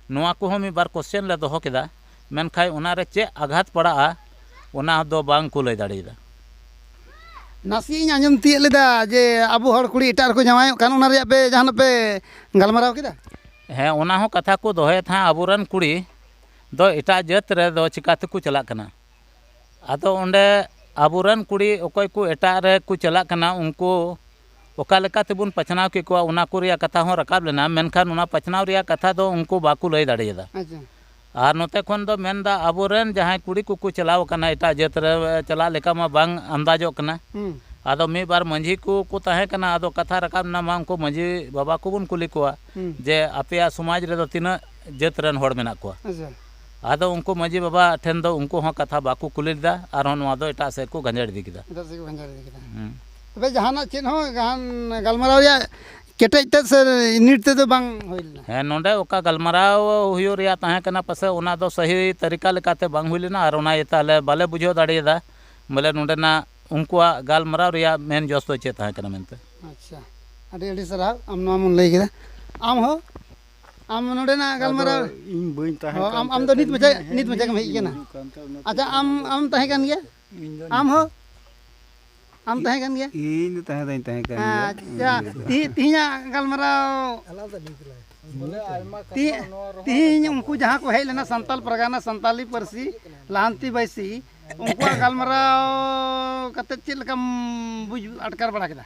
[SPEAKER 4] ᱱᱚᱣᱟ ᱠᱚᱦᱚᱸ ᱢᱤᱫ ᱵᱟᱨ ᱠᱚᱥᱪᱮᱱ ᱞᱮ ᱫᱚᱦᱚ ᱠᱮᱫᱟ ᱢᱮᱱᱠᱷᱟᱱ ᱚᱱᱟ ᱨᱮ ᱪᱮᱫ ᱟᱜᱷᱟᱛ ᱯᱟᱲᱟᱜᱼᱟ ᱚᱱᱟ ᱫᱚ ᱵᱟᱝ ᱠᱚ ᱞᱟᱹᱭ ᱫᱟᱲᱮᱭᱟᱫᱟ
[SPEAKER 1] ᱱᱟᱥᱮᱭᱟᱜ ᱤᱧ ᱟᱸᱡᱚᱢ ᱛᱤᱭᱳᱜ ᱞᱮᱫᱟ ᱡᱮ ᱟᱵᱚ ᱦᱚᱲ ᱠᱩᱲᱤ ᱮᱴᱟᱜ ᱨᱮᱠᱚ ᱡᱟᱶᱟᱭᱚᱜ ᱠᱟᱱ ᱚᱱᱟ ᱨᱮᱭᱟᱜ ᱯᱮ ᱡᱟᱦᱟᱱᱟᱜ ᱯᱮ ᱜᱟᱞᱢᱟᱨᱟᱣ ᱠᱮᱫᱟ ᱦᱮᱸ ᱚᱱᱟ ᱦᱚᱸ
[SPEAKER 4] ᱠᱟᱛᱷᱟ ᱠᱚ ᱫᱚᱦᱚᱭᱮᱫ ᱛᱟᱦᱮᱸᱫ ᱟᱵᱚ ᱨᱮᱱ ᱠᱩᱲᱤ ᱫᱚ ᱮᱴᱟᱜ ᱡᱟᱹᱛ ᱨᱮᱫᱚ ᱪᱤᱠᱟᱹ ᱛᱮᱠᱚ ᱪᱟᱞᱟᱜ ᱠᱟᱱᱟ ᱟᱫᱚ ᱚᱸᱰᱮ ᱟᱵᱚ ᱨᱮᱱ ᱠᱩᱲᱤ ᱚᱠᱚᱭ ᱠᱚ ᱮᱴᱟᱜ ᱨᱮᱠᱚ ᱪᱟᱞᱟᱜ ᱠᱟᱱᱟ ᱩᱱᱠᱩ ᱚᱠᱟ ᱞᱮᱠᱟ ᱛᱮᱵᱚᱱ ᱵᱟᱪᱷᱱᱟᱣ ᱠᱮᱫ ᱠᱚᱣᱟ ᱚᱱᱟ ᱠᱚ ᱨᱮᱭᱟᱜ ᱠᱟᱛᱷᱟ ᱦᱚᱸ ᱨᱟᱠᱟᱵ ᱞᱮᱱᱟ ᱢᱮᱱᱠᱷᱟᱱ ᱚᱱᱟ ᱵᱟᱪᱷᱱᱟᱣ ᱨᱮᱭᱟᱜ ᱠᱟᱛᱷᱟ ᱫᱚ ᱩᱱᱠᱩ ᱵᱟᱠᱚ ᱞᱟᱹᱭ ᱫᱟᱲᱮᱭᱟᱫᱟ ᱟᱨ
[SPEAKER 1] ᱱᱚᱛᱮ ᱠᱷᱚᱱ
[SPEAKER 4] ᱫᱚ ᱢᱮᱱᱫᱟ ᱟᱵᱚ ᱨᱮᱱ ᱡᱟᱦᱟᱸᱭ ᱠᱩᱲᱤ ᱠᱚᱠᱚ ᱪᱟᱞᱟᱣ ᱠᱟᱱᱟ ᱮᱴᱟᱜ ᱡᱟᱹᱛ ᱨᱮ ᱪᱟᱞᱟᱜ ᱞᱮᱠᱟ ᱢᱟ ᱵᱟᱝ ᱟᱱᱫᱟᱡᱚᱜ ᱠᱟᱱᱟ ᱟᱫᱚ ᱢᱤᱫ ᱵᱟᱨ ᱢᱟᱺᱡᱷᱤ ᱠᱚᱠᱚ ᱛᱟᱦᱮᱸ ᱠᱟᱱᱟ ᱟᱫᱚ ᱠᱟᱛᱷᱟ ᱨᱟᱠᱟᱵ ᱮᱱᱟ ᱢᱟ ᱩᱱᱠᱩ ᱢᱟᱺᱡᱷᱤ ᱵᱟᱵᱟ ᱠᱚᱵᱚᱱ ᱠᱩᱞᱤ ᱠᱚᱣᱟ ᱡᱮ ᱟᱯᱮᱭᱟᱜ ᱥᱚᱢᱟᱡᱽ ᱨᱮᱫᱚ ᱛᱤᱱᱟᱹᱜ ᱡᱟᱹᱛ ᱨᱮᱱ ᱦᱚᱲ ᱢᱮᱱᱟᱜ ᱠᱚᱣᱟ ᱟᱫᱚ
[SPEAKER 1] ᱩᱱᱠᱩ
[SPEAKER 4] ᱢᱟᱹᱡᱷᱤ ᱵᱟᱵᱟ ᱴᱷᱮᱱ ᱫᱚ ᱩᱱᱠᱩ ᱦᱚᱸ ᱠᱟᱛᱷᱟ ᱵᱟᱠᱚ ᱠᱩᱞᱤ ᱞᱮᱫᱟ ᱟᱨᱦᱚᱸ ᱱᱚᱣᱟ ᱫᱚ ᱮᱴᱟᱜ ᱥᱮᱫ ᱠᱚ ᱜᱟᱸᱡᱟᱲ ᱤᱫᱤ ᱠᱮᱫᱟ ᱮᱴᱟᱜ ᱥᱮᱫ ᱠᱚ ᱜᱟᱸᱡᱟᱲ ᱤᱫᱤ ᱠᱮᱫᱟ
[SPEAKER 1] ᱛᱚᱵᱮ ᱡᱟᱦᱟᱱᱟᱜ ᱪᱮᱫ ᱦᱚᱸ ᱡᱟᱦᱟᱱ ᱜᱟᱞᱢᱟᱨᱟᱣ ᱨᱮᱭᱟᱜ ᱠᱮᱴᱮᱡ ᱛᱮᱫ ᱥᱮ ᱱᱤᱴ ᱛᱮᱫᱚ ᱵᱟᱝ ᱦᱩᱭ ᱞᱮᱱᱟ ᱦᱮᱸ ᱱᱚᱰᱮ ᱚᱠᱟ
[SPEAKER 4] ᱜᱟᱞᱢᱟᱨᱟᱣ ᱦᱩᱭᱩᱜ ᱨᱮᱭᱟᱜ ᱛᱟᱦᱮᱸ ᱠᱟᱱᱟ ᱯᱟᱥᱮᱡ ᱚᱱᱟ ᱫᱚ ᱥᱟᱹᱦᱤ ᱛᱟᱹᱨᱤᱠᱟ ᱞᱮᱠᱟᱛᱮ ᱵᱟᱝ ᱦᱩᱭ ᱞᱮᱱᱟ ᱟᱨ ᱚᱱᱟ ᱤᱭᱟᱹᱛᱮ ᱟᱞᱮ ᱵᱟᱞᱮ ᱵᱩᱡᱷᱟᱹᱣ ᱫᱟᱲᱮᱭᱟᱫᱟ ᱵᱚᱞᱮ ᱱᱚᱰᱮᱱᱟᱜ ᱩᱱᱠᱩᱣᱟᱜ ᱜᱟᱞᱢᱟᱨᱟᱣ ᱨᱮᱭᱟᱜ ᱢᱮᱱ ᱡᱚᱥ ᱫᱚ ᱪᱮᱫ ᱛᱟᱦᱮᱸ ᱠᱟᱱᱟ ᱢᱮᱱᱛᱮ ᱟᱪᱪᱷᱟ
[SPEAKER 1] ᱟᱹᱰᱤ ᱟᱹᱰᱤ ᱥᱟᱨᱦᱟᱣ ᱟᱢ ᱱᱚᱣᱟᱢ ᱞᱟᱹᱭ ᱠᱮᱫᱟ ᱟᱢ ᱦᱚᱸ ᱟᱢ ᱱᱚᱰᱮᱱᱟᱜ ᱜᱟᱞᱢᱟᱨᱟᱣ ᱤᱧ ᱵᱟᱹᱧ ᱛᱟᱦᱮᱸ
[SPEAKER 5] ᱠᱟᱱ ᱟᱢ ᱟᱢ ᱫᱚ ᱱᱤᱛ ᱢᱟᱪᱷᱟ ᱱᱤᱛ
[SPEAKER 1] ᱢᱟᱪᱷᱟ ᱜᱮᱢ ᱦᱮᱡ ᱠᱟᱱᱟ ᱟᱪᱪᱷᱟ ᱟᱢ ᱟᱢ ᱛᱟᱦᱮᱸ ᱠᱟᱱ ᱜᱮᱭᱟ ᱟᱢ ᱦᱚᱸ ᱟᱢ ᱛᱟᱦᱮᱸ ᱠᱟᱱ ᱜᱮᱭᱟ ᱤᱧ ᱫᱚ ᱛᱟᱦᱮᱸ ᱫᱚᱧ ᱛᱟᱦᱮᱸ
[SPEAKER 5] ᱠᱟᱱ ᱜᱮᱭᱟ ᱟᱪᱪᱷᱟ
[SPEAKER 1] ᱛᱤᱦᱤᱧᱟᱜ ᱜᱟᱞᱢᱟᱨᱟᱣ ᱛᱤᱦᱤᱧ ᱩᱱᱠᱩ ᱡᱟᱦᱟᱸ ᱠᱚ ᱦᱮᱡ ᱞᱮᱱᱟ ᱥᱟᱱᱛᱟᱞ ᱯᱨᱟᱜᱟᱱᱟ ᱥᱟᱱᱛᱟᱞᱤ ᱯᱟᱹᱨᱥᱤ ᱞᱟᱦᱟᱱᱛᱤ ᱵᱟᱹᱭᱥᱤ ᱩᱱᱠᱩᱣᱟᱜ ᱜᱟᱞᱢᱟᱨᱟᱣ ᱠᱟᱛᱮᱫ ᱪᱮᱫ ᱞᱮᱠᱟᱢ ᱵᱩᱡᱽ ᱟᱴᱠᱟᱨ ᱵᱟᱲᱟ ᱠᱮᱫᱟ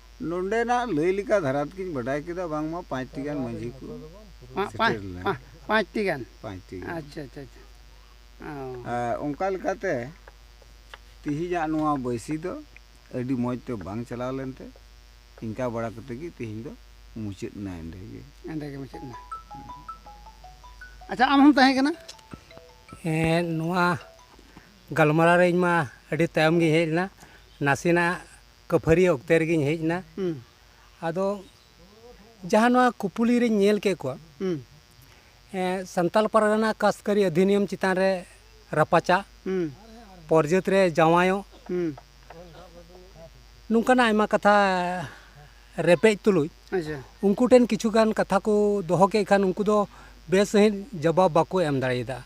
[SPEAKER 1] ᱱᱚᱰᱮᱱᱟᱜ
[SPEAKER 5] ᱞᱟᱹᱭ ᱞᱮᱠᱟ ᱫᱷᱟᱨᱟ ᱛᱮᱜᱮᱧ ᱵᱟᱰᱟᱭ ᱠᱮᱫᱟ ᱵᱟᱝᱢᱟ ᱯᱟᱸᱪᱴᱤ ᱜᱟᱱ ᱢᱟᱺᱡᱷᱤ ᱠᱚ ᱥᱮᱴᱮᱨ ᱞᱮᱱᱟ ᱯᱟᱸᱪᱴᱤ ᱜᱟᱱ ᱯᱟᱸᱪᱴᱤ ᱜᱟᱱ
[SPEAKER 1] ᱟᱪᱪᱷᱟ ᱟᱪᱪᱷᱟ
[SPEAKER 5] ᱚᱱᱠᱟ ᱞᱮᱠᱟᱛᱮ ᱛᱮᱦᱮᱧᱟᱜ ᱱᱚᱣᱟ ᱵᱟᱹᱭᱥᱤ ᱫᱚ ᱟᱹᱰᱤ ᱢᱚᱡᱽ ᱛᱮ ᱵᱟᱝ ᱪᱟᱞᱟᱣ ᱞᱮᱱᱛᱮ ᱤᱱᱠᱟ ᱵᱟᱲᱟ ᱠᱟᱛᱮ ᱜᱮ ᱛᱮᱦᱮᱧ ᱫᱚ ᱢᱩᱪᱟᱹᱫ ᱮᱱᱟ ᱮᱸᱰᱮ ᱜᱮ ᱮᱸᱰᱮ ᱜᱮ ᱢᱩᱪᱟᱹᱫ ᱮᱱᱟ
[SPEAKER 1] ᱟᱪᱪᱷᱟ ᱟᱢ ᱦᱚᱸᱢ ᱛᱟᱦᱮᱸ ᱠᱟᱱᱟ ᱦᱮᱸ
[SPEAKER 6] ᱱᱚᱣᱟ ᱜᱟᱞᱢᱟᱨᱟᱣ ᱨᱮ ᱤᱧ ᱢᱟ ᱟᱹᱰᱤ ᱛᱟᱭᱚᱢ ᱜᱮᱧ ᱦᱮᱡ ᱞᱮᱱᱟ ᱱᱟᱥᱮᱱᱟᱜ ᱠᱟᱹᱯᱷᱟᱹᱨᱤ ᱚᱠᱛᱮ ᱨᱮᱜᱮᱧ ᱦᱮᱡ ᱮᱱᱟ ᱟᱫᱚ ᱡᱟᱦᱟᱸ ᱱᱚᱣᱟ ᱠᱩᱯᱩᱞᱤ ᱨᱮᱧ ᱧᱮᱞ ᱠᱮᱫ ᱠᱚᱣᱟ ᱥᱟᱱᱛᱟᱞ ᱯᱟᱨᱜᱟᱱᱟ ᱠᱟᱥᱠᱟᱨᱤ ᱚᱫᱷᱤᱱᱤᱭᱚᱢ ᱪᱮᱛᱟᱱ ᱨᱮ ᱨᱟᱯᱟᱪᱟᱜ ᱯᱚᱨᱡᱟᱹᱛ ᱨᱮ ᱡᱟᱶᱟᱭᱚᱜ ᱱᱚᱝᱠᱟᱱᱟᱜ ᱟᱭᱢᱟ ᱠᱟᱛᱷᱟ ᱨᱮᱯᱮᱡ ᱛᱩᱞᱩᱡ ᱩᱱᱠᱩ ᱴᱷᱮᱱ ᱠᱤᱪᱷᱩ ᱜᱟᱱ ᱠᱟᱛᱷᱟ ᱠᱚ ᱫᱚᱦᱚ ᱠᱮᱫ ᱠᱷᱟᱱ ᱩᱱᱠᱩ ᱫᱚ ᱵᱮᱥ ᱥᱟᱺᱦᱤᱡ ᱡᱚᱵᱟᱵ ᱵᱟᱠᱚ ᱮᱢ ᱫᱟᱲᱮᱭᱟᱫᱟ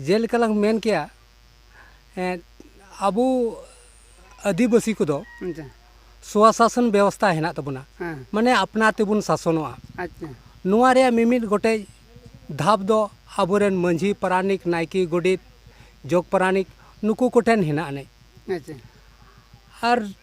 [SPEAKER 1] ᱡᱮᱞᱮᱠᱟ
[SPEAKER 6] ᱞᱟᱝ ᱢᱮᱱ ᱠᱮᱭᱟ ᱟᱵᱚ ᱟᱹᱫᱤᱵᱟᱹᱥᱤ ᱠᱚᱫᱚ ᱥᱚᱣᱟ ᱥᱟᱥᱚᱱ ᱵᱮᱵᱚᱥᱛᱟ ᱦᱮᱱᱟᱜ ᱛᱟᱵᱚᱱᱟ ᱢᱟᱱᱮ ᱟᱯᱱᱟᱨ ᱛᱮᱵᱚᱱ ᱥᱟᱥᱚᱱᱚᱜᱼᱟ ᱱᱚᱣᱟ ᱨᱮᱭᱟᱜ ᱢᱤᱢᱤᱫ ᱜᱚᱴᱮᱡ ᱫᱷᱟᱯ ᱫᱚ ᱟᱵᱚᱨᱮᱱ ᱢᱟᱹᱡᱷᱤ ᱯᱟᱨᱟᱱᱤᱠ ᱱᱟᱭᱠᱮ ᱜᱚᱰᱮᱛ ᱡᱚᱜᱽ ᱯᱟᱨᱟᱱᱤᱠ ᱱᱩᱠᱩ ᱠᱚᱴᱷᱮᱱ ᱦᱮᱱᱟᱜ ᱟᱹᱱᱤᱡ ᱟᱨ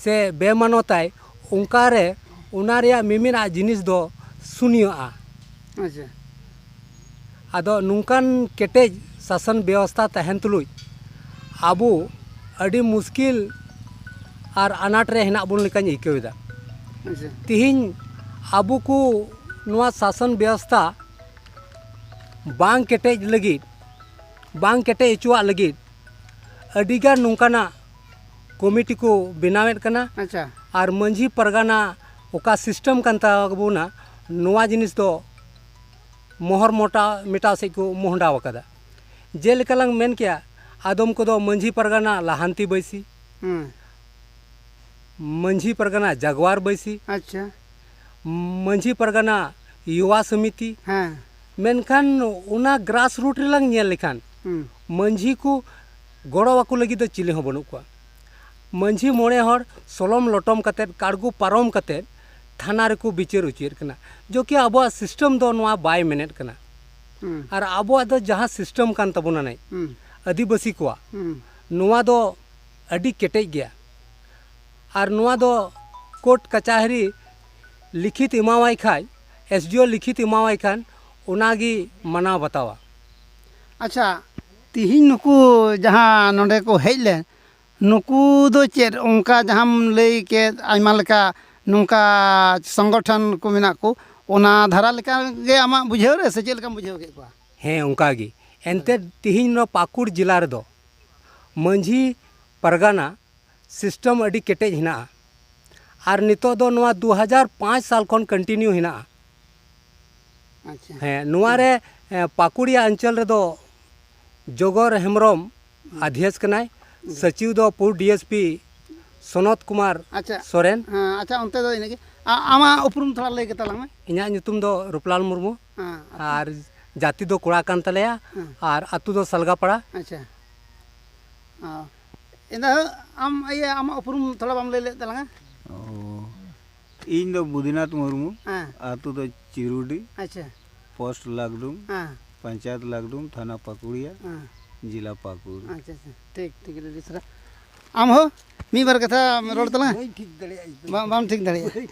[SPEAKER 6] ᱥᱮ ᱵᱮᱢᱟᱱᱚᱛᱟᱭ ᱚᱱᱠᱟ ᱨᱮ ᱚᱱᱟ ᱨᱮᱭᱟᱜ ᱢᱤᱢᱤᱫᱟᱜ ᱡᱤᱱᱤᱥ ᱫᱚ ᱥᱩᱱᱭᱚᱜᱼᱟ
[SPEAKER 1] ᱟᱪᱪᱷᱟ
[SPEAKER 6] ᱟᱫᱚ ᱱᱚᱝᱠᱟᱱ ᱠᱮᱴᱮᱡ ᱥᱟᱥᱚᱱ ᱵᱮᱵᱚᱥᱛᱟ ᱛᱟᱦᱮᱱ ᱛᱩᱞᱩᱡ ᱟᱵᱚ ᱟᱹᱰᱤ ᱢᱩᱥᱠᱤᱞ ᱟᱨ
[SPEAKER 8] ᱟᱱᱟᱴ ᱨᱮ ᱦᱮᱱᱟᱜ ᱵᱚᱱ ᱞᱮᱠᱟᱧ ᱟᱹᱭᱠᱟᱹᱣ ᱮᱫᱟ ᱟᱪᱪᱷᱟ
[SPEAKER 1] ᱛᱮᱦᱮᱧ
[SPEAKER 8] ᱟᱵᱚ ᱠᱚ ᱱᱚᱣᱟ ᱥᱟᱥᱚᱱ ᱵᱮᱵᱚᱥᱛᱟ ᱵᱟᱝ ᱠᱮᱴᱮᱡ ᱞᱟᱹᱜᱤᱫ ᱵᱟᱝ ᱠᱮᱴᱮᱡ ᱦᱚᱪᱚᱣᱟᱜ ᱞᱟᱹᱜᱤᱫ ᱟᱹᱰᱤᱜᱟᱱ ᱱᱚᱝᱠᱟᱱᱟᱜ ᱠᱚᱢᱤᱴᱤ ᱠᱚ ᱵᱮᱱᱟᱣᱮᱫ ᱠᱟᱱᱟ ᱟᱪᱪᱷᱟ ᱟᱨ
[SPEAKER 1] ᱢᱟᱺᱡᱷᱤ
[SPEAKER 8] ᱯᱟᱨᱜᱟᱱᱟ ᱚᱠᱟ ᱥᱤᱥᱴᱮᱢ ᱠᱟᱱ ᱛᱟᱵᱚᱱᱟ ᱱᱚᱣᱟ ᱡᱤᱱᱤᱥ ᱫᱚ ᱢᱚᱦᱚᱨ ᱢᱚᱴᱟᱣ ᱢᱮᱴᱟᱣ ᱥᱮᱫ ᱠᱚ ᱢᱚᱦᱰᱟᱣ ᱟᱠᱟᱫᱟ ᱡᱮᱞᱮᱠᱟ ᱞᱟᱝ ᱢᱮᱱ ᱠᱮᱭᱟ ᱟᱫᱚᱢ ᱠᱚᱫᱚ ᱢᱟᱺᱡᱷᱤ ᱯᱟᱨᱜᱟᱱᱟ ᱞᱟᱦᱟᱱᱛᱤ ᱵᱟᱹᱭᱥᱤ ᱢᱟᱺᱡᱷᱤ ᱯᱟᱨᱜᱟᱱᱟ ᱡᱟᱜᱽᱣᱟᱨ ᱵᱟᱹᱭᱥᱤ ᱟᱪᱪᱷᱟ ᱢᱟᱺᱡᱷᱤ ᱯᱟᱨᱜᱟᱱᱟ ᱭᱩᱣᱟ ᱥᱚᱢᱤᱛᱤ ᱦᱮᱸ
[SPEAKER 1] ᱢᱮᱱᱠᱷᱟᱱ
[SPEAKER 8] ᱚᱱᱟ ᱜᱨᱟᱥ ᱨᱩᱴ ᱨᱮᱞᱟᱝ ᱧᱮᱞ ᱞᱮᱠᱷᱟᱱ ᱢᱟᱺᱡᱷᱤ ᱠᱚ ᱜᱚᱲᱚ ᱟᱠᱚ ᱞᱟᱹᱜᱤᱫ ᱫᱚ ᱪᱤᱞᱤ ᱦᱚᱸ ᱵᱟᱹᱱᱩᱜ ᱠᱚᱣᱟ ᱢᱟᱹᱡᱷᱤ ᱢᱚᱬᱮ ᱦᱚᱲ ᱥᱚᱞᱚᱢ ᱞᱚᱴᱚᱢ ᱠᱟᱛᱮ ᱠᱟᱲᱜᱚ ᱯᱟᱨᱚᱢ ᱠᱟᱛᱮ ᱛᱷᱟᱱᱟ ᱨᱮᱠᱚ ᱵᱤᱪᱟᱹᱨ ᱚᱪᱚᱭᱮᱫ ᱠᱟᱱᱟ ᱡᱚᱠᱤ ᱟᱵᱚᱣᱟᱜ ᱥᱤᱥᱴᱮᱢ ᱫᱚ ᱱᱚᱣᱟ ᱵᱟᱭ ᱢᱮᱱᱮᱫ ᱠᱟᱱᱟ ᱟᱨ ᱟᱵᱚᱣᱟᱜ ᱫᱚ ᱡᱟᱦᱟᱸ ᱥᱤᱥᱴᱮᱢ ᱠᱟᱱ ᱛᱟᱵᱚᱱᱟ ᱱᱮᱡ ᱟᱹᱫᱤᱵᱟᱹᱥᱤ ᱠᱚᱣᱟᱜ ᱱᱚᱣᱟ ᱫᱚ ᱟᱹᱰᱤ ᱠᱮᱴᱮᱡ ᱜᱮᱭᱟ ᱟᱨ ᱱᱚᱣᱟ ᱫᱚ ᱠᱳᱨᱴ ᱠᱟᱪᱟᱦᱟᱨᱤ ᱞᱤᱠᱷᱤᱛ ᱮᱢᱟᱣᱟᱭ ᱠᱷᱟᱡ ᱮᱥ ᱰᱤ ᱳ ᱞᱤᱠᱷᱤᱛ ᱮᱢᱟᱣᱟᱭ ᱠᱷᱟᱱ ᱚᱱᱟᱜᱮ ᱢᱟᱱᱟᱣ ᱵᱟᱛᱟᱣᱟ ᱟᱪᱪᱷᱟ
[SPEAKER 1] ᱛᱤᱦᱤᱧ ᱱᱩᱠᱩ ᱡᱟᱦᱟᱸ ᱱᱚᱰᱮ ᱠᱚ ᱦᱮᱡ ᱞᱮᱱ ᱱᱩᱠᱩ ᱫᱚ ᱪᱮᱫ ᱚᱱᱠᱟ ᱡᱟᱦᱟᱸᱢ ᱞᱟᱹᱭ ᱠᱮᱫ ᱟᱭᱢᱟ ᱞᱮᱠᱟ ᱱᱚᱝᱠᱟ ᱥᱚᱝᱜᱚᱴᱷᱚᱱ ᱠᱚ ᱢᱮᱱᱟᱜ ᱠᱚ ᱚᱱᱟ ᱫᱷᱟᱨᱟ ᱞᱮᱠᱟ ᱜᱮ ᱟᱢᱟᱜ ᱵᱩᱡᱷᱟᱹᱣ ᱨᱮ ᱥᱮ ᱪᱮᱫ ᱞᱮᱠᱟᱢ ᱵᱩᱡᱷᱟᱹᱣ ᱠᱮᱫ ᱠᱚᱣᱟ ᱦᱮᱸ ᱚᱱᱠᱟ ᱜᱮ
[SPEAKER 8] ᱮᱱᱛᱮᱫ ᱛᱤᱦᱤᱧ ᱱᱚᱣᱟ ᱯᱟᱹᱠᱩᱲ ᱡᱮᱞᱟ ᱨᱮᱫᱚ ᱢᱟᱹᱡᱷᱤ ᱯᱟᱨᱜᱟᱱᱟ ᱥᱤᱥᱴᱚᱢ ᱟᱹᱰᱤ ᱠᱮᱴᱮᱡ ᱦᱮᱱᱟᱜᱼᱟ ᱟᱨ ᱱᱤᱛᱚᱜ ᱫᱚ ᱱᱚᱣᱟ ᱫᱩ ᱦᱟᱡᱟᱨ ᱯᱟᱸᱪ ᱥᱟᱞ ᱠᱷᱚᱱ ᱠᱚᱱᱴᱤᱱᱤᱭᱩ ᱦᱮᱱᱟᱜᱼᱟ
[SPEAKER 1] ᱦᱮᱸ ᱱᱚᱣᱟ
[SPEAKER 8] ᱨᱮ ᱯᱟᱠᱩᱲᱤᱭᱟ ᱚᱧᱪᱚᱞ ᱨᱮᱫᱚ ᱡᱚᱜᱚᱨ ᱦᱮᱢᱵᱨᱚᱢ ᱟᱫᱷᱭᱮᱥ ᱠᱟᱱᱟᱭ ᱥᱚᱪᱤᱣ ᱫᱚ ᱯᱩᱨ D S P Sanat Kumar Soren
[SPEAKER 1] ᱟᱪᱪᱷᱟ
[SPEAKER 8] ᱚᱱᱛᱮ ᱫᱚ
[SPEAKER 1] ᱤᱱᱟᱹᱜᱮ ᱟᱢᱟᱜ ᱩᱯᱨᱩᱢ ᱛᱷᱚᱲᱟ ᱞᱟᱹᱭ ᱠᱟᱛᱟ ᱞᱟᱝ ᱢᱮ ᱤᱧᱟᱹᱜ ᱧᱩᱛᱩᱢ ᱫᱚ
[SPEAKER 8] ᱨᱩᱯᱞᱟᱞ ᱢᱩᱨᱢᱩ ᱟᱨ ᱡᱟᱹᱛᱤ ᱫᱚ ᱠᱚᱲᱟ ᱠᱟᱱ ᱛᱟᱞᱮᱭᱟ ᱟᱨ ᱟᱛᱳ ᱫᱚ ᱥᱟᱞᱜᱟᱯᱟᱲᱟ ᱟᱪᱪᱷᱟ
[SPEAKER 1] ᱤᱱᱟᱹ ᱟᱢ ᱤᱭᱟᱹ ᱟᱢᱟᱜ ᱩᱯᱨᱩᱢ ᱛᱷᱚᱲᱟ ᱵᱟᱢ ᱞᱟᱹᱭ ᱞᱮᱫ ᱛᱟᱞᱟᱝᱟ
[SPEAKER 9] ᱤᱧ ᱫᱚ ᱵᱩᱫᱤᱱᱟᱛᱷ ᱢᱩᱨᱢᱩ ᱟᱛᱳ ᱫᱚ ᱪᱤᱨᱩᱰᱤ ᱟᱪᱪᱷᱟ
[SPEAKER 1] ᱯᱳᱥᱴ ᱞᱟᱠᱰᱩᱢ
[SPEAKER 9] ᱯᱚᱧᱪᱟᱭᱮᱛ
[SPEAKER 1] ᱞᱟᱠᱰᱩᱢ
[SPEAKER 9] ᱛᱷᱟᱱᱟ ᱯᱟᱹᱠᱩᱲᱤᱭᱟ ᱡᱮᱞᱟ
[SPEAKER 1] ᱯᱟᱹᱠᱩᱲ ᱟᱪᱪᱷᱟ ᱟᱪᱪᱷᱟ
[SPEAKER 9] ᱴᱷᱤᱠ
[SPEAKER 1] ᱴᱷᱤᱠ ᱟᱹᱰᱤ ᱥᱟᱨᱦᱟᱣ ᱟᱢ ᱦᱚᱸ ᱢᱤᱫ ᱵᱟᱨ ᱠᱟᱛᱷᱟ ᱨᱚᱲ ᱛᱟᱞᱟᱝ ᱢᱮ
[SPEAKER 5] ᱵᱟᱢ ᱴᱷᱤᱠ ᱫᱟᱲᱮᱭᱟᱜᱼᱟ